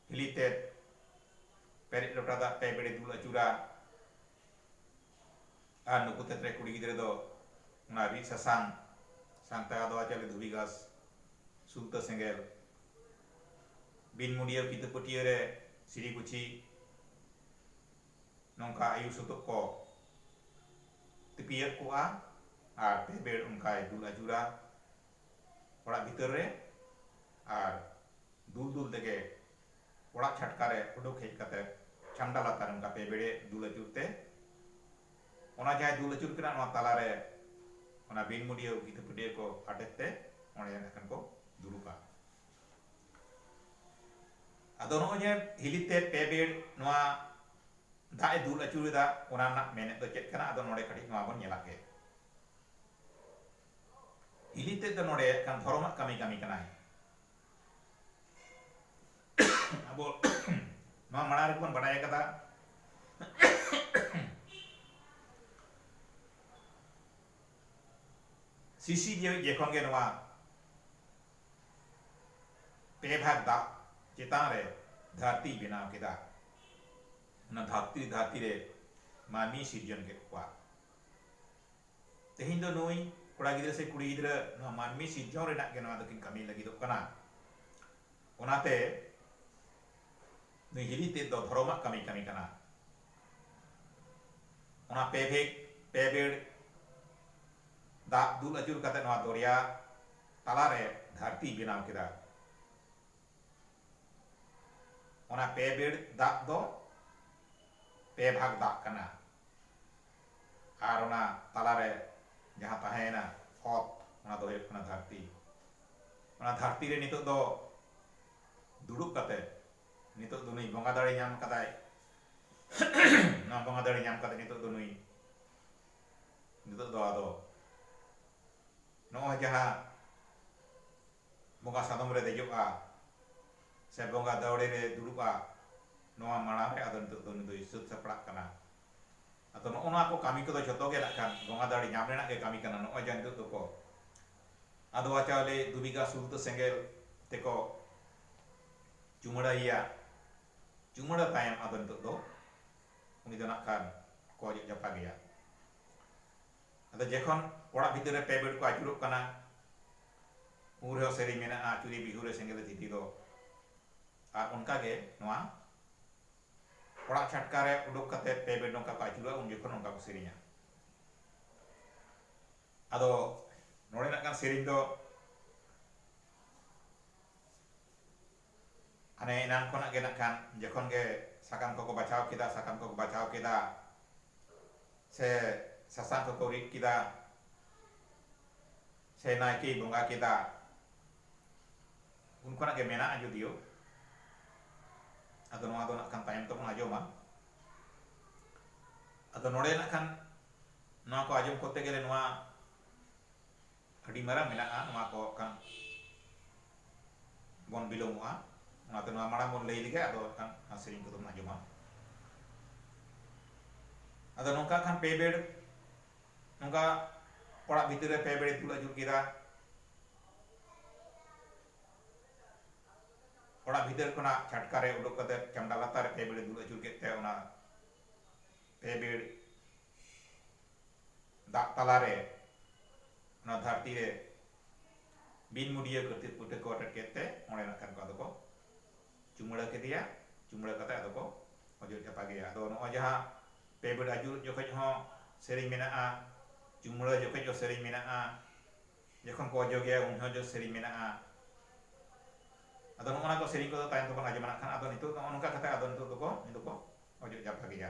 ᱦᱤᱞᱤ ᱛᱮᱫ ᱯᱮᱨᱮᱡ ᱞᱚᱴᱟ ᱫᱟᱜ ᱯᱮ ᱵᱮᱲᱮ ᱫᱩᱞ ᱟᱹᱪᱩᱨᱟ ᱟᱨ ᱱᱩᱠᱩ ᱛᱮᱛᱨᱮ ᱠᱩᱲᱤ ᱜᱤᱫᱽᱨᱟᱹ ᱫᱚ ᱚᱱᱟ ᱨᱤᱫ ᱥᱟᱥᱟᱝ ᱥᱟᱝᱛᱮ ᱟᱫᱣᱟ ᱪᱟᱣᱞᱮ ᱫᱷᱩᱵᱤ ᱜᱷᱟᱥ ᱥᱩᱞᱛᱟᱹ ᱥᱮᱸᱜᱮᱞ ᱵᱤᱱ ᱢᱩᱰᱤᱭᱟᱹ ᱠᱤᱛᱟᱹ ᱯᱟᱹᱴᱤᱭᱟᱹ ᱨᱮ ᱥᱤᱨᱤ ᱜᱩᱪᱷᱤ ᱱᱚᱝᱠᱟ ᱟᱭᱩ ᱥᱩᱛᱩᱜ ᱠᱚ ᱛᱤᱯᱤᱭᱟᱜ ᱠᱚᱜᱼᱟ ᱟᱨ ᱯᱮ ᱵᱮᱲ ᱚᱱᱠᱟᱭ ᱫᱩᱞ ᱟᱹᱪᱩᱨᱟ ᱚᱲᱟᱜ ᱵᱷᱤᱛᱟᱹᱨ ᱨᱮ ᱟᱨ ᱫᱩᱞ ᱫᱩᱞ ᱛᱮᱜᱮ ᱚᱲᱟᱜ ᱪᱷᱟᱴᱠᱟ ᱨᱮ ᱩᱰᱩᱠ ᱦᱮᱡ ᱠᱟᱛᱮ ᱪᱷᱟᱢᱰᱟ ᱞᱟᱛᱟᱨ ᱚᱱᱠᱟ ᱯᱮ ᱵᱮᱲᱮ ᱫᱩᱞ ᱟᱹᱪᱩᱨ ᱛᱮ ᱚᱱᱟ ᱡᱟᱦᱟᱸᱭ ᱫᱩᱞ ᱟᱹᱪᱩᱨ ᱠᱟᱱᱟ ᱱᱚᱣᱟ ᱛᱟᱞᱟ ᱨᱮ ᱚᱱᱟ ᱵᱤᱱ ᱢᱩᱰᱤᱭᱟᱹ ᱠᱤᱛᱟᱹ ᱯᱟᱹᱴᱭᱟᱹ ᱠᱚ ᱟᱴᱮᱫ ᱛᱮ ᱚᱸᱰᱮ ᱱᱟᱜ ᱠᱷᱟᱱ ᱠᱚ ᱫᱩᱲᱩᱵᱼᱟ ᱟᱫᱚ ᱱᱚᱜᱼᱚᱭ ᱡᱮ ᱦᱤᱞᱤ ᱛᱮ ᱯᱮ ᱵᱮᱲ ᱱᱚᱣᱟ ᱫᱟᱜ ᱮ ᱫᱩᱞ ᱟᱹᱪᱩᱨᱮᱫᱟ ᱚᱱᱟ ᱨᱮᱱᱟᱜ ᱢᱮᱱᱮᱫ ᱫᱚ ᱪᱮᱫ ᱠᱟᱱᱟ ᱟᱫᱚ ᱱᱚᱰᱮ ᱠᱟᱹᱴᱤᱡ ᱱᱚᱣᱟ ᱵᱚᱱ ᱧᱮᱞᱟᱜ ᱜᱮ ᱦᱤᱞᱤ ᱛᱮᱫ ᱫᱚ ᱱᱚᱰᱮ ᱠᱟᱱ ᱫᱷᱚᱨᱚᱢᱟᱜ ᱠᱟᱹᱢᱤ ᱠᱟᱹᱢᱤ ᱠᱟᱱᱟᱭ ᱟᱵᱚ ᱱᱚᱣᱟ ᱢᱟᱲᱟᱝ ᱨᱮᱜᱮ ᱵᱚᱱ ᱵᱟᱰᱟᱭ ᱟᱠᱟᱫᱟ ᱥᱤᱥᱤ ᱡᱮᱣᱮᱫ ᱡᱮᱠᱷᱚᱱ ᱜᱮ ᱱᱚᱣᱟ ᱯᱮ ᱵᱷᱟᱜᱽ ᱫᱟᱜ ᱪᱮᱛᱟᱱ ᱨᱮ ᱫᱷᱟᱹᱨᱛᱤᱭ ᱵᱮᱱᱟᱣ ᱠᱮᱫᱟ᱾ ᱚᱱᱟ ᱫᱷᱟᱹᱨᱛᱤ ᱫᱷᱟᱹᱨᱛᱤ ᱨᱮ ᱢᱟᱹᱱᱢᱤᱭ ᱥᱤᱨᱡᱚᱱ ᱠᱮᱫ ᱠᱚᱣᱟ᱾ ᱛᱮᱦᱮᱧ ᱫᱚ ᱱᱩᱭ ᱠᱚᱲᱟ ᱜᱤᱫᱽᱨᱟᱹ ᱥᱮ ᱠᱩᱲᱤ ᱜᱤᱫᱽᱨᱟᱹ ᱱᱚᱣᱟ ᱢᱟᱹᱱᱢᱤ ᱥᱤᱨᱡᱚᱱ ᱨᱮᱱᱟᱜ ᱜᱮ ᱱᱚᱣᱟ ᱫᱚᱠᱤᱱ ᱠᱟᱹᱢᱤ ᱞᱟᱹᱜᱤᱫᱚᱜ ᱠᱟᱱᱟ᱾ ᱚᱱᱟᱛᱮ ᱱᱩᱭ ᱦᱤᱞᱤ ᱛᱮᱫ ᱫᱚ ᱫᱷᱚᱨᱚᱢᱟᱜ ᱠᱟᱹᱢᱤᱭ ᱠᱟᱹᱢᱤ ᱠᱟᱱᱟ᱾ ᱚᱱᱟ ᱯᱮ ᱵᱷᱮᱜᱽ ᱯᱮ ᱵᱮᱲ ᱫᱟᱜ ᱫᱩᱞ ᱟᱹᱪᱩᱨ ᱠᱟᱛᱮ ᱱᱚᱣᱟ ᱫᱚᱨᱭᱟ ᱛᱟᱞᱟ ᱨᱮ ᱫᱷᱟᱹᱨᱛᱤᱭ ᱵᱮᱱᱟᱣ ᱠᱮᱫᱟ᱾ ᱚᱱᱟ ᱯᱮ ᱵᱮᱲ ᱫᱟᱜ ᱫᱚ ᱯᱮ ᱵᱷᱟᱜᱽ ᱫᱟᱜ ᱠᱟᱱᱟ ᱟᱨ ᱚᱱᱟ ᱛᱟᱞᱟ ᱨᱮ ᱡᱟᱦᱟᱸ ᱛᱟᱦᱮᱸ ᱮᱱᱟ ᱚᱛ ᱚᱱᱟ ᱫᱚ ᱦᱩᱭᱩᱜ ᱠᱟᱱᱟ ᱫᱷᱟᱹᱨᱛᱤ᱾ ᱚᱱᱟ ᱫᱷᱟᱹᱨᱛᱤ ᱨᱮ ᱱᱤᱛᱚᱜ ᱫᱚ ᱫᱩᱲᱩᱵ ᱠᱟᱛᱮ ᱱᱤᱛᱚᱜ ᱫᱚ ᱱᱩᱭ ᱵᱚᱸᱜᱟ ᱫᱟᱲᱮ ᱧᱟᱢ ᱟᱠᱟᱫᱟᱭ᱾ ᱱᱚᱣᱟ ᱵᱚᱸᱜᱟ ᱫᱟᱲᱮ ᱧᱟᱢ ᱠᱟᱛᱮ ᱱᱤᱛᱚᱜ ᱫᱚ ᱱᱩᱭ ᱱᱤᱛᱚᱜ ᱫᱚ ᱟᱫᱚ ᱱᱚᱜᱼᱚᱭ ᱡᱟᱦᱟᱸ ᱵᱚᱸᱜᱟ ᱥᱟᱫᱚᱢ ᱨᱮ ᱫᱮᱡᱚᱜᱼᱟ ᱥᱮ ᱵᱚᱸᱜᱟ ᱫᱟᱹᱣᱲᱮ ᱨᱮ ᱫᱩᱲᱩᱵᱼᱟ ᱱᱚᱣᱟ ᱢᱟᱲᱟᱝ ᱨᱮ ᱟᱫᱚ ᱱᱤᱛᱚᱜ ᱫᱚ ᱩᱱᱤ ᱫᱚᱭ ᱥᱟᱹᱛ ᱥᱟᱯᱲᱟᱜ ᱠᱟᱱᱟ ᱟᱫᱚ ᱱᱚᱜᱼᱚ ᱱᱚᱣᱟ ᱠᱚ ᱠᱟᱹᱢᱤ ᱠᱚᱫᱚ ᱡᱷᱚᱛᱚ ᱜᱮ ᱱᱟᱜ ᱠᱷᱟᱱ ᱵᱚᱸᱜᱟ ᱫᱟᱲᱮ ᱧᱟᱢ ᱨᱮᱱᱟᱜ ᱜᱮ ᱠᱟᱹᱢᱤ ᱠᱟᱱᱟ ᱱᱚᱜᱼᱚᱭ ᱡᱟᱦᱟᱸ ᱱᱤᱛᱚᱜ ᱫᱚᱠᱚ ᱟᱫᱽᱣᱟ ᱪᱟᱣᱞᱮ ᱫᱩ ᱵᱤᱜᱷᱟ ᱥᱩᱨ ᱫᱚ ᱥᱮᱸᱜᱮᱞ ᱛᱮᱠᱚ ᱪᱩᱢᱟᱹᱲᱟᱭᱮᱭᱟ ᱪᱩᱢᱟᱹᱲᱟ ᱛᱟᱭᱚᱢ ᱟᱫᱚ ᱱᱤᱛᱚᱜ ᱫᱚ ᱩᱱᱤ ᱫᱚ ᱱᱟᱜ ᱠᱷᱟᱱ ᱠᱚ ᱚᱡᱚᱜ ᱡᱟᱯᱟᱜᱮᱭᱟ ᱟᱫᱚ ᱡᱮᱠᱷᱚᱱ ᱚᱲᱟᱜ ᱵᱷᱤᱛᱟᱹᱨ ᱨᱮ ᱯᱮ ᱵᱮᱰ ᱠᱚ ᱟᱹᱪᱩᱨᱚᱜ ᱠᱟᱱᱟ ᱩᱱ ᱨᱮᱦᱚᱸ ᱥᱮᱨᱮᱧ ᱢᱮᱱᱟᱜᱼᱟ ᱟᱹᱪᱩᱨᱤ ᱵᱤᱦᱩ ᱨᱮ ᱥᱮᱸᱜᱮᱞ ᱫᱷᱤᱛᱤ ᱫᱚ ᱟᱨ ᱚᱱᱠᱟ ᱜᱮ ᱱᱚᱣᱟ ᱚᱲᱟᱜ ᱪᱷᱟᱴᱠᱟ ᱨᱮ ᱩᱰᱩᱠ ᱠᱟᱛᱮ ᱯᱮ ᱵᱮᱰ ᱱᱚᱝᱠᱟ ᱠᱚ ᱟᱹᱪᱩᱨᱚᱜᱼᱟ ᱩᱱ ᱡᱚᱠᱷᱚᱱ ᱚᱱᱠᱟ ᱠᱚ ᱥᱮᱨᱮᱧᱟ ᱟᱫᱚ ᱱᱚᱰᱮ ᱱᱟᱜ ᱠᱟᱱ ᱥᱮᱨᱮᱧ ᱫᱚ ᱦᱟᱱᱮ ᱮᱱᱟᱱ ᱠᱷᱚᱱᱟᱜ ᱜᱮ ᱱᱟᱜ ᱠᱷᱟᱱ ᱡᱚᱠᱷᱚᱱ ᱜᱮ ᱥᱟᱠᱟᱢ ᱠᱚᱠᱚ ᱵᱟᱪᱷᱟᱣ ᱠᱮᱫᱟ ᱥᱟᱠᱟᱢ ᱠᱚᱠᱚ ᱵᱟᱪᱷᱟᱣ ᱠᱮᱫᱟ ᱥᱮ ᱥᱟᱥᱟᱝ ᱠᱚᱠᱚ ᱨᱤᱫ ᱠᱮᱫᱟ ᱥᱮ ᱱᱟᱭᱠᱮᱭ ᱵᱚᱸᱜᱟ ᱠᱮᱫᱟ ᱩᱱ ᱠᱷᱚᱱᱟᱜ ᱜᱮ ᱢᱮᱱᱟᱜᱼᱟ ᱡᱩᱫᱤᱭᱳ ᱟᱫᱚ ᱱᱚᱣᱟ ᱫᱚ ᱱᱟᱜ ᱠᱷᱟᱱ ᱛᱟᱭᱚᱢ ᱛᱮᱵᱚᱱ ᱟᱸᱡᱚᱢᱟ ᱟᱫᱚ ᱱᱚᱰᱮ ᱱᱟᱜ ᱠᱷᱟᱱ ᱱᱚᱣᱟ ᱠᱚ ᱟᱸᱡᱚᱢ ᱠᱚᱨᱛᱮ ᱜᱮᱞᱮ ᱱᱚᱣᱟ ᱟᱹᱰᱤ ᱢᱟᱨᱟᱝ ᱢᱮᱱᱟᱜᱼᱟ ᱱᱚᱣᱟ ᱠᱚ ᱠᱷᱟᱱ ᱵᱚᱱ ᱵᱤᱞᱚᱢᱚᱜᱼᱟ ᱚᱱᱟᱛᱮ ᱱᱚᱣᱟ ᱢᱟᱲᱟᱝ ᱵᱚᱱ ᱞᱟᱹᱭ ᱞᱮᱜᱮ ᱟᱫᱚ ᱠᱷᱟᱱ ᱚᱱᱟ ᱥᱮᱨᱮᱧ ᱠᱚᱫᱚ ᱵᱚᱱ ᱟᱸᱡᱚᱢᱟ ᱟᱫᱚ ᱱᱚᱝᱠᱟ ᱠᱷᱟᱱ ᱯᱮ ᱵᱮᱲ ᱱᱚᱝᱠᱟ ᱚᱲᱟᱜ ᱵᱷᱤᱛᱤᱨ ᱨᱮ ᱯᱮ ᱵᱮᱲᱮ ᱫᱩᱞ ᱟᱹᱪᱩᱨ ᱠᱮᱫᱟ ᱚᱲᱟᱜ ᱵᱷᱤᱛᱤᱨ ᱠᱷᱚᱱᱟᱜ ᱪᱷᱟᱴᱠᱟ ᱨᱮ ᱩᱰᱩᱠ ᱠᱟᱛᱮ ᱪᱟᱢᱰᱟ ᱞᱟᱛᱟᱨ ᱨᱮ ᱯᱮ ᱵᱮᱲᱮ ᱫᱩᱞ ᱟᱹᱪᱩᱨ ᱠᱮᱫ ᱛᱮ ᱚᱱᱟ ᱯᱮ ᱵᱮᱲ ᱫᱟᱜ ᱛᱟᱞᱟ ᱨᱮ ᱚᱱᱟ ᱫᱷᱟᱹᱨᱛᱤ ᱨᱮ ᱵᱤᱱ ᱢᱩᱰᱤᱭᱟᱹ ᱠᱟᱹᱛᱤ ᱯᱩᱴᱟᱹ ᱠᱚ ᱟᱴᱮᱫ ᱠᱮᱫ ᱛᱮ ᱚᱸᱰᱮ ᱱᱟᱜ ᱠᱷᱟᱱ ᱠᱚ ᱟᱫᱚ ᱠᱚ ᱪᱩᱢᱟᱹᱲᱟ ᱠᱮᱫᱮᱭᱟ ᱪᱩᱢᱟᱹᱲᱟ ᱠᱟᱛᱮ ᱟᱫᱚ ᱠᱚ ᱚᱡᱚᱜ ᱪᱟᱯᱟ ᱠᱮᱫᱮᱭᱟ ᱟᱫᱚ ᱱᱚᱜᱼᱚᱭ ᱡᱟᱦᱟᱸ ᱯᱮ ᱵᱮᱲ ᱟᱹᱪᱩᱨᱚᱜ ᱡᱚᱠᱷᱚᱱ ᱦᱚᱸ ᱥᱮᱨᱮᱧ ᱢᱮᱱᱟᱜᱼᱟ ᱪᱩᱢᱟᱹᱲᱟ ᱡᱚᱠᱷᱚᱱ ᱦᱚᱸ ᱥᱮᱨᱮᱧ ᱢᱮᱱᱟᱜᱼᱟ ᱡᱚᱠᱷᱚᱱ ᱠᱚ ᱚᱡᱚᱜᱮᱭᱟ ᱩᱱ ᱦᱚᱸ ᱥᱮᱨᱮᱧ ᱢᱮᱱᱟᱜᱼᱟ ᱟᱫᱚ ᱱᱚᱜᱼᱚ ᱱᱟ ᱠᱚ ᱥᱮᱨᱮᱧ ᱠᱚᱫᱚ ᱛᱟᱭᱚᱢ ᱛᱮᱵᱚᱱ ᱟᱸᱡᱚᱢᱟ ᱱᱟᱜ ᱠᱷᱟᱱ ᱟᱫᱚ ᱱᱤᱛᱚᱜ ᱫᱚ ᱱᱚᱜᱼᱚ ᱱᱚᱝᱠᱟ ᱠᱟᱛᱮ ᱟᱫᱚ ᱱᱤᱛᱚᱜ ᱫᱚᱠᱚ ᱩᱱᱤ ᱫᱚᱠᱚ ᱚᱡᱚᱜ ᱪᱟᱯᱟ ᱠᱮᱫᱮᱭᱟ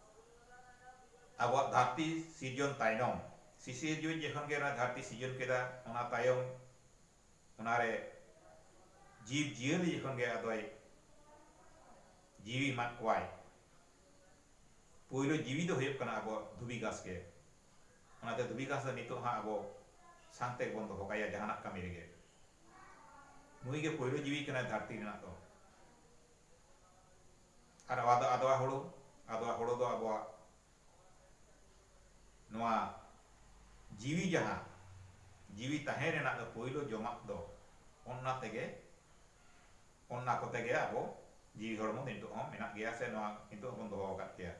ᱟᱵᱚᱣᱟᱜ ᱫᱷᱟᱹᱨᱛᱤ ᱥᱤᱨᱡᱚᱱ ᱛᱟᱭᱱᱚᱢ ᱥᱤᱥᱤᱨᱡᱩᱭᱤᱡ ᱡᱮᱠᱷᱚᱱ ᱜᱮ ᱱᱚᱣᱟ ᱫᱷᱟᱹᱨᱛᱤ ᱥᱤᱨᱡᱚᱱ ᱠᱮᱫᱟ ᱚᱱᱟ ᱛᱟᱭᱚᱢ ᱚᱱᱟ ᱨᱮ ᱡᱤᱵᱽ ᱡᱤᱭᱟᱹᱞᱤ ᱡᱮᱠᱷᱚᱱ ᱜᱮ ᱟᱫᱚᱭ ᱡᱤᱣᱤ ᱮᱢᱟᱫ ᱠᱚᱣᱟᱭ ᱯᱩᱭᱞᱩ ᱡᱤᱣᱤ ᱫᱚ ᱦᱩᱭᱩᱜ ᱠᱟᱱᱟ ᱟᱵᱚ ᱫᱷᱩᱵᱤ ᱜᱷᱟᱥ ᱜᱮ ᱚᱱᱟ ᱛᱮ ᱫᱷᱩᱵᱤ ᱜᱷᱟᱥ ᱫᱚ ᱱᱤᱛᱚᱜ ᱦᱚᱸ ᱟᱵᱚ ᱥᱟᱝ ᱛᱮ ᱵᱚᱱ ᱫᱚᱦᱚ ᱠᱟᱭᱟ ᱡᱟᱦᱟᱱᱟᱜ ᱠᱟᱹᱢᱤ ᱨᱮᱜᱮ ᱱᱩᱭ ᱜᱮ ᱯᱩᱭᱞᱩ ᱡᱤᱣᱤ ᱠᱟᱱᱟᱭ ᱫᱷᱟᱹᱨᱛᱤ ᱨᱮᱱᱟᱜ ᱫᱚ ᱟᱨ ᱟᱣᱟ ᱫᱚ ᱟᱫᱣᱟ ᱦᱳᱲᱳ᱾ ᱟᱫᱣᱟ ᱦᱳᱲᱳ ᱫᱚ ᱟᱵᱚᱣᱟᱜ ᱱᱚᱣᱟ ᱡᱤᱣᱤ ᱡᱟᱦᱟᱸ ᱡᱤᱣᱤ ᱛᱟᱦᱮᱸ ᱨᱮᱱᱟᱜ ᱫᱚ ᱯᱳᱭᱞᱳ ᱡᱚᱢᱟᱜ ᱫᱚ ᱚᱱᱱᱟ ᱛᱮᱜᱮ ᱚᱱᱱᱟ ᱠᱚᱛᱮ ᱜᱮ ᱟᱵᱚ ᱡᱤᱣᱤ ᱦᱚᱲᱢᱚ ᱫᱚ ᱱᱤᱛᱚᱜ ᱦᱚᱸ ᱢᱮᱱᱟᱜ ᱜᱮᱭᱟ ᱥᱮ ᱱᱚᱣᱟ ᱱᱤᱛᱚᱜ ᱦᱚᱸᱵᱚᱱ ᱫᱚᱦᱚ ᱟᱠᱟᱫ ᱜᱮᱭᱟ᱾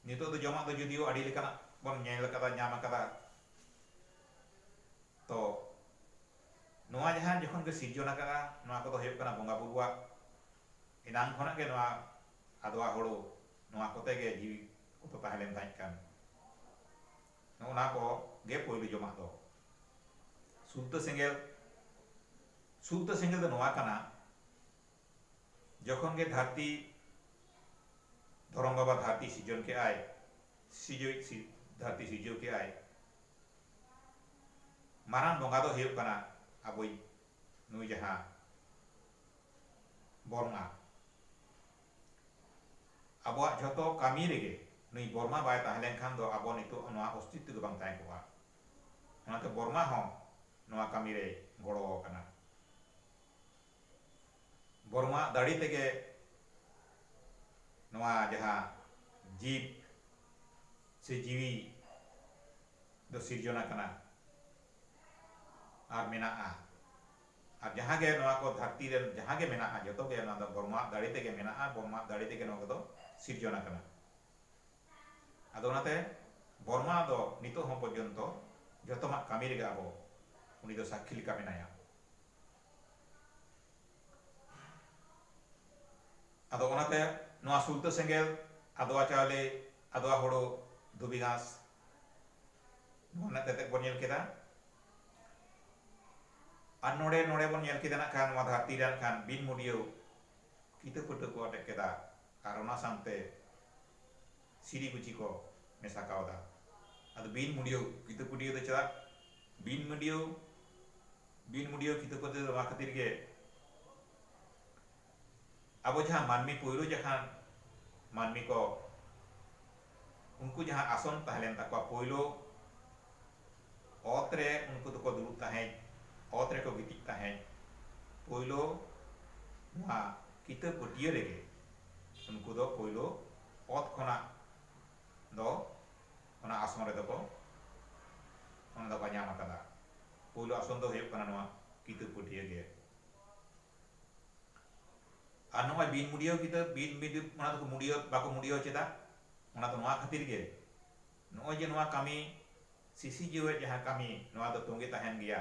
ᱱᱤᱛᱚᱜ ᱫᱚ ᱡᱚᱢᱟᱜ ᱫᱚ ᱡᱩᱫᱤᱭᱳ ᱟᱹᱰᱤ ᱞᱮᱠᱟᱱᱟᱜ ᱵᱚᱱ ᱧᱮᱞ ᱟᱠᱟᱫᱟ ᱧᱟᱢ ᱟᱠᱟᱫᱟ᱾ ᱛᱚ ᱱᱚᱣᱟ ᱡᱟᱦᱟᱸ ᱡᱚᱠᱷᱚᱱ ᱜᱮ ᱥᱤᱨᱡᱚᱱ ᱟᱠᱟᱜᱼᱟ ᱱᱚᱣᱟ ᱠᱚᱫᱚ ᱦᱩᱭᱩᱜ ᱠᱟᱱᱟ ᱵᱚᱸᱜᱟ ᱵᱩᱨᱩᱣᱟᱜ ᱮᱱᱟᱝ ᱠᱷᱚᱱᱟᱜ ᱜᱮ ᱱᱚᱣᱟ ᱟᱫᱽᱣᱟ ᱦᱳᱲᱳ ᱱᱚᱣᱟ ᱠᱚᱛᱮ ᱜᱮ ᱡᱤᱣᱤ ᱠᱚᱫᱚ ᱛᱟᱦᱮᱸ ᱞᱮᱱ ᱛᱟᱦᱮᱸᱫ ᱠᱟᱱ ᱱᱚᱜᱼᱚ ᱱᱟ ᱠᱚ ᱜᱮ ᱯᱳᱭᱞᱳ ᱡᱚᱢᱟᱜ ᱫᱚ ᱥᱩᱞᱛᱟᱹ ᱥᱮᱸᱜᱮᱞ ᱥᱩᱞᱛᱟᱹ ᱥᱮᱸᱜᱮᱞ ᱫᱚ ᱱᱚᱣᱟ ᱠᱟᱱᱟ ᱡᱚᱠᱷᱚᱱ ᱜᱮ ᱫᱷᱟᱹᱨᱛᱤ ᱫᱷᱚᱨᱚᱢ ᱵᱟᱵᱟ ᱫᱷᱟᱹᱨᱛᱤ ᱥᱤᱡᱚᱱ ᱠᱮᱜ ᱟᱭ ᱥᱤᱡᱚᱭ ᱫᱷᱟᱹᱨᱛᱤ ᱥᱤᱡᱚᱣ ᱠᱮᱜ ᱟᱭ ᱢᱟᱨᱟᱝ ᱵᱚᱸᱜᱟ ᱫᱚ ᱦᱩᱭᱩᱜ ᱠᱟᱱᱟ ᱟᱵᱚᱭ ᱱᱩᱭ ᱡᱟᱦᱟᱸ ᱵᱚᱨᱢᱟ ᱟᱵᱚᱣᱟᱜ ᱡᱷᱚᱛᱚ ᱠᱟᱹᱢᱤ ᱨᱮᱜᱮ ᱱᱩᱭ ᱵᱚᱨᱢᱟ ᱵᱟᱭ ᱛᱟᱦᱮᱸ ᱞᱮᱱᱠᱷᱟᱱ ᱫᱚ ᱟᱵᱚ ᱱᱤᱛᱚᱜ ᱱᱚᱣᱟ ᱚᱥᱛᱤᱛᱛᱚ ᱜᱮ ᱵᱟᱝ ᱛᱟᱦᱮᱸ ᱠᱚᱜᱼᱟ ᱚᱱᱟᱛᱮ ᱵᱚᱨᱢᱟ ᱦᱚᱸ ᱱᱚᱣᱟ ᱠᱟᱹᱢᱤ ᱨᱮᱭ ᱜᱚᱲᱚ ᱟᱠᱟᱱᱟ ᱵᱚᱨᱢᱟᱣᱟᱜ ᱫᱟᱲᱮ ᱛᱮᱜᱮ ᱱᱚᱣᱟ ᱡᱟᱦᱟᱸ ᱡᱤᱵᱽ ᱥᱮ ᱡᱤᱣᱤ ᱫᱚ ᱥᱤᱨᱡᱚᱱ ᱟᱠᱟᱱᱟ ᱟᱨ ᱢᱮᱱᱟᱜᱼᱟ ᱟᱨ ᱡᱟᱦᱟᱸ ᱜᱮ ᱱᱚᱣᱟ ᱠᱚ ᱫᱷᱟᱹᱨᱛᱤ ᱨᱮ ᱡᱟᱦᱟᱸ ᱜᱮ ᱢᱮᱱᱟᱜᱼᱟ ᱡᱚᱛᱚ ᱜᱮ ᱱᱚᱣᱟ ᱫᱚ ᱵᱚᱨᱢᱟᱣᱟᱜ ᱫᱟᱲᱮ ᱛᱮᱜᱮ ᱢᱮᱱᱟᱜᱼᱟ ᱵᱚᱨᱢᱟᱣᱟᱜ ᱫᱟᱲᱮ ᱛᱮᱜᱮ ᱱᱚᱣᱟ ᱠᱚᱫᱚ ᱥᱤᱨᱡᱚᱱ ᱟᱠᱟᱱᱟ ᱟᱫᱚ ᱚᱱᱟᱛᱮ ᱵᱚᱨᱢᱟ ᱫᱚ ᱱᱤᱛᱚᱜ ᱦᱚᱸ ᱯᱚᱨᱡᱚᱱᱛᱚ ᱡᱚᱛᱚᱢᱟᱜ ᱠᱟᱹᱢᱤ ᱨᱮᱜᱮ ᱟᱵᱚ ᱩᱱᱤ ᱫᱚ ᱥᱟᱹᱠᱷᱤ ᱞᱮᱠᱟ ᱢᱮᱱᱟᱭᱟ ᱟᱫᱚ ᱚᱱᱟᱛᱮ ᱱᱚᱣᱟ ᱥᱩᱞᱛᱟᱹ ᱥᱮᱸᱜᱮᱞ ᱟᱫᱽᱣᱟ ᱪᱟᱣᱞᱮ ᱟᱫᱽᱣᱟ ᱦᱳᱲᱳ ᱫᱷᱩᱵᱤ ᱜᱷᱟᱸᱥ ᱱᱚᱣᱟ ᱨᱮᱱᱟᱜ ᱛᱮᱛᱮᱫ ᱵᱚᱱ ᱧᱮᱞ ᱠᱮᱫᱟ ᱟᱨ ᱱᱚᱰᱮ ᱱᱚᱰᱮ ᱵᱚᱱ ᱧᱮᱞ ᱠᱮᱫᱟ ᱱᱟᱜ ᱠᱷᱟᱱ ᱱᱚᱣᱟ ᱫᱷᱟᱹᱨᱛᱤ ᱨᱮ ᱱᱟᱜ ᱠᱷᱟᱱ ᱵᱤᱱ ᱢᱩᱰᱤᱭᱟᱹᱣ ᱠᱤᱛᱟᱹ ᱯᱷᱟᱹᱴᱟᱹ ᱠᱚ ᱟᱴᱮᱫ ᱠᱮᱫᱟ ᱟᱨ ᱚᱱᱟ ᱥᱟᱶᱛᱮ ᱥᱤᱨᱤ ᱠᱩᱪᱤ ᱠᱚ ᱢᱮᱥᱟ ᱠᱟᱣᱫᱟ᱾ ᱟᱫᱚ ᱵᱤᱱ ᱢᱩᱰᱤᱭᱟᱹᱣ ᱠᱤᱛᱟᱹ ᱯᱩᱰᱤᱭᱟᱹ ᱫᱚ ᱪᱮᱫᱟᱜ ᱵᱤᱱ ᱢᱟᱹᱰᱤᱭᱟᱹᱣ ᱵᱤᱱ ᱢᱩᱰᱤᱭᱟᱹᱣ ᱠᱤᱛᱟᱹ ᱯᱟᱹᱫᱤ ᱫᱚ ᱱᱚᱣᱟ ᱠᱷᱟᱹᱛᱤᱨ ᱜᱮ ᱟᱵᱚ ᱡᱟᱦᱟᱸ ᱢᱟᱹᱱᱢᱤ ᱯᱩᱭᱞᱩ ᱡᱟᱦᱟᱸ ᱢᱟᱹᱱᱢᱤ ᱠᱚ ᱩᱱᱠᱩ ᱡᱟᱦᱟᱸ ᱟᱥᱚᱱ ᱛᱟᱦᱮᱸ ᱞᱮᱱ ᱛᱟᱠᱚᱣᱟ ᱯᱩᱭᱞᱩ ᱚᱛ ᱨᱮ ᱩᱱᱠᱩ ᱫᱚᱠᱚ ᱫᱩᱲᱩᱵ ᱛᱟᱦᱮᱸᱫ ᱚᱛ ᱨᱮᱠᱚ ᱜᱤᱛᱤᱡ ᱛᱟᱦᱮᱸᱫ ᱯᱩᱭᱞᱩ ᱱᱚᱣᱟ ᱠᱤᱛᱟᱹ ᱯᱟᱹᱴᱤᱭᱟᱹ ᱨᱮᱜᱮ ᱩᱱᱠᱩ ᱫᱚ ᱯᱩᱭᱞᱩ ᱚᱛ ᱠᱷᱚᱱᱟᱜ ᱫᱚ ᱚᱱᱟ ᱟᱥᱚᱱ ᱨᱮᱫᱚ ᱠᱚ ᱚᱱᱟ ᱫᱚᱠᱚ ᱧᱟᱢ ᱟᱠᱟᱫᱟ ᱯᱩᱭᱞᱩ ᱟᱥᱚᱱ ᱫᱚ ᱦᱩᱭᱩᱜ ᱠᱟᱱᱟ ᱱᱚᱣᱟ ᱠᱤᱛᱟᱹ ᱯᱟᱹᱴᱤᱭᱟᱹ ᱜᱮ ᱟᱨ ᱱᱚᱜᱼᱚᱭ ᱵᱤᱱ ᱢᱩᱰᱤᱭᱟᱹᱣ ᱠᱤᱛᱟᱹ ᱵᱤᱱ ᱢᱤᱰᱤ ᱚᱱᱟ ᱫᱚᱠᱚ ᱢᱩᱰᱤᱭᱟᱹᱣ ᱵᱟᱠᱚ ᱢᱩᱰᱤᱭᱟᱹᱣ ᱪᱮᱫᱟ ᱚᱱᱟ ᱫᱚ ᱱᱚᱣᱟ ᱠᱷᱟᱹᱛᱤᱨ ᱜᱮ ᱱᱚᱜᱼᱚᱭ ᱡᱮ ᱱᱚᱣᱟ ᱠᱟᱹᱢᱤ ᱥᱤᱥᱤ ᱡᱤᱣᱮᱫ ᱡᱟᱦᱟᱸ ᱠᱟᱹᱢᱤ ᱱᱚᱣᱟ ᱫᱚ ᱛᱚᱸᱜᱮ ᱛᱟᱦᱮᱱ ᱜᱮᱭᱟ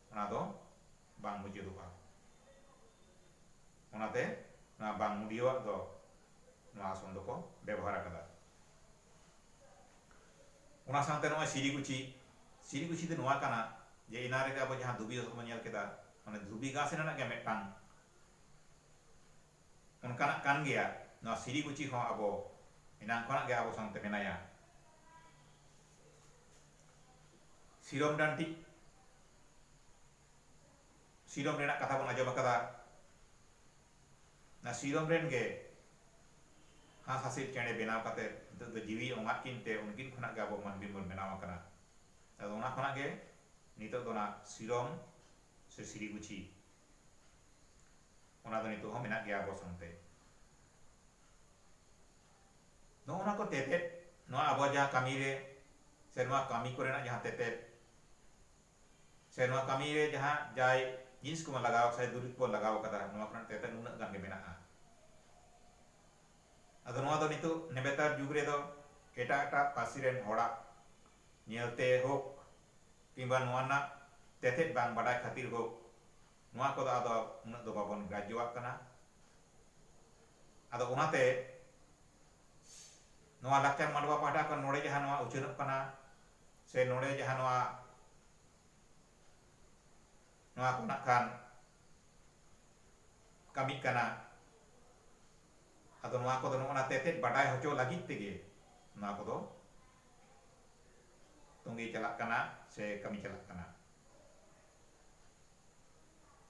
ᱚᱱᱟ ᱫᱚ ᱵᱟᱝ ᱢᱩᱪᱟᱹᱫᱚᱜᱼᱟ᱾ ᱚᱱᱟᱛᱮ ᱱᱚᱣᱟ ᱵᱟᱝ ᱢᱩᱰᱤᱭᱟᱹᱣᱟᱜ ᱫᱚ ᱱᱚᱣᱟ ᱟᱥᱚᱱ ᱫᱚᱠᱚ ᱵᱮᱵᱚᱦᱟᱨ ᱟᱠᱟᱫᱟ᱾ ᱚᱱᱟ ᱥᱟᱶᱛᱮ ᱱᱚᱜᱼᱚᱭ ᱥᱤᱨᱤᱜᱩᱪᱷᱤ, ᱥᱤᱨᱤᱜᱩᱪᱷᱤ ᱫᱚ ᱱᱚᱣᱟ ᱠᱟᱱᱟ ᱡᱮ ᱮᱱᱟᱝ ᱨᱮᱜᱮ ᱟᱵᱚ ᱡᱟᱦᱟᱸ ᱫᱷᱩᱵᱤ ᱜᱷᱟᱥ ᱫᱚᱵᱚᱱ ᱧᱮᱞ ᱠᱮᱫᱟ, ᱢᱟᱱᱮ ᱫᱷᱩᱵᱤ ᱜᱷᱟᱥ ᱨᱮᱱᱟᱜ ᱜᱮ ᱢᱤᱫᱴᱟᱝ ᱚᱱᱠᱟᱱᱟᱜ ᱠᱟᱱ ᱜᱮᱭᱟ᱾ ᱱᱚᱣᱟ ᱥᱤᱨᱤᱜᱩᱪᱷᱤ ᱦᱚᱸ ᱟᱵᱚ ᱮᱱᱟᱝ ᱠᱷᱚᱱᱟᱜ ᱜᱮ ᱟᱵᱚ ᱥᱟᱶᱛᱮ ᱢᱮᱱᱟᱭᱟ᱾ ᱥᱤᱨᱚᱢ ᱰᱟᱱᱴᱤ ᱥᱤᱨᱚᱢ ᱨᱮᱱᱟᱜ ᱠᱟᱛᱷᱟ ᱵᱚᱱ ᱟᱸᱡᱚᱢ ᱟᱠᱟᱫᱟ ᱱᱟ ᱥᱤᱨᱚᱢ ᱨᱮᱱ ᱜᱮ ᱦᱟᱸᱥ ᱦᱟᱸᱥᱤᱞ ᱪᱮᱬᱮ ᱵᱮᱱᱟᱣ ᱠᱟᱛᱮ ᱱᱤᱛᱚᱜ ᱫᱚ ᱡᱤᱣᱤ ᱚᱝᱟᱫ ᱠᱤᱱ ᱛᱮ ᱩᱱᱠᱤᱱ ᱠᱷᱚᱱᱟᱜ ᱜᱮ ᱟᱵᱚ ᱢᱟᱹᱱᱢᱤ ᱵᱚᱱ ᱵᱮᱱᱟᱣ ᱟᱠᱟᱱᱟ ᱟᱫᱚ ᱚᱱᱟ ᱠᱷᱚᱱᱟᱜ ᱜᱮ ᱱᱤᱛᱚᱜ ᱫᱚ ᱚᱱᱟ ᱥᱤᱨᱚᱢ ᱥᱮ ᱥᱤᱨᱤᱜᱩᱪᱷᱤ ᱚᱱᱟ ᱫᱚ ᱱᱤᱛᱚᱜ ᱦᱚᱸ ᱢᱮᱱᱟᱜ ᱜᱮᱭᱟ ᱟᱵᱚ ᱥᱟᱶᱛᱮ ᱱᱚᱜᱼᱚ ᱱᱚᱣᱟ ᱠᱚ ᱛᱮᱛᱮᱫ ᱱᱚᱣᱟ ᱟᱵᱚᱣᱟᱜ ᱡᱟᱦᱟᱸ ᱠᱟᱹᱢᱤ ᱨᱮ ᱥᱮ ᱱᱚᱣᱟ ᱠᱟᱹᱢᱤ ᱠᱚᱨᱮᱱᱟᱜ ᱡᱟᱦᱟᱸ ᱛᱮᱛᱮᱫ ᱥᱮ ᱱᱚᱣᱟ ᱠᱟᱹᱢᱤ ᱨᱮ ᱡᱟᱦᱟᱸ ᱡᱟᱭ ᱡᱤᱱᱤᱥ ᱠᱚᱵᱚᱱ ᱞᱟᱜᱟᱣ ᱥᱮ ᱫᱩᱨᱤᱵᱽ ᱠᱚᱵᱚᱱ ᱞᱟᱜᱟᱣ ᱠᱟᱫᱟ ᱱᱚᱣᱟ ᱠᱚᱨᱮᱱᱟᱜ ᱛᱮᱛᱮᱫ ᱱᱩᱱᱟᱹᱜ ᱜᱟᱱ ᱜᱮ ᱢᱮᱱᱟᱜᱼᱟ ᱟᱫᱚ ᱱᱚᱣᱟ ᱫᱚ ᱱᱤᱛᱚᱜ ᱱᱮᱵᱮᱛᱟᱨ ᱡᱩᱜᱽ ᱨᱮᱫᱚ ᱮᱴᱟᱜ ᱮᱴᱟᱜ ᱯᱟᱹᱨᱥᱤ ᱨᱮᱱ ᱦᱚᱲᱟᱜ ᱧᱮᱞᱛᱮ ᱦᱳᱠ ᱠᱤᱝᱵᱟ ᱱᱚᱣᱟ ᱨᱮᱱᱟᱜ ᱛᱮᱛᱮᱫ ᱵᱟᱝ ᱵᱟᱰᱟᱭ ᱠᱷᱟᱹᱛᱤᱨ ᱦᱳᱠ ᱱᱚᱣᱟ ᱠᱚᱫᱚ ᱟᱫᱚ ᱩᱱᱟᱹᱜ ᱫᱚ ᱵᱟᱵᱚᱱ ᱜᱨᱟᱡᱽᱡᱚᱣᱟᱜ ᱠᱟᱱᱟ ᱟᱫᱚ ᱚᱱᱟᱛᱮ ᱱᱚᱣᱟ ᱞᱟᱠᱪᱟᱨ ᱢᱟᱰᱣᱟ ᱯᱟᱦᱴᱟ ᱠᱷᱚᱱ ᱱᱚᱰᱮ ᱡᱟᱦᱟᱸ ᱱᱚᱣᱟ ᱩᱪᱷᱟᱹᱱᱚᱜ ᱠᱟᱱᱟ ᱥᱮ ᱱᱚᱰᱮ ᱡᱟᱦᱟᱸ ᱱᱚᱣᱟ ᱱᱚᱣᱟ ᱠᱚ ᱱᱟᱜ ᱠᱷᱟᱱ ᱠᱟᱹᱢᱤᱜ ᱠᱟᱱᱟ ᱟᱫᱚ ᱱᱚᱣᱟ ᱠᱚᱫᱚ ᱱᱚᱜᱼᱚ ᱱᱟ ᱛᱮᱛᱮᱫ ᱵᱟᱰᱟᱭ ᱦᱚᱪᱚ ᱞᱟᱹᱜᱤᱫ ᱛᱮᱜᱮ ᱱᱚᱣᱟ ᱠᱚᱫᱚ ᱛᱚᱸᱜᱮ ᱪᱟᱞᱟᱜ ᱠᱟᱱᱟ ᱥᱮ ᱠᱟᱹᱢᱤ ᱪᱟᱞᱟᱜ ᱠᱟᱱᱟ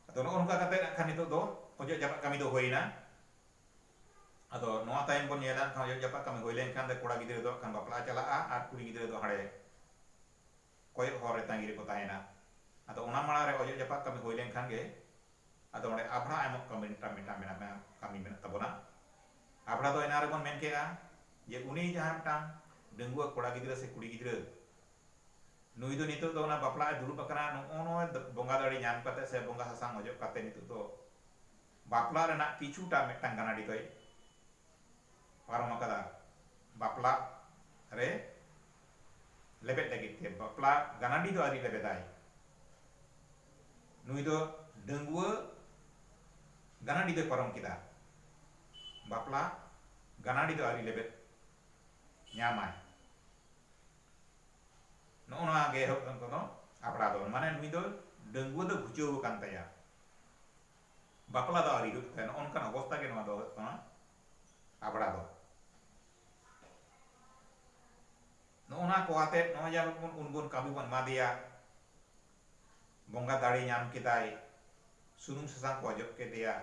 ᱟᱫᱚ ᱱᱚᱜᱼᱚ ᱱᱚᱝᱠᱟ ᱠᱟᱛᱮ ᱱᱟᱜ ᱠᱷᱟᱱ ᱱᱤᱛᱚᱜ ᱫᱚ ᱚᱡᱚᱜ ᱡᱟᱯᱟᱜ ᱠᱟᱹᱢᱤ ᱫᱚ ᱦᱩᱭᱮᱱᱟ ᱟᱫᱚ ᱱᱚᱣᱟ ᱛᱟᱭᱚᱢ ᱵᱚᱱ ᱧᱮᱞᱟ ᱠᱷᱟᱱ ᱚᱡᱚᱜ ᱡᱟᱯᱟᱜ ᱠᱟᱹᱢᱤ ᱦᱩᱭ ᱞᱮᱱᱠᱷᱟᱱ ᱫᱚ ᱠᱚᱲᱟ ᱜᱤᱫᱽᱨᱟᱹ ᱫᱚ ᱠᱷᱟᱱ ᱵᱟᱯᱞᱟ ᱪᱟᱞᱟᱜᱼᱟ ᱟᱨ ᱠᱩᱲᱤ ᱜᱤᱫᱽᱨᱟᱹ ᱫᱚ ᱦᱟᱸᱰᱮ ᱠᱚᱭᱚᱜ ᱦᱚᱨ ᱨᱮ ᱛᱟᱺᱜᱤ ᱨᱮᱠᱚ ᱛᱟᱦᱮᱱᱟ ᱟᱫᱚ ᱚᱱᱟ ᱢᱟᱲᱟᱝ ᱨᱮ ᱚᱡᱚᱜ ᱡᱟᱯᱟᱜ ᱠᱟᱹᱢᱤ ᱦᱩᱭ ᱞᱮᱱᱠᱷᱟᱱ ᱜᱮ ᱟᱫᱚ ᱚᱸᱰᱮ ᱟᱵᱷᱲᱟ ᱮᱢᱚᱜ ᱠᱟᱹᱢᱤ ᱢᱤᱫᱴᱟᱝ ᱢᱤᱫᱴᱟᱝ ᱢᱮᱱᱟᱜᱼᱟ ᱠᱟᱹᱢᱤ ᱢᱮᱱᱟᱜ ᱛᱟᱵᱚᱱᱟ ᱟᱵᱷᱲᱟ ᱫᱚ ᱮᱱᱟᱝ ᱨᱮᱵᱚᱱ ᱢᱮᱱ ᱠᱮᱜᱼᱟ ᱡᱮ ᱩᱱᱤ ᱡᱟᱦᱟᱸ ᱢᱤᱫᱴᱟᱝ ᱰᱟᱺᱜᱩᱣᱟᱹ ᱠᱚᱲᱟ ᱜᱤᱫᱽᱨᱟᱹ ᱥᱮ ᱠᱩᱲᱤ ᱜᱤᱫᱽᱨᱟᱹ ᱱᱩᱭ ᱫᱚ ᱱᱤᱛᱚᱜ ᱫᱚ ᱚᱱᱟ ᱵᱟᱯᱞᱟᱜ ᱮ ᱫᱩᱲᱩᱵ ᱟᱠᱟᱱᱟ ᱱᱚᱜᱼᱚ ᱱᱚᱣᱟ ᱵᱚᱸᱜᱟ ᱫᱟᱲᱮ ᱧᱟᱢ ᱠᱟᱛᱮ ᱥᱮ ᱵᱚᱸᱜᱟ ᱥᱟᱥᱟᱝ ᱚᱡᱚᱜ ᱠᱟᱛᱮ ᱱᱤᱛᱚᱜ ᱫᱚ ᱵᱟᱯᱞᱟ ᱨᱮᱱᱟᱜ ᱠᱤᱪᱷᱩᱴᱟ ᱢᱤᱫᱴᱟᱝ ᱜᱟᱱᱟᱰᱤ ᱫᱚᱭ ᱯᱟᱨᱚᱢ ᱟᱠᱟᱫᱟ ᱵᱟᱯᱞᱟᱜ ᱨᱮ ᱞᱮᱵᱮᱫ ᱞᱟᱹᱜᱤᱫ ᱛᱮ ᱵᱟᱯᱞᱟ ᱜᱟᱱᱟᱰᱤ ᱫᱚ ᱟᱹᱣᱨᱤ ᱞᱮᱵᱮᱫᱟᱭ ᱱᱩᱭ ᱫᱚ ᱰᱟᱺᱜᱩᱣᱟᱹ ᱜᱟᱱᱟᱰᱤ ᱫᱚᱭ ᱯᱟᱨᱚᱢ ᱠᱮᱫᱟ ᱵᱟᱯᱞᱟ ᱜᱟᱱᱟᱰᱤ ᱫᱚ ᱟᱹᱣᱨᱤ ᱞᱮᱵᱮᱫ ᱧᱟᱢᱟᱭ ᱱᱚᱜᱼᱚ ᱱᱚᱣᱟ ᱜᱮ ᱮᱦᱚᱵ ᱠᱟᱱ ᱠᱚᱫᱚ ᱟᱯᱲᱟ ᱫᱚ ᱢᱟᱱᱮ ᱱᱩᱭ ᱫᱚ ᱰᱟᱺᱜᱩᱣᱟᱹ ᱫᱚ ᱜᱷᱩᱪᱟᱹᱣ ᱟᱠᱟᱱ ᱛᱟᱭᱟ ᱵᱟᱯᱞᱟ ᱫᱚ ᱟᱹᱣᱨᱤ ᱦᱩᱭᱩᱜ ᱛᱟᱭᱟ ᱱᱚᱜᱼᱚ ᱱᱚᱝᱠᱟᱱ ᱚᱵᱚᱥᱛᱟ ᱜᱮ ᱱᱚᱣᱟ ᱫᱚ ᱦᱩᱭᱩᱜ ᱠᱟᱱᱟ ᱟᱯᱲᱟ ᱫᱚ ᱱᱚᱜᱼᱚ ᱱᱚᱣᱟ ᱠᱚ ᱟᱛᱮᱫ ᱱᱚᱜᱼᱚᱭ ᱡᱮ ᱟᱵᱚ ᱵᱚᱱ ᱩᱱᱵᱚᱱ ᱠᱟᱹᱢᱤ ᱵᱚᱱ ᱮᱢᱟ ᱫᱮᱭᱟ ᱵᱚᱸᱜᱟ ᱫᱟᱲᱮ ᱧᱟᱢ ᱠᱮᱫᱟᱭ ᱥᱩᱱᱩᱢ ᱥᱟᱥᱟᱝ ᱠᱚ ᱚᱡᱚᱜ ᱠᱮᱫᱮᱭᱟ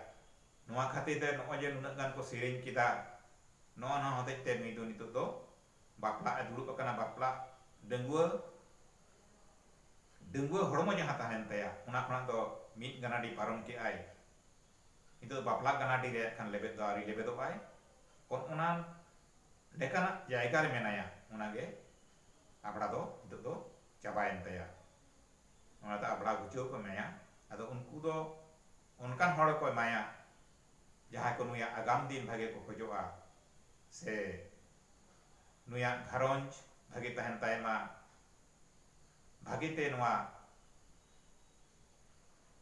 ᱱᱚᱣᱟ ᱠᱷᱟᱹᱛᱤᱨ ᱛᱮ ᱱᱚᱜᱼᱚᱭ ᱡᱮ ᱱᱩᱱᱟᱹᱜ ᱜᱟᱱ ᱠᱚ ᱥᱮᱨᱮᱧ ᱠᱮᱫᱟ ᱱᱚᱜᱼᱚ ᱱᱚᱣᱟ ᱦᱚᱛᱮᱡ ᱛᱮ ᱱᱩᱭ ᱫᱚ ᱱᱤᱛᱚᱜ ᱫᱚ ᱵᱟᱯᱞᱟᱜ ᱮ ᱫᱩᱲᱩᱵ ᱟᱠᱟᱱᱟ ᱵᱟᱯᱞᱟᱜ ᱰᱟᱺᱜᱩᱣᱟᱹ ᱰᱟᱺᱜᱩᱣᱟᱹ ᱦᱚᱲᱢᱚ ᱡᱟᱦᱟᱸ ᱛᱟᱦᱮᱸ ᱞᱮᱱ ᱛᱟᱭᱟ ᱚᱱᱟ ᱠᱷᱚᱱᱟᱜ ᱫᱚ ᱢᱤᱫ ᱜᱟᱱᱟᱰᱤ ᱯᱟᱨᱚᱢ ᱠᱮᱫ ᱟᱭ ᱱᱤᱛᱚᱜ ᱵᱟᱯᱞᱟᱜ ᱜᱟᱱᱟᱰᱤ ᱨᱮ ᱠᱷᱟᱱ ᱞᱮᱵᱮᱫ ᱫᱚ ᱟᱹᱣᱨᱤ ᱞᱮᱵᱮᱫᱚᱜ ᱟᱭ ᱚᱱ ᱚᱱᱟ ᱞᱮᱠᱟᱱᱟᱜ ᱡᱟᱭᱜᱟ ᱨᱮ ᱢᱮᱱᱟᱭᱟ ᱚᱱᱟ ᱜᱮ ᱟᱵᱽᱲᱟ ᱫᱚ ᱱᱤᱛᱚᱜ ᱫᱚ ᱪᱟᱵᱟᱭᱮᱱ ᱛᱟᱭᱟ ᱚᱱᱟ ᱫᱚ ᱟᱵᱽᱲᱟ ᱜᱩᱪᱟᱹᱣ ᱠᱚ ᱮᱢᱟᱭᱟ ᱟᱫᱚ ᱩᱱᱠᱩ ᱫᱚ ᱚᱱᱠᱟᱱ ᱦᱚᱲ ᱜᱮᱠᱚ ᱮᱢᱟᱭᱟ ᱡᱟᱦᱟᱸᱭ ᱠᱚ ᱱᱩᱭᱟᱜ ᱟᱜᱟᱢ ᱫᱤᱱ ᱵᱷᱟᱜᱮ ᱠᱚ ᱠᱷᱚᱡᱚᱜᱼᱟ ᱥᱮ ᱱᱩᱭᱟᱜ ᱜᱷᱟᱨᱚᱸᱡᱽ ᱵᱷᱟᱜᱮ ᱛᱟᱦᱮᱱ ᱛᱟᱭ ᱢᱟ, ᱵᱷᱟᱜᱮ ᱛᱮ ᱱᱚᱣᱟ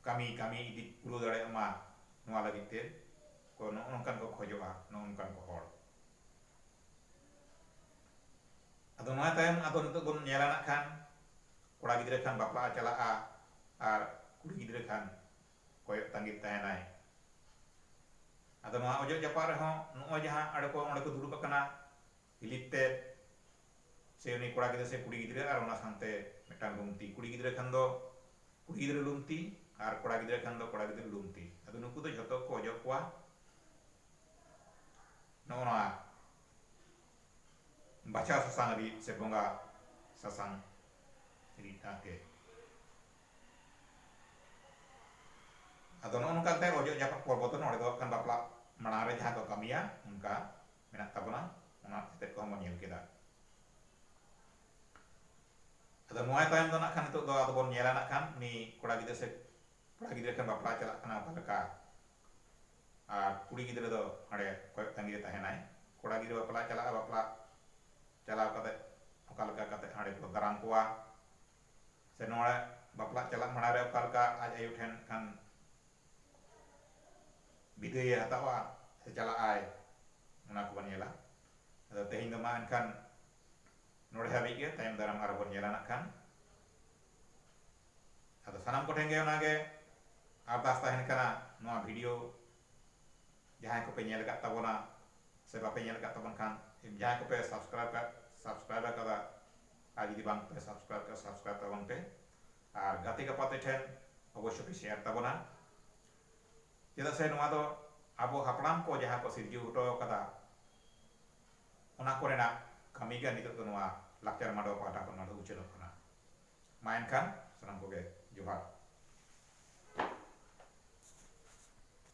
ᱠᱟᱹᱢᱤ ᱠᱟᱹᱢᱤ ᱤᱫᱤ ᱯᱩᱨᱟᱹᱣ ᱫᱟᱲᱮᱭᱟᱜ ᱢᱟ ᱱᱚᱣᱟ ᱞᱟᱹᱜᱤᱫ ᱛᱮ ᱠᱚ ᱱᱚᱜᱼᱚ ᱱᱚᱝᱠᱟᱱ ᱠᱚ ᱠᱷᱚᱡᱚᱜᱼᱟ ᱱᱚᱜᱼᱚ ᱱᱚᱝᱠᱟᱱ ᱠᱚ ᱦᱚᱲ᱾ ᱟᱫᱚ ᱱᱚᱣᱟ ᱛᱟᱭᱚᱢ ᱟᱫᱚ ᱱᱤᱛᱚᱜ ᱵᱚᱱ ᱧᱮᱞᱟ ᱱᱟᱜ ᱠᱷᱟᱱ ᱠᱚᱲᱟ ᱜᱤᱫᱽᱨᱟᱹ ᱠᱷᱟᱱ ᱵᱟᱯᱞᱟᱜ ᱮ ᱪᱟᱞᱟᱜᱼᱟ ᱟᱨ ᱠᱩᱲᱤ ᱜᱤᱫᱽᱨᱟᱹ ᱠᱷᱟᱱ ᱠᱚᱭᱚᱜ ᱛᱟᱺᱜᱤᱫ ᱛᱟᱦᱮᱸᱱᱟᱭ᱾ ᱟᱫᱚ ᱱᱚᱶᱟ ᱚᱡᱚᱜ ᱡᱟᱯᱟᱜ ᱨᱮᱦᱚᱸ ᱱᱚᱜᱼᱚᱭ ᱡᱟᱦᱟᱸ ᱟᱸᱲᱮ ᱠᱚ ᱚᱸᱰᱮ ᱠᱚ ᱫᱩᱲᱩᱵ ᱟᱠᱟᱱᱟ ᱦᱤᱞᱤᱯ ᱛᱮᱫ ᱥᱮ ᱩᱱᱤ ᱠᱚᱲᱟ ᱜᱤᱫᱽᱨᱟᱹ ᱥᱮ ᱠᱩᱲᱤ ᱜᱤᱫᱽᱨᱟᱹ ᱟᱨ ᱚᱱᱟ ᱥᱟᱶᱛᱮ ᱢᱤᱫᱴᱟᱝ ᱞᱩᱢᱛᱤ ᱠᱩᱲᱤ ᱜᱤᱫᱽᱨᱟᱹ ᱠᱷᱟᱱ ᱫᱚ ᱠᱩᱲᱤ ᱜᱤᱫᱽᱨᱟᱹ ᱞᱩᱢᱛᱤ ᱟᱨ ᱠᱚᱲᱟ ᱜᱤᱫᱽᱨᱟᱹ ᱠᱷᱟᱱ ᱫᱚ ᱠᱚᱲᱟ ᱜᱤᱫᱽᱨᱟᱹ ᱞᱩᱢᱛᱤ ᱟᱫᱚ ᱱᱩᱠᱩ ᱫᱚ ᱡᱷᱚᱛᱚ ᱜᱮᱠᱚ ᱚᱡᱚᱜ ᱠᱚᱣᱟ ᱱᱚᱜᱼᱚ ᱱᱚᱶᱟ ᱵᱟᱪᱷᱟᱣ ᱥᱟᱥᱟᱝ ᱨᱤᱫ ᱥᱮ ᱵᱚᱸᱜᱟ ᱥᱟᱥᱟᱝ ᱨᱤᱫ ᱟᱜ ᱜᱮ᱾ ᱟᱫᱚ ᱱᱚᱜᱼᱚ ᱱᱚᱝᱠᱟ ᱠᱟᱛᱮ ᱚᱡᱚᱜ ᱡᱟᱯᱟᱜ ᱯᱚᱨᱵᱚ ᱫᱚ ᱱᱚᱰᱮ ᱫᱚ ᱦᱟᱸᱜ ᱠᱷᱟᱱ ᱵᱟᱯᱞᱟ ᱢᱟᱲᱟᱝ ᱨᱮ ᱡᱟᱦᱟᱸ ᱠᱚ ᱠᱟᱹᱢᱤᱭᱟ ᱚᱱᱠᱟ ᱢᱮᱱᱟᱜ ᱛᱟᱵᱚᱱᱟ ᱚᱱᱟ ᱛᱮᱛᱮᱫ ᱠᱚᱦᱚᱸ ᱵᱚᱱ ᱧᱮᱞ ᱠᱮᱫᱟ ᱟᱫᱚ ᱱᱚᱣᱟ ᱛᱟᱭᱚᱢ ᱫᱚ ᱱᱟᱜ ᱠᱷᱟᱱ ᱱᱤᱛᱚᱜ ᱫᱚ ᱟᱫᱚ ᱵᱚᱱ ᱧᱮᱞᱟ ᱱᱟᱜ ᱠᱷᱟᱱ ᱩᱱᱤ ᱠᱚᱲᱟ ᱜᱤᱫᱽᱨᱟᱹ ᱥᱮ ᱠᱚᱲᱟ ᱜᱤᱫᱽᱨᱟᱹ ᱠᱷᱟᱱ ᱵᱟᱯᱞᱟ ᱪᱟᱞᱟᱜ ᱠᱟᱱᱟ ᱚᱠᱟ ᱞᱮᱠᱟ ᱟᱨ ᱠᱩᱲᱤ ᱜᱤᱫᱽᱨᱟᱹ ᱫᱚ ᱦᱟᱸᱰᱮ ᱠᱚᱭᱚᱜ ᱛᱟᱺᱜᱤ ᱨᱮ ᱛᱟᱦᱮᱱᱟᱭ ᱠᱚᱲᱟ ᱜᱤᱫᱽᱨᱟᱹ ᱵᱟᱯᱞᱟ ᱪᱟᱞᱟᱜᱼᱟ ᱵᱟᱯᱞᱟ ᱪᱟᱞᱟᱣ ᱠᱟᱛᱮ ᱚᱠᱟ ᱞᱮᱠᱟ ᱠᱟᱛᱮ ᱦᱟᱸᱰᱮ ᱠᱚ ᱫᱟᱨᱟᱢ ᱠᱚᱣᱟ ᱥᱮ ᱱᱚᱣᱟ ᱵᱟᱯᱞᱟᱜ ᱪᱟᱞᱟᱜ ᱢᱟᱲᱟᱝ ᱨᱮ ᱚᱠᱟ ᱞᱮᱠᱟ ᱟᱡ ᱟᱭᱳ ᱴᱷᱮᱱ ᱠᱷᱟᱱ ᱵᱤᱫᱟᱹᱭᱮ ᱦᱟᱛᱟᱣᱟ ᱥᱮ ᱪᱟᱞᱟᱜ ᱟᱭ ᱚᱱᱟ ᱠᱚᱵᱚᱱ ᱧᱮᱞᱟ ᱟᱫᱚ ᱛᱮᱦᱮᱧ ᱫᱚ ᱢᱟ ᱮᱱᱠᱷᱟᱱ ᱱᱚᱰᱮ ᱦᱟᱹᱵᱤᱡ ᱜᱮ ᱛᱟᱭᱚᱢ ᱫᱟᱨᱟᱢ ᱟᱨᱦᱚᱸ ᱵᱚᱱ ᱧᱮᱞᱟ ᱱᱟᱜ ᱠᱷᱟᱱ ᱟᱫᱚ ᱥᱟᱱᱟᱢ ᱠᱚᱴᱷᱮᱱ ᱜᱮ ᱚᱱᱟᱜᱮ ᱟᱨᱫᱟᱥ ᱛᱟᱦᱮᱱ ᱠᱟᱱᱟ ᱱᱚᱣᱟ ᱵᱷᱤᱰᱤᱭᱳ ᱡᱟᱦᱟᱸᱭ ᱠᱚᱯᱮ ᱧᱮᱞ ᱟᱠᱟᱫ ᱛᱟᱵᱚᱱᱟ ᱥᱮ ᱵᱟᱯᱮ ᱧᱮᱞ ᱟᱠᱟᱫ ᱛᱟᱵᱚᱱ ᱠᱷᱟᱱ ᱡᱟᱦᱟᱸᱭ ᱠᱚᱯᱮ ᱥᱟᱵᱥᱠᱨᱟᱭᱤᱵ ᱥᱟᱵᱥᱠᱨᱟᱭᱤᱵ ᱟᱠᱟᱫᱟ ᱟᱨ ᱡᱩᱫᱤ ᱵᱟᱝ ᱯᱮ ᱥᱟᱵᱥᱠᱨᱟᱭᱤᱵ ᱠᱟᱜᱼᱟ ᱥᱟᱵᱥᱠᱨᱟᱭᱤᱵ ᱛᱟᱵᱚᱱ ᱯᱮ ᱟᱨ ᱜᱟᱛᱮ ᱜᱟᱯᱟᱛᱮ ᱴᱷᱮᱱ ᱚᱵᱚᱥᱥᱚ ᱯᱮ ᱥᱮᱭᱟᱨ ᱛᱟᱵᱚᱱᱟ ᱪᱮᱫᱟᱜ ᱥᱮ ᱱᱚᱣᱟ ᱫᱚ ᱟᱵᱚ ᱦᱟᱯᱲᱟᱢ ᱠᱚ ᱡᱟᱦᱟᱸ ᱠᱚ ᱥᱤᱨᱡᱟᱹᱣ ᱦᱚᱴᱚ ᱟᱠᱟᱫᱟ ᱚᱱᱟ ᱠᱚᱨᱮᱱᱟᱜ ᱠᱟᱹᱢᱤ ᱜᱮ ᱱᱤᱛᱚᱜ ᱫᱚ ᱱᱚᱣᱟ ᱞᱟᱠᱪᱟᱨ ᱢᱟᱰᱣᱟ ᱯᱟᱦᱴᱟ ᱠᱷᱚᱱ ᱱᱚᱰᱮ ᱩᱪᱷᱟᱹᱱᱚᱜ ᱠᱟᱱᱟ ᱢᱟ ᱮᱱᱠᱷᱟᱱ ᱥᱟᱱᱟᱢ ᱠᱚᱜᱮ ᱡᱚᱦᱟᱨ